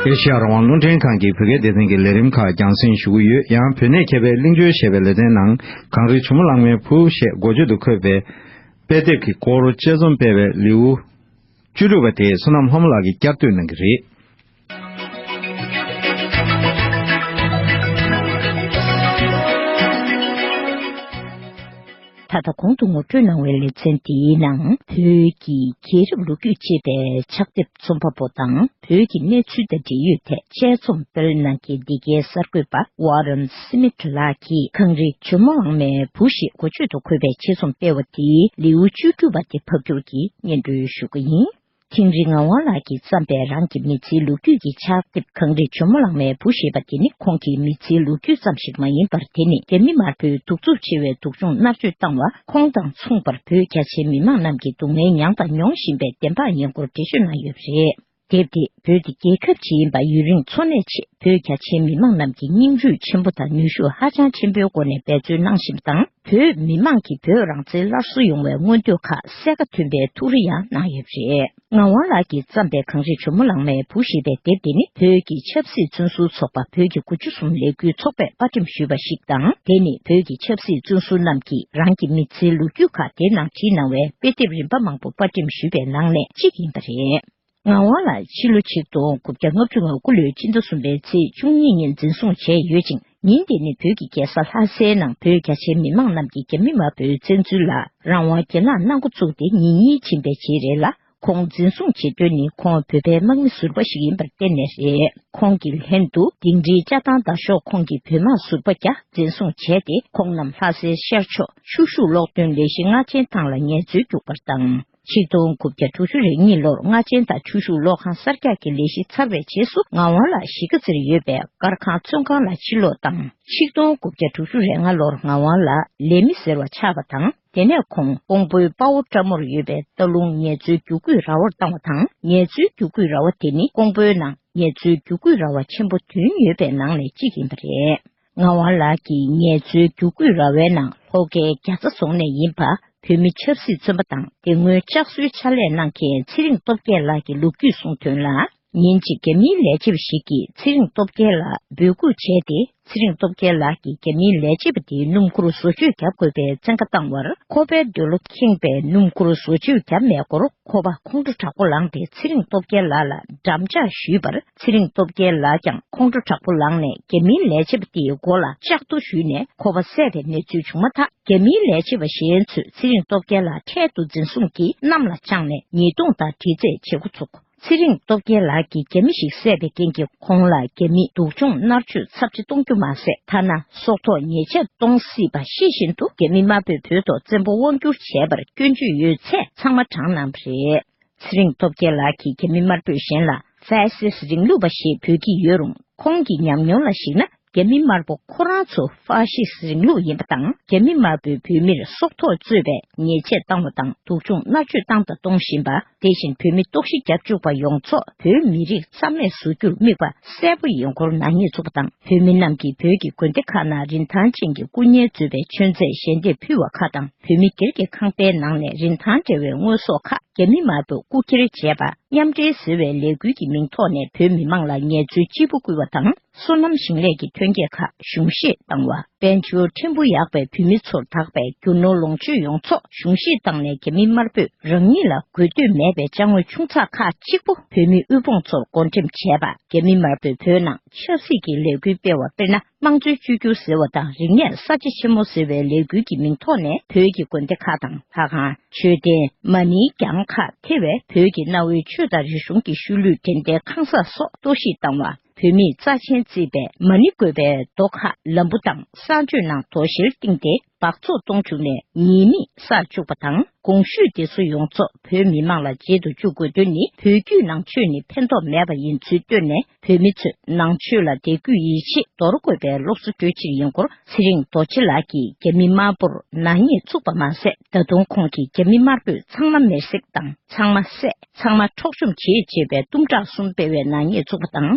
ཨེ་ཤེ་ཡ་རང་དབང་བློ་འདྲེན་ཁང་གི་བོད་སྐད་སྡེ་ཚན་གྱི་ལས་རིམ་ཁག་རྒྱང་སྲིང་ཞུ་གི་ཡོད་ཡང་བོད་གནས་མཁས་པའི་གླིང་བཅོལ་ཞེས་པའི་ལེ་ཚན་ནང་གངས་རིའི་བྱུ་མོ་གླང་མའི་བུ་ཞེས་འགོ་བརྗོད་དུ་འཁོད་པའི་དཔེ་དེབ་ཀྱི་སྐོར་དཔྱད་རྩོམ་སྤེལ་བའི་ལེའུ་བཅུ་དྲུག་པ་དེ་བསོད་ནམས་ལྷ་མོ་ལགས་ཀྱིས་བསྐྱར་བཟློས་གནང་གི་རེད། ད་ལྟ་གོང་དུ་ངོ་སྤྲོད་གནང་བའི་ལེ་ཚན་འདིའི་ནང་བོད་ཀྱི་རྒྱལ་རབས་ལོ་རྒྱུས་ཅེས་པའི་ཕྱག་དེབ་རྩོམ་པ་པོ་དང། བོད་ཀྱི་གནས་ཚུལ་དང་འབྲེལ་ཡོད་ཐད་དཔྱད་རྩོམ་སྤེལ་གནང་མཁན་འདི་གའི་གསར་འགོད་པ Warren Smith ལགས་ཀྱིས་གངས་རི་ཇོ་མོ་ཝང་མའི་བུ་ཞེས་གོ་ཆོད་དུ་འཁོད་པའི་དཔྱད་རྩོམ་སྤེལ་བ་དེའི་ལེའུ་བཅུ་དྲུག་པ་དེ་ཕབ་སྒྱུར་གྱིས་སྙན་སྒྲོན་ཞུ་རྒྱུ་ཡིན། དིང་རི་ངག་དབང་ལགས་ཀྱིས་བརྩམས་པའི་རང་གི་མི་ཚེའི་ལོ་རྒྱུས་ཀྱི་ཕྱག་དེབ་གངས་རི་ཇོ་མོ་ལང་མའི་བུ་ཞེས་པ་དེ་ནི་ཁོང་གི་མི་ཚེའི་ལོ་རྒྱུས་ཙམ་ཞིག་མ་ཡིན་པར་དེ་ནི་རྒྱ་མི་དམར་པོའི་གདུག་རྩུབ་ཆེ་བའི་སྡུག་སྦྱོང་མནར་གཅོད་བཏང་བ། ཁོང་དང་མཚུངས་པར་བོད་རྒྱ་ཆེའི་མི་མང་རྣམས་ཀྱིས་སྡུག་བསྔལ་མྱངས་དང་མྱོང་བཞིན་པའི་བདེན་དཔང་ཉེ་འཁོར་འགྲེལ་བརྗོད་གནང་ཡོད་པ་རེད། དེབ་འདིས་བོད་འདི་རྒྱལ་ཁབ་ཅིག་ཡིན་པ་ཡུན་རིང་འཚོ་གནས་ཆེད་བོད་རྒྱ་ཆེའི་མི་མང་རྣམས་ཀྱིས་སྙིང་རུས་ཆེན་པོ་དང་ནུས་ཤུགས་ཧ་ཅང་ཆེན་པོའི་སྒོ་ནས་འབད་བརྩོན་གནང་བཞིན་པ་དང་བོད་མི་མང་གིས་བོད་རང་བཙན་སླར་གསོ་ཡོང་བའི་མངོན་འདོད་ཁ་གསལ་ཁ་མཐུན་པའི་ཐུགས་རེ་ཡང་གནང་ཡོད་པ་རེད། ངག་དབང་ལགས་ཀྱིས་བརྩམས་པའི་གངས་རི་ཇོ་མོ་ལང་མའི་བུ་ཞེས་པའི་དེབ་དེ་ནི་བོད་ཀྱི་ཆབ་སྲིད་བཙོན་ཟུར་ཚོགས་པ་བོད་ཀྱི་དགུ་བཅུ་གསུམ་ལས་འགུལ་ཚོགས་པས་དཔར་འགྲེམས་ཞུས་པ་ཞིག་དང་དེ་ནི་བོད་ཀྱི་ཆབ་སྲིད་བཙོན་ཟུར་རྣམས་ཀྱིས་རང་གི་མི་ཚེའི་ལོ་རྒྱུས་ཁག་དེ་ནང་བྲིས་གནང་བའི་དཔེ་དེབ་རིམ་པ་མང་པོ་དཔར་འགྲེམས་ཞུས་པའི་ནང་ནས་གཅིག་ཡིན་པ་རེད། ངག་དབང་ལགས་ཕྱི་ལོ་ཆིག་སྟོང་དགུ་བརྒྱ་ལྔ་བཅུ་ང་དགུ་ལོའི་སྤྱི་ཟླ་གསུམ་པའི་ཚེས་བཅུ་གཉིས་ཉིན་འཛིན་བཟུང་བྱས་ཡོད་ཅིང། ཉིན་འདི་ནི་བོད་ཀྱི་རྒྱལ་ས་ལྷ་སའི་ནང་བོད་རྒྱ་ཆེའི་མི་མང་རྣམས་ཀྱི་རྒྱ་མི་དམར་པོའི་བཙན་འཛུལ་ལ་རང་དབང་རྒྱལ་ནག་གནང་འགོ་བཙུགས་ཏེ་ཉིན་གཉིས་ཕྱིན་པའི་རྗེས་རེད་ལ་ཁོང་འཛིན་བཟུང་བྱེད་དོན་ནི་ཁོང་བོད་པའི་དམག་མི་ཟུར་པ་ཞིག་ཡིན་པར་བརྟེན་ནས་རེད་ཁོང་གི་ལྷན་དུ་དིང་རིའི་བཅའ་ཐང་བདའ་ཤོག་ཁོང་གི་བོད་དམག་ཟུར་པ་བརྒྱ་འཛིན་བཟུང་བྱས་ཏེ་ཁོང་རྣམས་ལྷ་སའི་ཤར་ཕྱོགས་ཤུག་ཤུག་གློག་འདོན་ལས་གཞི་སྔ་ཆེན་ཐང་ལ་ངལ་རྩོལ་རྒྱུག་པར་བཏང། ཆིག་སྟོང་དགུ་བརྒྱ་དྲུག་ཅུ་རེ་གཉིས་ལོར་རྔ་ཆེན་དང་ཆུ་ཤུགས་གློག་ཁང་གསར་རྒྱག་གི་ལས་གཞི་ཚར་བའི་རྗེས་སུ་ངག་དབང་ལགས་གཞིས་ཀ་རྩེར་ཡོད་པའི་དཀར་ཁང་བཙོན་ཁང་ལ་ཕྱིར་ལོག་བཏང། ཆིག་སྟོང་དགུ་བརྒྱ་དྲུག་ཅུ་རེ་ལྔ་ལོར་ངག་དབང་ལགས་ལས་མི་ཟེར་བ་ཆགས་པ་དང་དེ་ནས་ཁོང་ཀོང་པོའི་དཔའ་བོ་བཀྲ་མོར་ཡོད་པའི་སྟག་ལུང་ངལ་རྩོལ་རྒྱུག་ཁུག་ར་བར་བཏང་བ་དང་ངལ་རྩོལ་རྒྱུག་ཁུག་ར་བ་དེ་ནི་ཀོང་པོའི་ནང་ངལ་རྩོལ་རྒྱུག་ཁུག་ར་བ་ཆེན་པོ་བདུན་ཡོད་པའི་ནང་ནས་གཅིག་ཡིན་པ་རེད། ངག་དབང་ལགས་ཀྱིས་ངལ་རྩོལ་རྒྱུགས་སྐུད་ར་བའི་ནང་ལྷོ་ཁའི་རྒྱ་ཚ་རྫོང་ནས་ཡིན་པ་བོད་མི་ཆབ་སྲིད་བཙོན་པ་དང་དེ་སྔོན་ལྕགས་གསོའི་ཕྱག་ལས་གནང་མཁན་ཚེ་རིང་སྟོབས་རྒྱལ་ལགས་ཀྱི་ལོ་རྒྱུས་གསུང་དོན་ལ། ཉིན་གཅིག་རྒྱ་མིའི་ལས་བྱེད་པ་ཞིག་གིས་ཚེ་རིང་སྟོབས་རྒྱལ་ལ་འབོད་སྐུལ་བྱས་ཏེ་ཚེ་རིང་སྟོབས་རྒྱལ་ལགས་ཀྱིས་རྒྱ་མིའི་ལས་བྱེད་པ་དེའི་སྣུམ་འཁོར་བཟོ་བཅོས་བརྒྱབ་དགོས་པའི་བཙན་བཀའ་བཏང་བར་ཁོ་པའི་འདོད་བློ་ཁེངས་པས་སྣུམ་འཁོར་བཟོ་བཅོས་བརྒྱབ་མེད་སྐོར་ཁོ་པ་ཁོང་ཁྲོ་དྲག་པོ་ལངས་ཏེ་ཚེ་རིང་སྟོབས་རྒྱལ་ལགས་ལ་འགྲམ་ལྕག་གཞུས་པར་ཚེ་རིང་སྟོབས་རྒྱལ་ལགས་ཀྱང་ཁོང་ཁྲོ་དྲག་པོ་ལངས་ནས་རྒྱ་མིའི་ལས་བྱེད་པ་དེའི་མགོ་ལ་ལྕགས་རྡོ་གཞུས་ནས་ཁོ་པ་བསད་པའི་གནས་ཚུལ་བྱུང་མ་ཐག་རྒྱ་མིའི་ལས་བྱེད་པ་གཞན་ཚོས་ཚེ་རིང་སྟོབས་རྒྱལ་ལགས་འཕྲལ་དུ་འཛིན་བཟུང་གིས་གནམ་ལ་དཔྱངས་ནས་ཉེས་རྡུང་དང་དྲི་རྩད་བྱེད་འགོ་ཚུགས། ཚེ་རིང་སྟོབས་རྒྱལ་ལགས་ཀྱིས་རྒྱ་མི་ཞིག་བསད་པའི་རྐྱེན་གྱིས་ཁོང་ལ་རྒྱ་མིས་སྡུག་སྦྱོང་མནར་གཅོད་ཚབས་ཆེ་གཏོང་རྒྱུ་མ་ཟད་ཐ་ན་སྲོག་ཐོག་ཉེས་ཆད་གཏོང་སྲིད་པ་ཤེས་བཞིན་དུ་རྒྱ་མི་དམར་པོས་བོད་ཐོག་བཙན་པོ་དབང་བསྒྱུར་བྱས་པར་སྐྱོན་བརྗོད་ཡོད་ཚད་ཚང་མ་དྲངས་གནང་བ་རེད། ཚེ་རིང་སྟོབས་རྒྱལ་ལགས་ཀྱིས་རྒྱ་མི་དམར་པོས་གཞན་ལ་ཧྥ་སི་སི་རིང་ལུགས་པ་ཞེས་འབོད་ཀྱི་ཡོད་རུང་ཁོང་གི་ཉམས་མྱོང་ལ་གཞིགས་ན་རྒྱ་མི་དམར་པོ་ཁོ་རང་ཚོ་ཧྥ་ཤི་སི་རིང་ལུགས་ཡིན་པ་དང་རྒྱ་མི་དམར་པོའི་བོད་མིར་སྲོག་ཐོག་རྩོད་པའི་ཉེས་ཆད་བཏང་བ་དང་སྡུག་སྦྱོང་མནར་གཅོད་བཏང་དང་གཏོང་བཞིན་པ་དེ་བཞིན་བོད་མི་ལྟོགས་ཤི་རྒྱབ་བཅུག་པ་ཡོངས་རྫོགས་བོད་མི་རིགས་རྩ་མེད་བཟོ་རྒྱུར་དམིགས་པ་གསལ་པོ་ཡིན་སྐོར་ནག་ཉེས་ཚོགས་པ་དང་བོད་མི་རྣམས་ཀྱིས་བོད་ཀྱི་དགོན་སྡེ་ཁག་ནང་རིན་ཐང་ཅན་གྱི་སྐུ་བརྙན་བཟོས་པའི་མཆོད་རྫས་ཞལ་འདེབས་ཕུལ་བ་ཁག་དང། བོད་མི་སྒེར་གྱི་ཁང་པའི་ནང་ནས་རིན་ཐང་བྲལ་བའི་དངོས་ཟོག་ཁག་རྒྱ་མི་དམར་པོས་རྐུ་འཁྱེར་བྱས་པ་མཉམ་འབྲེལ་ཟེར་བའི་ལས་འགུལ་གྱི་མིང་ཐོག་ནས་བོད་མི་མང་ལ་ངལ་རྩོལ་སྤྱིལ་པོ་སྐུལ་བ་དང་སོ་ནམ་ཞིང་ལས་ཀྱི་ཐོན་སྐྱེད་ཁག་གཞུང་བཞེས་བཏང་བ། དཔལ་འབྱོར་ཕྲན་བུ་ཡག་པའི་བོད་མི་ཚོར་དག་པའི་རྒྱུ་ནོར་ལོངས་སྤྱོད་ཡོང་ཆོག་གཞུང་བཞེས་བཏང་ནས་རྒྱ་མི་དམར་པོས་རང་ཉིད་ལ་དགོས་འདོད་མེད་པའི་བཅའ་དངོས་ཆུང་ཚགས་ཁག་གཅིག་པོ་བོད་མི་དབུལ་ཕོངས་ཚོར་བགོ་འགྲེམས་བྱས་པ་རྒྱ་མི་དམར་པོས་བོད་ནང་ཆབ་སྲིད་ཀྱི་ལས་འགུལ་སྤེལ་བ་དཔེར་ན། དམངས་གཙོའི་བཅོས་སྒྱུར་ཟེར་བ་དང་རིག་གནས་གསར་བརྗེ་ཆེན་མོ་ཟེར་བའི་ལས་འགུལ་གྱི་མིང་ཐོག་ནས་བོད་ཀྱི་དགོན་སྡེ་ཁག་དང་ལྷ་ཁང་མཆོད་རྟེན་མ་ནིའི་གྱང་ཁག་ཐེ་བའི་བོད་ཀྱི་གནའ་བོའི་ཆོས་དང་རིག་གཞུང་གི་ཤུལ་ལུས་འགྲེམས་སྟེགས་ཁང་གསར་སོགས་གཏོར་བཤིག་བཏང་བ་བོད་མིས་རྩ་ཆེན་བརྩིས་པའི་མ་ནི་དགོན་པའི་རྡོ་ཁག་ལམ་བུ་དང་གསར་མཆོད་ནང་དོ་བཞིར་བཏིང་སྟེ་སྦགས་བཙོག་གཏོང་བཅུག་ནས་ཉེས་མིང་བསགས་བཅུག་པ་དང་དགོངས་ཞུས་འདི་ཚོ་ཡོངས་རྫོགས་བོད་མི་མང་ལ་མཇལ་དུ་བཅུག་དགོས་དོན་ནི་བོད་བརྒྱུད་ནང་ཆོས་ནི་ཕན་ཐོགས་མེད་པ་ཡིན་ཚུལ་བཏོན་ནས་བོད་མི་ཚོས་ནང་ཆོས་ལ་དད་གུས་ཡིད་ཆེས་འདོར་དགོས་པའི་སློབ་གསོ་སྤྲོད་ཕྱིར་ཡིན་སྐོར་ཚེ་རིང་རྡོ་རྗེ་ལགས་ཀྱིས་རྒྱ་མི་དམར་པོར་ནག་ཉེས་བཙུགས་པ་མ་ཟད་ད་དུང་ཁོང་གིས་རྒྱ་མི་དམར་པོས་ཚང་མ་མེར་སྲེག་དང་ཚང་མ་བསད་ཚང་མ་འཕྲོག་བཅོམ་བྱེད་ཅེས་པའི་གཏུམ་དྲག་གསུམ་སྤེལ་བའི་ནག་ཉེས་བཙུགས་པ་དང།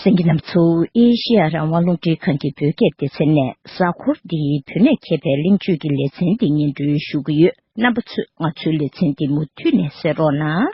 སེང་གེ་ནམ་མཚོ་ཨེ་ཤེ་ཡ་རང་དབང་ལུང་འདྲེན་ཁང་གི་བོད་སྐད་སྡེ་ཚན་ནས་གཟའ་འཁོར་འདིའི་བོད་གནས་མཁས་པའི་གླེང་བརྗོད་ཀྱི་ལེ་ཚན་འདི་སྙན་སྒྲོན་ཞུ་གི་ཡོད་རྣམ་པ་ཚོས་ང་ཚོའི་ལེ་ཚན་འདི་མུ་མཐུད་ནས་གསན་རོགས་གནང།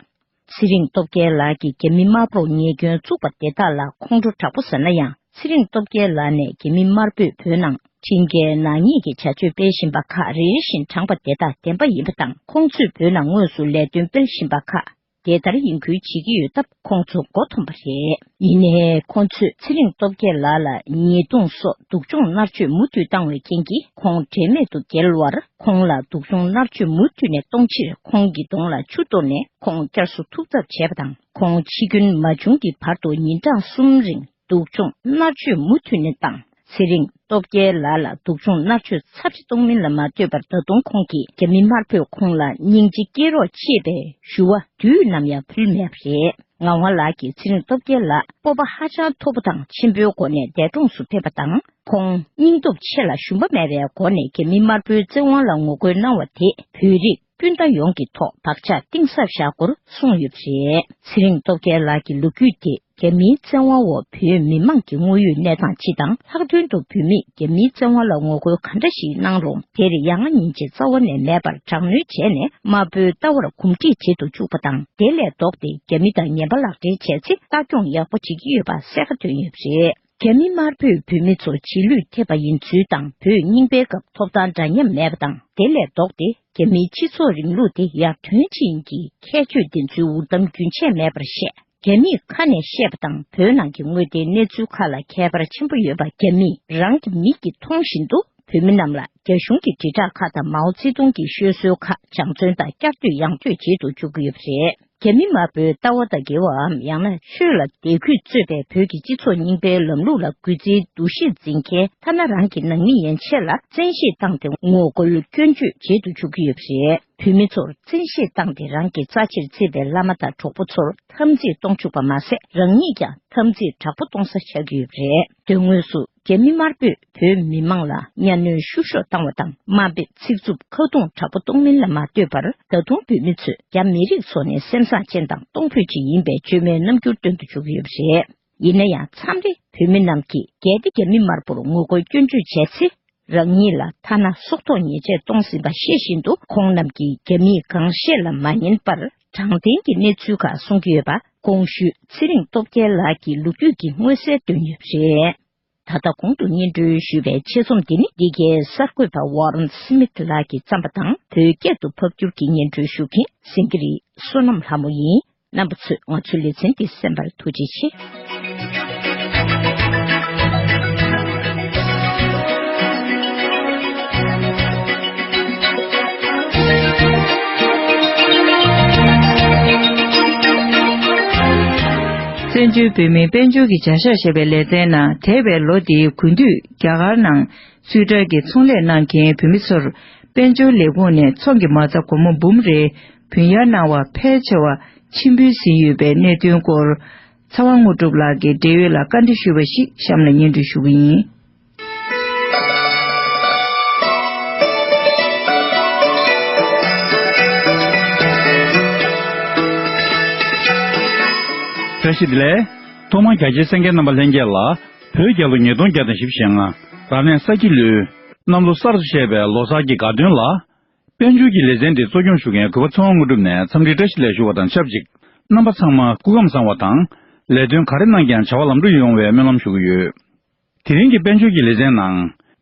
ཚེ་རིང་སྟོབས་རྒྱལ་ལགས་ཀྱིས་རྒྱ་མི་དམར་པོར་ཉེས་སྐྱོན་བཙུགས་པ་དེ་དག་ལ་ཁོང་ཁྲོ་དྲག་པོ་ཟ་ན་ཡང་ཚེ་རིང་སྟོབས་རྒྱལ་ལགས་ནས་རྒྱ་མི་དམར་པོས་བོད་ནང་ཁྲིམས་འགལ་ནག་ཉེས་ཀྱི་བྱ་སྤྱོད་སྤེལ་བཞིན་པ་ཁག་རེ་རེ་བཞིན་དྲངས་པ་དེ་དག་བདེན་པ་ཡིན་པ་དང་ཁོང་ཚོས་བོད་ནང་དངོས་སུ་ལས་དོན་སྤེལ་བཞིན་པ་ཁག་དེ་ལྟར་ཡིན་ཁུལ་བྱེད་ཀྱི་ཡོད་སྟབས་ཁོང་ཚོ་མགོ་འཐོམས་པ་རེད། ཡིན་ནས་ཁོང་ཚོས་ཚེ་རིང་སྟོབས་རྒྱལ་ལགས་ལ་ཉེས་རྡུང་སོགས་སྡུག་སྦྱོང་མནར་གཅོད་མུ་མཐུད་བཏང་བའི་རྐྱེན་གྱིས་ཁོང་འབྲས་མེད་དུ་བརྒལ་བར་ཁོང་ལ་སྡུག་སྦྱོང་མནར་གཅོད་མུ་མཐུད་ནས་གཏོང་ཕྱིར་ཁོང་གི་གདོང་ལ་ཆུ་གཏོར་ནས་ཁོང་བསྐྱར་གསོ་ཐུབ་ཐབས་བྱས་པ་དང་ཁོང་འཆི་སྐྱོན་མ་བྱུང་གི་བར་དུ་ཉིན་གྲངས་གསུམ་རིང་སྡུག་སྦྱོང་མནར་གཅོད་མུ་མཐུད་ནས་བཏང། ཚེ་རིང་སྟོབས་རྒྱལ་ལགས་ལ་སྡུག་སྦྱོང་མནར་གཅོད་ཚབས་ཆེ་གཏོང་མིན་ལ་མ་ལྟོས་པར་ད་དུང་ཁོང་གིས་རྒྱ་མི་དམར་པོས་ཁོང་ལ་སྙིང་རྗེ་སྐྱེས་རོགས་ཅེས་པའི་ཞུ་བ་དུས་ནམ་ཡང་ཕུལ་མེད་པ་རེད། ངག་དབང་ལགས་ཀྱིས་ཚེ་རིང་སྟོབས་རྒྱལ་ལགས་སྤོབས་པ་ཧ་ཅང་མཐོ་པོ་དང་ཆེན་པོའི་སྒོ་ནས་འདས་གྲོངས་སུ་ཕེབས་པ་དང་ཁོང་སྙིང་སྟོབས་ཆེ་ལ་ཞུམ་པ་མེད་པའི་སྒོ་ནས་རྒྱ་མི་དམར་པོའི་བཙན་དབང་ལ་ངོ་རྒོལ་གནང་བ་དེ་བོད་རིགས་སྤུན་ཟླ་ཡོངས་ཀྱི་ཐོག་བག་ཆགས་གཏིང་ཟབ་བཞག་སྐོར་གསུངས་ཡོད་པ་རེད། ཚེ་རིང་སྟོབས་རྒྱལ་ལགས་ཀྱི་ལོ་རྒྱུས་དེ་རྒྱ་མིའི་བཙན་དབང་འོག་བོད་མི་མང་གི་དངོས་ཡོད་གནས་སྟངས་སྤྱི་དང་ལྷག་དོན་དུ་བོད་མིས་རྒྱ་མིའི་བཙན་དབང་ལ་ངོ་རྒོལ་ག་འདྲ་ཞིག་གནང་རུང་དེར་ཡ་ང་ཉིན་བྱེད་རྩ་བ་ནས་མེད་པར་དྲག་གནོན་བྱས་ནས་དམར་པོའི་ལྟ་བར་གོམས་འདྲིས་བྱེད་དུ་བཅུག་པ་དང་དེ་ལས་ལྡོག་སྟེ་རྒྱ་མི་དང་ངན་པ་ལག་འབྲེལ་བྱས་ཚེ་ལྟ་སྐྱོང་ཡག་པོ་བྱེད་ཀྱི་ཡོད་པ་གསལ་ཁ་བཏོན་ཡོད་པ་རེད། རྒྱ་མི་དམར་པོས་བོད་མི་ཚོ་རྗེས་ལུས་ཐེབས་པ་ཡིན་ཚུལ་དང་བོད་རྙིང་པའི་སྐབས་ཐོབ་ཐང་འདྲ་མཉམ་མེད་པ་དང་དེ་ལས་ལྡོག་སྟེ་རྒྱ་མིའི་སྤྱི་ཚོགས་རིང་ལུགས་དེ་ཡར་ཐོན་བྱེད་ཡིན་གྱི་ཁྱད་ཆོས་ལྡན་ཚུལ་འུར་གཏམ་རྒྱུན་ཆད་མེད་པར་བཤད། རྒྱ་མིས་ཁ་ནས་བཤད་པ་དང་བོད་ནང་གི་དངོས་བདེན་གནས་ཚུལ་ཁ་ལ་ཁྱད་པར་ཆེན་པོ་ཡོད་པ་རྒྱ་མིས་རང་གི་མིག་གིས་མཐོང་བཞིན་དུ་བོད་མི་རྣམས་ལ་རྒྱ་གཞུང་གི་དྲིལ་བསྒྲགས་ཁག་དང་མའོ་ཙེ་ཏུང་གི་ཤོད་སྲོལ་ཁག་སྦྱང་བརྩོན་དང་བསྐྱར་ཟློས་ཡང་བསྐྱོད་བྱེད་དུ་འཇུག་གི་ཡོད་པ་རེད། རྒྱ་མི་དམར་པོའི་ལྟ་བ་དང་འགལ་བའམ་ཡང་ན་ཆོས་ལ་དད་གུས་རྩོད་པའི་བོད་ཀྱི་སྤྱི་ཚོགས་རྙིང་པའི་ལམ་ལུགས་ལ་གུས་བརྩིའི་འདུ་ཤེས་འཛིན་མཁན་ཐ་ན་རང་གི་ནང་མི་ཡན་ཆད་ལ་བཙན་ཤེད་བཏང་སྟེ་ངོ་རྒོལ་སྐྱོན་བརྗོད་བྱེད་དུ་འཇུག་གི་ཡོད་པ་རེད། བོད་མི་ཚོར་བཙན་ཤེད་བཏང་སྟེ་རང་གི་རྩ་ཆེར་བརྩི་བའི་བླ་མ་དང་གྲོགས་པོ་ཚོར་འཐམ་འཛིང་གཏོང་བཅུག་པ་མ་ཟད་རང་ཉིད་ཀྱང་འཐམ་འཛིང་དྲག་པོ་གཏོང་ས་ཆགས་ཀྱི་ཡོད་པ་རེད། དོན་དངོས་སུ། རྒྱ་མི་དམར་པོས་བོད་མི་དམངས་ལ་གཉའ་གནོན་བཤུ་གཞོག་བཏང་བ་དང་དམའ་འབེབས་ཚིག་རྩུབ་ཁ་རྡུང་དྲག་པོ་གཏོང་མིན་ལ་མ་ལྟོས་པར་ད་དུང་བོད་མི་ཚོས་རྒྱ་མི་རིགས་ཚོ་ནི་སེམས་བཟང་ཅན་དང་གཏོང་ཕོད་ཅིག་ཡིན་པའི་བཅོས་མའི་རྣམ་འགྱུར་སྟོན་དུ་འཇུག་གི་ཡོད་པ་རེད། ཡིན་ན་ཡང་མཚམས་རེ་བོད་མི་རྣམས་ཀྱིས་གལ་ཏེ་རྒྱ་མི་དམར་པོར་ངོ་རྒོལ་སྐྱོན་བརྗོད་བྱས་ཚེ་རང་ཉིད་ལ་ཐ་ན་སྲོག་ཐོག་ཉེས་ཆད་གཏོང་ཟིན་པ་ཤེས་བཞིན་དུ་ཁོང་རྣམས་ཀྱིས་རྒྱ་མིས་གང་བཤད་ལ་མ་ཉན་པར་དྲང་བདེན་གྱི་གནས་ཚུལ་ཁག་གསུང་གི་ཡོད་པ་ཀོང་ཤུས་ཚེ་རིང་སྟོབས་རྒྱལ་ལགས་ཀྱིས་ལོ་རྒྱུས་ཀྱི་མངོན་གསལ་དོད་ངེས་རེད། ད་ལྟ་གོང་དུ་སྙན་སྒྲོན་ཞུས་པའི་ཆེད་རྩོམ་འདི་ནི་འདི་གའི་གསར་འགོད་པ Warren Smith ལགས་ཀྱིས་བརྩམས་པ་དང་བོད་སྐད་དུ་ཕབ་བསྒྱུར་གྱིས་སྙན་སྒྲོན་ཞུ་མཁན་སེང་གེ་རིགས་བསོད་ནམས་ལྷ་མོ་ཡིན། རྣམ་པ་ཚོས་ང་ཚོའི་ལེ་ཚན་འདི་གསན་པར་ཐུགས་རྗེ་ཆེ། བཙན་བྱོལ་བོད་མིའི་དཔལ་འབྱོར་གྱི་བྱ་གཞག་ཞེས་པའི་ལེ་ཚན་ནང་དེད་པའི་ལོ་དེའི་དགུན་དུས་རྒྱ་གར་ནང་སུད་ཀྲལ་གྱི་ཚོང་ལས་གནང་མཁན་བོད་མི་ཚོར་དཔལ་འབྱོར་ལས་ཁུངས་ནས་ཚོང་གི་མ་རྩ་སྒོར་མོ་འབུམ་རེ་བུན་གཡར་གནང་བ་ཕལ་ཆེ་བ་མཆིམས་ཕུའི་ཟིན་ཡོད་པའི་གནད་དོན་སྐོར། ཚ་བ་དངོས་གྲུབ་ལགས་ཀྱི་འབྲེལ་ཡོད་ལ་བཀའ་འདྲི་ཞུས་པ་ཞིག་གཤམ་ལ་སྙན་སྒྲོན་ཞུ་གི་ཡིན། བཀྲ་ཤིས་བདེ་ལེགས། ཐོག་མར་རྒྱ་ཆེའི་སེང་གེ་རྣམ་པ་ལྷན་རྒྱས་ལ། བོད་རྒྱལ་ལོ་ཉིས་སྟོང་བརྒྱ་དང་བཞི་བཞེངས། རབ་གནས་ས་སྐྱིད་ལོའི། གནམ་ལོ་གསར་དུ་བཞད་པའི་ལོ་གསར་གྱི་དགའ་སྟོན་ལ། དཔལ་འབྱོར་གྱི་ལེ་ཚན་དེ་གཙོ་སྐྱོང་ཞུ་མཁན་གུས་པ་ཚེ་དབང་དངོས་གྲུབ་ནས་འཚམས་འདྲིའི་བཀྲ་ཤིས་ལན་ཞུ་བ་དང་ཆབས་ཅིག་རྣམ་པ་ཚང་མ་སྐུ་ཁམས་བཟང་བ་དང། ལས་དོན་ག་རེ་གནང་ཀྱང་བྱ་བ་ལམ་འགྲོ་ཡོང་བའི་སྨོན་ལམ་ཞུ་གི་ཡོད། དེ་རིང་གི་དཔལ་འབྱོར་གྱི་ལེ་ཚན་ནང།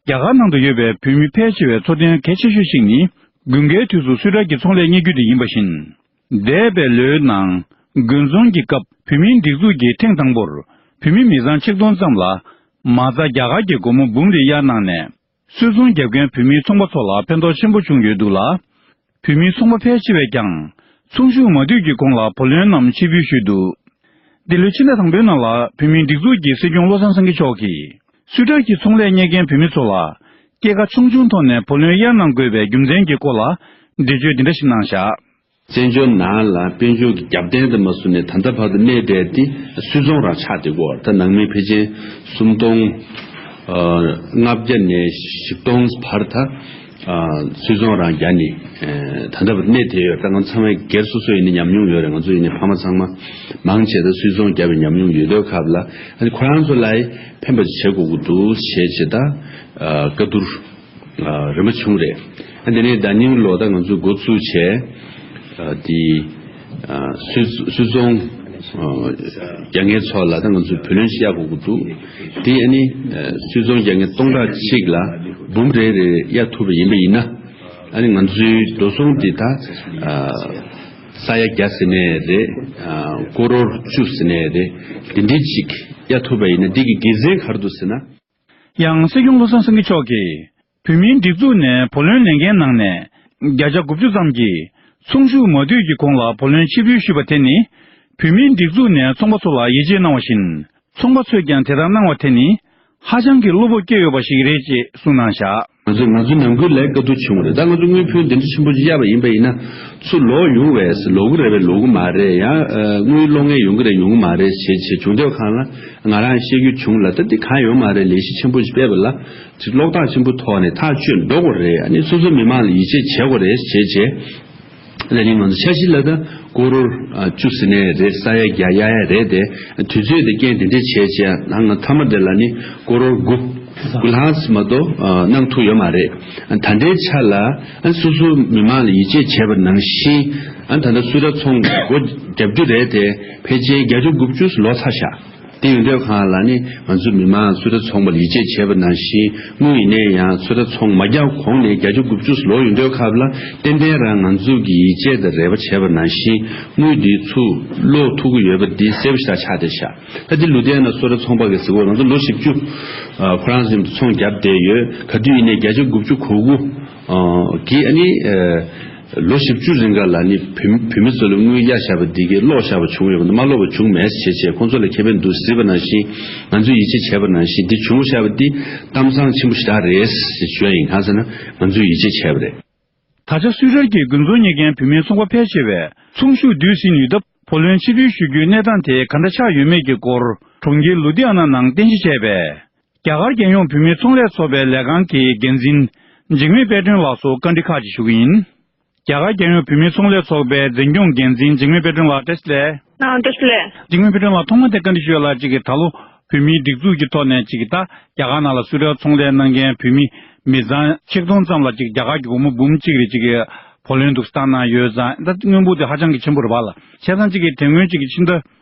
རྒྱ་གར་ནང་དུ་ཡོད་པའི་བོད་མི་ཕལ་ཆེ་བའི་འཚོ་རྟེན་གལ་ཆེ་ཤོས་ཤིག་ནི་དགུན་ཁའི་དུས་སུ་སུད་ཀྲ་ཀྱི་ཚོང་ལས་གཉེར་རྒྱུ་དེ་ཡིན་པ་བཞིན། འདས་པའི་ལོའི་ནང་དགུན་ཚོང་གི་སྐབས་བོད་མིའི་སྒྲིག་འཛུགས་ཀྱིས་ཐེངས་དང་པོར་བོད་མི་མི་ཚང་ཆིག་སྟོང་ཙམ་ལ། མ་རྩ་རྒྱ་གར་གྱི་སྒོར་མོ་འབུམ་རེ་གཡར་གནང་ནས་སུད་ཚོང་རྒྱབ་མཁན་བོད་མིའི་ཚོང་པ་ཚོ་ལ་ཕན་ཐོགས་ཆེན་པོ་བྱུང་ཡོད་འདུག་ལ། བོད་མིའི་ཚོང་པ་ཕལ་ཆེ་བས་ཀྱང་ཚོང་ཞུགས་མ་བསྡུས་ཀྱི་གོང་ལ་བུ་ལོན་རྣམས་ཕྱིར་འབུལ་ཞུས་འདུག་འདི་ལོའི་ཕྱི་ཟླ་དང་པོའི་ནང་ལ་བོད་མིའི་སྒྲིག་འཛུགས་ཀྱི་སྲིད་སྐྱོང་བློ་བཟང་སེང་གེ་མཆོག་གིས་སུད་ཀྲོལ་གྱི་ཚོང་ལས་གཉེར་མཁན་བོད་མི་ཚོ་ལ་སྐྱེད་ཀ་ཆུང་ཆུང་ཐོག་ནས་བུ་ལོན་གཡར་གནང་དགོས་པའི་རྒྱུ་མཚན་གྱི་སྐོར་ལ་འགྲེལ་བརྗོད་འདི་འདྲ་ཞིག་གནང་བཞག། བཙན་བྱོལ་ནང་ལ་དཔལ་འབྱོར་གྱི་རྒྱབ་རྟེན་དུ་མ་བཟུང་ནས་ད་ལྟ་བར་དུ་གནས་བསྡད་དེ་སུད་ཚོང་རར་ཆགས་བསྡད་སྐོར་ད་ནང་མི་ཕལ་ཆེན་སུམ་སྟོང་ལྔ་བརྒྱ་ནས་བཞི་སྟོང་བར་ད་སུད་ཚོང་རང་རྒྱ་ནི་ད་ལྟ་བར་དུ་གནས་བསྡད་ཡོད་ད་ང་ཚང་བའི་སྒེར་སོ་སོ་ཡིན་ན་ཉམས་མྱོང་ཡོད་རེད་ང་ཚོ་ཡིན་ནས་ཕ་མ་ཚང་མ་མང་ཆེ་ད་སུད་ཚོང་རྒྱབ་པའི་ཉམས་མྱོང་ཡོད་དོས་ཁབ་ལ་ཁོ་རང་ཚོ་ལའི་ཕན་པ་ཅིག་བྱེད་དགོས་ཀྱི་འདུག་ཞེས་ཇི་ལྟར་བཀའ་བསྡུར། རིན་པོ་ཆུང་རེད། དེ་ནས་ཟླ་སྙིང་ལོ་ད་ང་ཚོས་འགོ་བཙུགས་བྱས། དེ། སུད་རྫོང། རྒྱ་ངན་ཚོགས་ལ་ད་ང་ཚོས་བུ་ལོན་ཤི་ཡ་གོ་གི་འདུག། དེ་ཨ་ནི། སུད་རྫོང་རྒྱ་ངན་སྟོང་ཕྲག་གཅིག་ལ་འབུམ་རེ་རེ་གཡར་ཐུབ་པ་ཡིན་པ་ཡིན་ན། ཨ་ནི་ང་ཚོའི་འགྲོ་སོང་དེ་ད། ས་ཡ་བརྒྱ་ཟེར་ནས་རེད། སྐོར་རོར་བཅུ་ཟེར་ནས་རེད། འདི་འདྲི་གཅིག་གཡར་ཐུབ་པ་ཡིན་ན་འདི་གི་དགེ་མཚན་ག་རེ་འདུག་ཟེར་ན། ཡང་སྲིད་སྐྱོང་བློ་བཟང་སེང་གེ་མཆོག་གིས་བོད་མིའི་སྒྲིག་འཛུགས་ནས་བུ་ལོན་ལེན་མཁན་ནང་ནས་བརྒྱ་ཆ་དགུ་བཅུ་ཙམ་གྱིས་ཚོང་ཞུགས་མ་བསྡུས་ཀྱི་གོང་ལ་བུ་ལོན་ཕྱིར་འབུལ་ཞུས་པ་དེ་ནི་བོད་མིའི་སྒྲིག་འཛུགས་ནས་ཚོང་པ་ཚོ་ལ་ཡིད་ཆེས་གནང་བ་བཞིན་ཚོང་པ་ཚོས་ཀྱང་དེ་ལྟར་གནང་བ་དེ་ནི་ཧ་ཅང་གི་བློ་སྤོབས་སྐྱེས་ཡོད་པ་ཞིག་རེད་ཅེས་གསུངས་གནང་བཞག། ང་ཚོས་ང་ཚོའི་ནང་ཁུལ་ལས་དཀའ་སྡུག་བྱུང་བ་རེད་ད་ང་ཚོ་དངུལ་ཕོན་འདི་འདྲ་ཆེན་པོ་ཅིག་གཡར་བ་ཡིན་པ་ཡིན་ན། ཚུར་ལོག་ཡོང་བས་ལོག་གི་རེད་བས་ལོག་གི་མ་རེད་ཡང་དངུལ་བློ་ངན་ཡོང་གི་རེད་ཡོང་གི་མ་རེད་བྱས་བྱས་བྱུང་དེ་བ་གང་ལ་ང་རང་ཤེས་རྒྱུ་བྱུང་ལ་ད་འདི་གང་ཡོང་མ་རེད་ལས་གཞི་ཆེན་པོ་ཞིག་སྤེལ་བ་ལ་ཅིག་ལོག་ལྟ་ཆེན་པོ་ཐོག་ནས་ཐག་གཅོད་འགྲོ་དགོས་རེད་ཨ་ནི་སོ་སོའི་མི་མང་ལ་ཡིད་ཆེས་བྱེད་དགོས་རེད་བྱས་བྱས། ལས་རིམ་མང་དུ་འཆར་གཞི་ལ་ད་ཀོ་རོར་བཅུ་ཟེར་ནའི་རེད་ས་ཡ་བརྒྱ་ཡ་ཡ་རེད་དེ་དུས་ཚོད་དེ་རྐྱེན་དེ་འདྲས་བྱས་བྱས་ད་ང་ཐ་མ་དེ་ལ་ནི་ཀོ་རོར་དགུ་དགུ་ལྷག་མ་གཏོགས་གནང་ཐུག་ཡོད་མ་རེད་ད་འདྲའི་ཆ་ལ་སོ་སོ་མི་མང་ལ་ཡིད་ཆེས་བྱས་པ་ནང་བཞིན་ད་ལྟ་སུ་ར་ཚོང་སྒོ་བརྒྱབ་རྒྱུ་རེད་དེ་ཕལ་ཆེན་བརྒྱ་ཆ་དགུ་བཅུ་ལོག་ཚར་ཤག་དེང་སྡོད་ཁང་ལ་ནི་ང་ཚོའི་མི་མང་ཚོད་ལྟ་ཚོང་པར་ཡིད་ཆེས་བྱས་པ་ནང་བཞིན་དངོས་ཡིན་ནའི་ཡང་ཚོད་ལྟ་ཚོང་མ་བརྒྱག་གོང་ནས་བརྒྱ་ཆ་དགུ་བཅུ་སུ་ལོག་ཡོད་འདོད་ཁབ་ལ་ཏན་ཏན་རང་ང་ཚོ་གི་ཡིད་ཆེས་དང་རེ་བ་བྱས་པ་ནང་བཞིན་དངུལ་འདི་ཚུ་ལོག་ཐུག་གི་ཡོད་པ་འདི་གསལ་བོ་ཞིག་ལ་ཆགས་བསྡད་བཞག་ད་འདི་ལུས་བསྡད་ན་ཚོད་ལྟ་ཚོང་པ་གི་གཟིགས་བར་ང་ཚོ་ལོ་བཞི་བཅུ་ཁོ་རང་བཞིན་དུ་ཚོང་བརྒྱབ་བསྡད་ཡོད་ག་དུས་ཡིན་ནའི་བརྒྱ་ཆ་དགུ་བཅུ་གོ་དགུ། གིས་ཨ་ནི། ལོ་བཞི་བཅུ་རིང་ག་ལ་ནི་བུད་མེད་ཚོ་ལ་དངུལ་གཡར་བཞག་པ་འདི་གས་ཀློག་བཞག་པ་བྱུང་ཡོད་པ་འདུག་མ་ཀློག་པ་བྱུང་མེད་ཟེར་བྱས་ཁོང་ཚོ་ལ་མཁས་པའི་འདུག་ཟེར་བ་ནང་བཞིན་ང་ཚོས་ཡིད་ཆེས་བྱས་པ་ནང་བཞིན་འདི་བྱུང་བཞག་པ་འདི་གཏམ་བཟང་ཆེན་པོ་ཞིག་དག་རེད་ཟེར་བྱས་ཡིན་གང་ཟེར་ན་ང་ཚོས་ཡིད་ཆེས་བྱས་པ་རེད། ད་ཆ་སུད་རལ་གྱི་དགུན་ཚོང་གཉེར་མཁན་བུད་མེད་ཚོང་པ་ཕལ་ཆེ་བས་ཚོང་ཤུགས་བསྡུས་ཟིན་ནུས་སྟབས་བུ་ལོན་ཕྱིར་འབུལ་ཞུ་རྒྱུའི་གནས་སྟངས་དེ་ག་འདྲ་ཆགས་ཡོད་མེད་ཀྱི་སྐོར་གྲོང་ཁྱེར་ལུ་དྷི་ཨ་ན་ནང་རྟེན་གཞི་བྱས་པའི་རྒྱ་གར་རྒྱལ་ཡོངས་བུད་མེད་ཚོང་ལས་ཚོགས་པའི་ལས་ཁང་གི་འགན་འཛིན། འཇིགས་མེད་དཔལ་སྒྲོན་ལགས་སོགས་བཀའ་འདྲི་ཁག་ཅིག་ཞུ་གི་ཡིན། རྒྱ་གར་རྒྱལ་ཡོངས་བུད་མེད་ཚོང་ལས་ཚོགས་པའི་འཛིན་སྐྱོང་འགན་འཛིན་འཇིགས་མེད་དཔལ་སྒྲོན་ལགས་བཀྲ་ཤིས་ལས། བཀྲ་ཤིས་ལས། འཇིགས་མེད་དཔལ་སྒྲོན་ལགས་ཐོག་མ་དེ་བཀའ་འདྲི་ཞུ་ཡ་ལ་གཅིག་གིས་ད་ལོ་བུད་མེད་སྒྲིག་འཛུགས་ཀྱི་ཐོག་ནས་གཅིག་གིས་ད་རྒྱ་གར་ནང་ལ་སུ་རལ་ཚོང་ལས་གནང་མཁན་བུད་མེད་མི་ཚང་ཆིག་སྟོང་ཙམ་ལ་གཅིག་རྒྱ་གར་གྱི་བུ་མོ་འབུམ་གཅིག་རེ་གཅིག་གིས་བུ་ལོན་འདུག་སྟངས་ནང་ཡོད་ཙང་ད་དངུལ་འབོར་དེ་ཧ་ཅང་གི་ཆེན་པོ་རེད་བ་ལ་བྱས་ཙང་གཅིག་གིས་དེ་སྔོན་གཅིག་གིས་ཕྱི་ཟླ།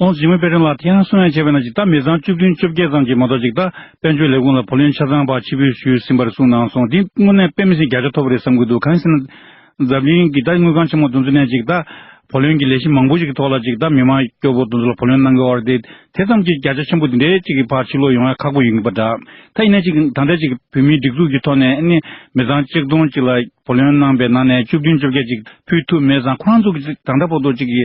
ཁོང་ཇི་མི་དཔལ་ཁྲིམས་ལ་དེ་ཡང་གསུང་ཡང་བྱས་པས་ན་ཇི་ལྟར་མི་ཚང་བཅུ་བདུན་བཅོ་བརྒྱད་ཙམ་གྱིས་མ་གཏོགས་ཅིག་ལྟ་དཔལ་འབྱོར་ལས་ཁུངས་ལ་བུ་ལོན་ཆ་ཚང་བག་ཕྱི་འབུལ་ཞུས་ཟིན་པར་གསུངས་གནང་སོང་འདི་དངོས་གནས་དཔེ་མི་སྲིད་བརྒྱ་ཆ་ཐོབ་པ་རེད་བསམ་གྱི་འདུག་གང་ཞེ་ན། འཛམ་གླིང་གི་ད་དངུལ་ཁང་ཆེན་མོ་འདུ་འཛི་ནས་ཅིག་ལྟ་བུ་ལོན་གྱི་ལས་གཞི་མང་པོ་ཞིག་གི་ཐོག་ལ་ཅིག་ལྟ་མི་དམངས་སྐྱོ་པོ་འདུ་འཛི་ལ་བུ་ལོན་གནང་གི་འོག་དེ་དེ་ཙམ་གྱིས་བརྒྱ་ཆ་ཆེན་པོ་འདི་འདྲའི་ཅིག་གི་བག་ཕྱི་ལོག་ཡོང་ཡ་ཁག་པོ་ཡིན་གྱི་པ་འདྲ། ད་ཡིན་ན་ཅིག་ད་ལྟ་ཅིག་བོད་མིའི་སྒྲིག་འཛུགས་ཀྱི་ཐོག་ནས་ནི་མི་ཚང་གཅིག་སྟོང་ཅིག་ལ་བུ་ལོན་གནང་པའི་ནང་ནས་བཅུ་བདུན་བཅོ་བརྒྱད་ཅིག་ཕུལ་ཐུབ་མེད་ཙང་ཁོ་རང་ཚོ་གི་ད་ལྟ་བོ་ཏོ་ཅིག་གི་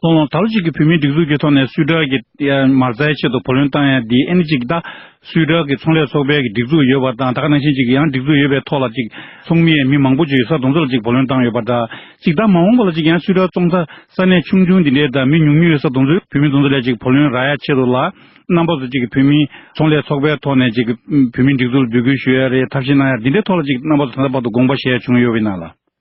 ལྷོང་ལོང་ད་ལོ་གཅིག་གི་བོད་མིའི་སྒྲིག་འཛུགས་ཀྱི་ཐོག་ནས་སུའུ་ཀྲག་གི་མར་རྩའི་ཆེད་དུ་བུ་ལོན་བཏང་ཡང་དེའི་ཨེ་ནི་གཅིག་ད་སུའུ་ཀྲག་གི་ཚོང་ལས་ཚོགས་པའི་གི་སྒྲིག་འཛུགས་ཡོད་པ་དང་ད་ག་ནང་བཞིན་གཅིག་ཡང་སྒྲིག་འཛུགས་ཡོད་པའི་ཐོག་ལ་གཅིག་ཚོགས་མིའི་མི་མང་པོ་ཆུ་ཡི་ས་དུང་ཚོ་ལ་གཅིག་བུ་ལོན་བཏང་ཡོད་པ་འདྲ་གཅིག་ད་མ་འོངས་པ་ལ་གཅིག་ཡང་སུའུ་ཀྲག་ཙོང་ཚ་ས་གནས་ཆུང་ཆུང་འདི་འདྲའི་ད་མི་ཉུང་ཉུང་ཡོད་ས་དུང་ཚོའི་བུད་མེད་དུང་ཚོ་ལས་གཅིག་བུ་ལོན་རག་ཡ་ཆེད་དུ་ལ་རྣམ་པ་སུ་གཅིག་གི་བོད་མིའི་ཚོང་ལས་ཚོགས་པའི་ཐོག་ནས་གཅིག་གི་བོད་མིའི་སྒྲིག་འཛུགས་ལ་འབོད་སྐུལ་ཞུ་ཡ་རེ་ཐབས་ཤེས་གནང་ཡ་འདི་འདྲའི་ཐོག་ལ་གཅིག་རྣམ་པ་སུ་ད་ལྟ་བར་དུ་དགོངས་པ་བཞེས་བྱུང་ཡོད་པའི་ནང་ལ།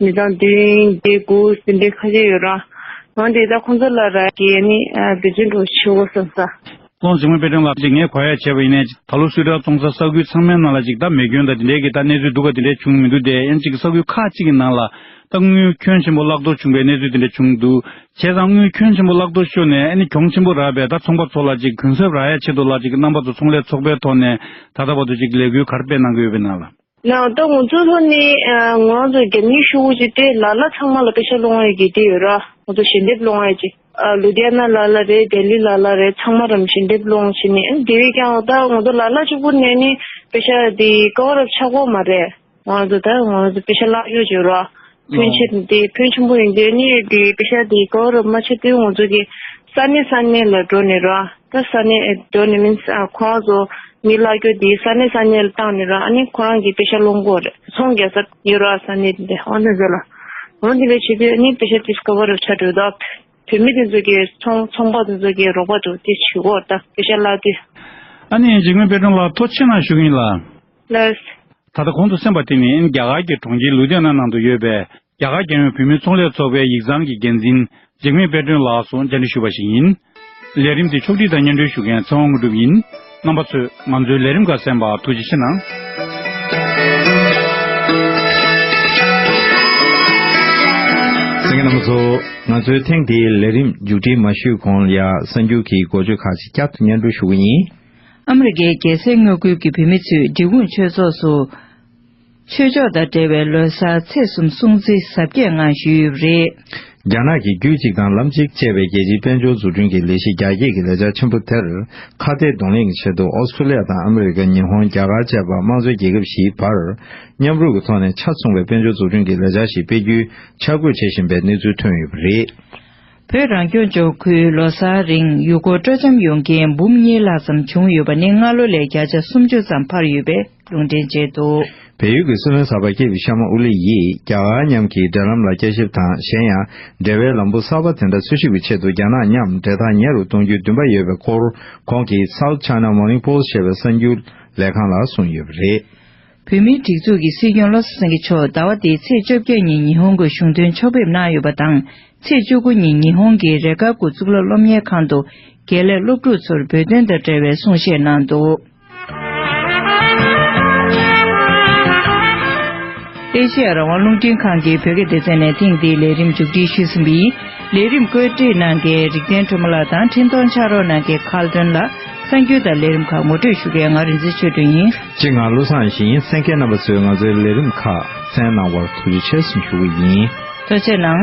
མི་དང་དུས་ཡུན་བརྒྱད་དགུ་ཟིན་པའི་ཁ་ཤས་ཡོད་རུང། ང་དེ་དག་ཁོང་ཚོ་ལ་ར་གས་ནས་བེད་སྤྱོད་འགྲོ་གི་ཆེའོ་བསམ་ས། ཀོང་ཟི་ངོས་དཔེ་སྟོན་ལ་གཅིག་ངས་གོ་ཡ་བྱས་པ་ཡིན་ནས། ད་ལོ་སུས་དྲ་བཙོང་ས་ས་ཁུལ་ཚང་མའི་ནང་ལ་ཅིག་ད་མེ་སྐྱོན་དང་དེ་འདྲའི་གི་ད་གནས་ཚུལ་འདུག་ག་དེ་འདྲའི་བྱུང་མི་འདུག་དེ་ཡན་ཅིག་གི་ས་ཁུལ་ཁག་ཅིག་གི་ནང་ལ། ད་དངུལ་ཁྱོན་ཆེན་པོ་བརླག་གཏོར་བྱུང་པའི་གནས་ཚུལ་དེ་འདྲ་བྱུང་འདུག་བྱས་ཙང་དངུལ་ཁྱོན་ཆེན་པོ་བརླག་གཏོར་ཤོར་ནས་ཨ་ནི་གྱོང་ཆེན་པོ་རག་པས་ད་ཚོང་པ་ཚོ་ལ་ཅིག་གུན་གསབ་རག་ཡ་ཆེད་དུ་ལ་ཅིག་གི་རྣམ་པ་ཚོ་ཚོང་ལས་ཚོགས་པའི་ཐོག་ནས་ད་ལྟ་བར་དུ་ཅིག་ལས་འགུལ་གར་སྤེལ་གནང་གི་ཡོད་པའི་ནང་ལ། ནང་ད་ངོ་ཚོ་ལྷོ་ནི་ང་ཚོ་རྒྱ་མིའི་ཤོག་བུ་ཅིག་སྟེ་ལ་ལ་ཚང་མ་ལ་དཔེ་ཆ་སློང་ཡོད་ཀྱི་དེ་ཡོད་ར་ངོ་ཚོ་ཞལ་འདེབས་སློང་ཡོད་ཅིག་ལུ་དྷི་ཡ་ན་ལ་ལ་རེད་རྡལ་ལི་ལ་ལ་རེད་ཚང་མ་རམ་ཞལ་འདེབས་སློང་བྱེད་ནི་ཨེ་དེ་བས་ཀྱང་ད་ངོ་ཚོ་ལ་ལ་ཅིག་པོ་ནས་ནི་དཔེ་ཆ་དེ་ཀ་བ་རབ་ཆགས་པོ་མ་རེད་ང་ཚོ་ད་ངོ་ཚོ་དཔེ་ཆ་བཀླག་ཡོད་ཅིག་ར་ཕོན་ཆེ་དང་དེའི་ཕོན་ཆེན་པོ་ཡིན་དུས་ནི་དེའི་དཔེ་ཆ་དེའི་སྐོར་རོབ་མ་ཆེ་དུས་ངོ་ཚོས་ཀྱི་ས་གནས་ས་གནས་ལ་འགྲོ་ནས་ར་ད་ས་གནས་འགྲོ་ནས་མིན་ཁོ་རང་ཚོ་མི་བླ་རྒྱོ་དེའི་ས་གནས་ས་གནས་ལ་བཏང་ནས་ར་ཨ་ནི་ཁོ་རང་གི་དཔེ་ཆ་སློང་གོ་རེ་ཚོང་རྒྱག་ས་ཡོད་ར་ས་གནས་དེ་འདྲ་འོ་ན་ཟེར་ལ་འོ་དེ་འདྲ་བྱེད་དུས་ཨ་ནི་དཔེ་ཆ་དེས་ཀ་བ་རོབ་ཆ་འགྲོ་ད་བོད་མི་དེ་ཚོ་གི་ཚོང་ཚོང་པ་དེ་ཚོ་གི་རོགས་པ་འགྲོ་དེ་བྱེད་གོ་ར་ད་དཔེ་ཆ་བླ་དེ། ཨ་ནི་འཇིགས་མེད་དཔལ་སྒྲོན་ལགས་ཐོ་ཆེ་ན་བཞུགས་ཡིན་ལ། ལས། ད་ལྟ་གོང་དུ་སེམས་པ་དེ་ནི་རྒྱ་གར་གྱི་གྲོང་ཁྱེར་ལུ་དྷི་ཡཱ་ན་ནང་དུ་ཡོད་པའི་རྒྱ་གར་རྒྱལ་ཡོངས་བུད་མེད་ཚོང་ལས་ཚོགས་པའི་ཡིག་ཚང་གི་འགན་འཛིན་འཇིགས་མེད་དཔལ་སྒྲོན་ལགས་སུ་མཇལ་འཕྲད་ཞུས་པ་ཞིག་ཡིན། ལས་རིམ་དེ་ཕྱོགས་སྒྲིག་དང་སྙན་སྒྲོན་ཞུ་མཁན་ཚེ་དབང་དངོས་གྲུབ་ཡིན། རྣམ་པ་ཚོས་ང་ཚོའི་ལས་རིམ་འགའ་གསན་པར་ཐུགས་རྗེ་ཆེ་གནང། སེང་གེ་རྣམ་པ་ཚོ། ང་ཚོའི་ཐེངས་འདིའི་ལས་རིམ་མཇུག་སྒྲིལ་མ་ཞུས་གོང་ལ་སེམས་འགྱུར་གྱི་འགོ་བརྗོད་ཁག་ཅིག་བསྐྱར་དུ་སྙན་སྒྲོན་ཞུ་གི་ཡིན། ཨ་མི་རི་ཀའི་རྒྱལ་སའི་དངོས་ཁུལ་གྱི་བུད་མེད་ཚོས་འབྲི་གུང་ཆོས་ཚོགས་སུ། ཆོས་ཕྱོགས་དང་འབྲེལ་བའི་ལོ་སར་ཚེས་གསུམ་སྲུང་བརྩི་གཟབ་རྒྱས་ངང་ཞུས་ཡོད་པ་རེད། རྒྱ་ནག་གིས་རྒྱུད་གཅིག་དང་ལམ་གཅིག་ཅེས་པའི་རྒྱལ་སྤྱིའི་དཔལ་འབྱོར་འཛུགས་སྐྲུན་གྱི་ལས་གཞི་རྒྱ་སྐྱེད་ཀྱི་ལེགས་ཆ་ཆེན་པོ་དེར་ཁ་གཏད་གདོང་ལེན་གྱི་ཆེད་དུ་ཨོ་སི་ཁྲུ་ལི་ཡ་དང་ཨ་མི་རི་ཀ་ཉི་ཧོང་རྒྱ་གར་བཅས་པ་དམངས་གཙོའི་རྒྱལ་ཁབ་བཞིའི་བར་མཉམ་རུབ་ཀྱི་ཐོག་ནས་ཆ་མཚུངས་པའི་དཔལ་འབྱོར་འཛུགས་སྐྲུན་གྱི་ལེགས་ཆ་ཞིག་སྤེལ་རྒྱུའི་འཆར་འགོད་བྱེད་བཞིན་པའི་གནས་ཚུལ་ཐོན་ཡོད་པ་རེད། བོད་རང་སྐྱོང་ལྗོངས་ཁུལ་ལོ་སར་རིང་ཡུལ་སྐོར་སྤྲོ་འཆམ་ཡོང་མཁན་འབུམ་གཉིས་ལྷག་ཙམ་བྱུང་ཡོད་པ་ནི་སྔར་ལོ་ལས་བརྒྱ་ཆ་སུམ་ཅུ་ཙམ་འཕར་ཡོད་པའི་ལུང་འདྲེན་བྱས་འདུག། བལ་ཡུལ་གྱི་སྲིད་བློན་གསར་པ་སྐྱེས་བུ་ཤ་མ་ཨུ་ལི་ཡིས་རྒྱ་གར་མཉམ་གྱི་འབྲེལ་ལམ་ལ་དཔྱད་ཞིབ་དང་གཞན་ཡང་འབྲེལ་བའི་ལམ་བུ་གསར་པ་དེ་འདྲ་འཚོལ་ཞིབ་ཀྱི་ཆེད་དུ་རྒྱ་ནག་མཉམ་འབྲེལ་ཐག་ཉེ་རུ་གཏོང་རྒྱུའི་འདུན་པ་ཡོད་པའི་སྐོར་ཁོང་གིས South China Morning Post ཞེས་པའི་གསར་འགྱུར་ལས་ཁང་ལ་གསུངས་ཡོད་པ་རེད། བོད་མིའི་སྒྲིག་འཛུགས་ཀྱི་སྲིད་སྐྱོང་བློ་བཟང་སེང་གེ་མཆོག་ཟླ་བ་འདིའི་ཚེས་བཅོ་བརྒྱད་ཉིན་ཉི་ཧོང་གི་གཞུང་དོན་ཕྱོགས་ཕེབས་གནང་ཡོད་པ་དང་ཚེས་བཅུ་དགུ་ཉིན་ཉི་ཧོང་གི་རེ་ཁཱ་གུ་གཙུག་ལག་སློབ་གཉེར་ཁང་དུ་དགེ་ལས་སློབ་ཕྲུག་ཚོར་བོད་དོན་དང་འབྲེལ་བའི་གསུང་བཤད་གནང་འདུག། ཨེ་ཤེ་ཡ་རང་དབང་རླུང་འཕྲིན་ཁང་གིས་བོད་སྐད་སྡེ་ཚན་ནས་ཐེངས་འདིའི་ལས་རིམ་མཇུག་སྒྲིལ་ཞུས་ཟིན་པའི་ལས་རིམ་བཀོད་སྒྲིག་གནང་མཁན་རིག་ལྡན་སྒྲོལ་མ་ལགས་དང་འཕྲིན་གཏོང་ཕྱག་རོགས་གནང་མཁན་ཁཱལ་སྒྲོན་ལགས་གསར་འགྱུར་དང་ལས་རིམ་ཁག་ངོ་སྤྲོད་ཞུ་མཁན་ང་རིན་ཆེན་ཆོས་སྒྲོན་ཡིན། སྤྱིར་ང་བློ་བཟང་ཞིང་ཡེ་སེང་གེ་རྣམ་པ་ཚོས་ང་ཚོའི་ལས་རིམ་ཁག་བཙན་གནང་བར་ཐུགས་རྗེ་ཆེ་སོང་ཞུ་གི་ཡིན། གཙོ་བྱས་གནང།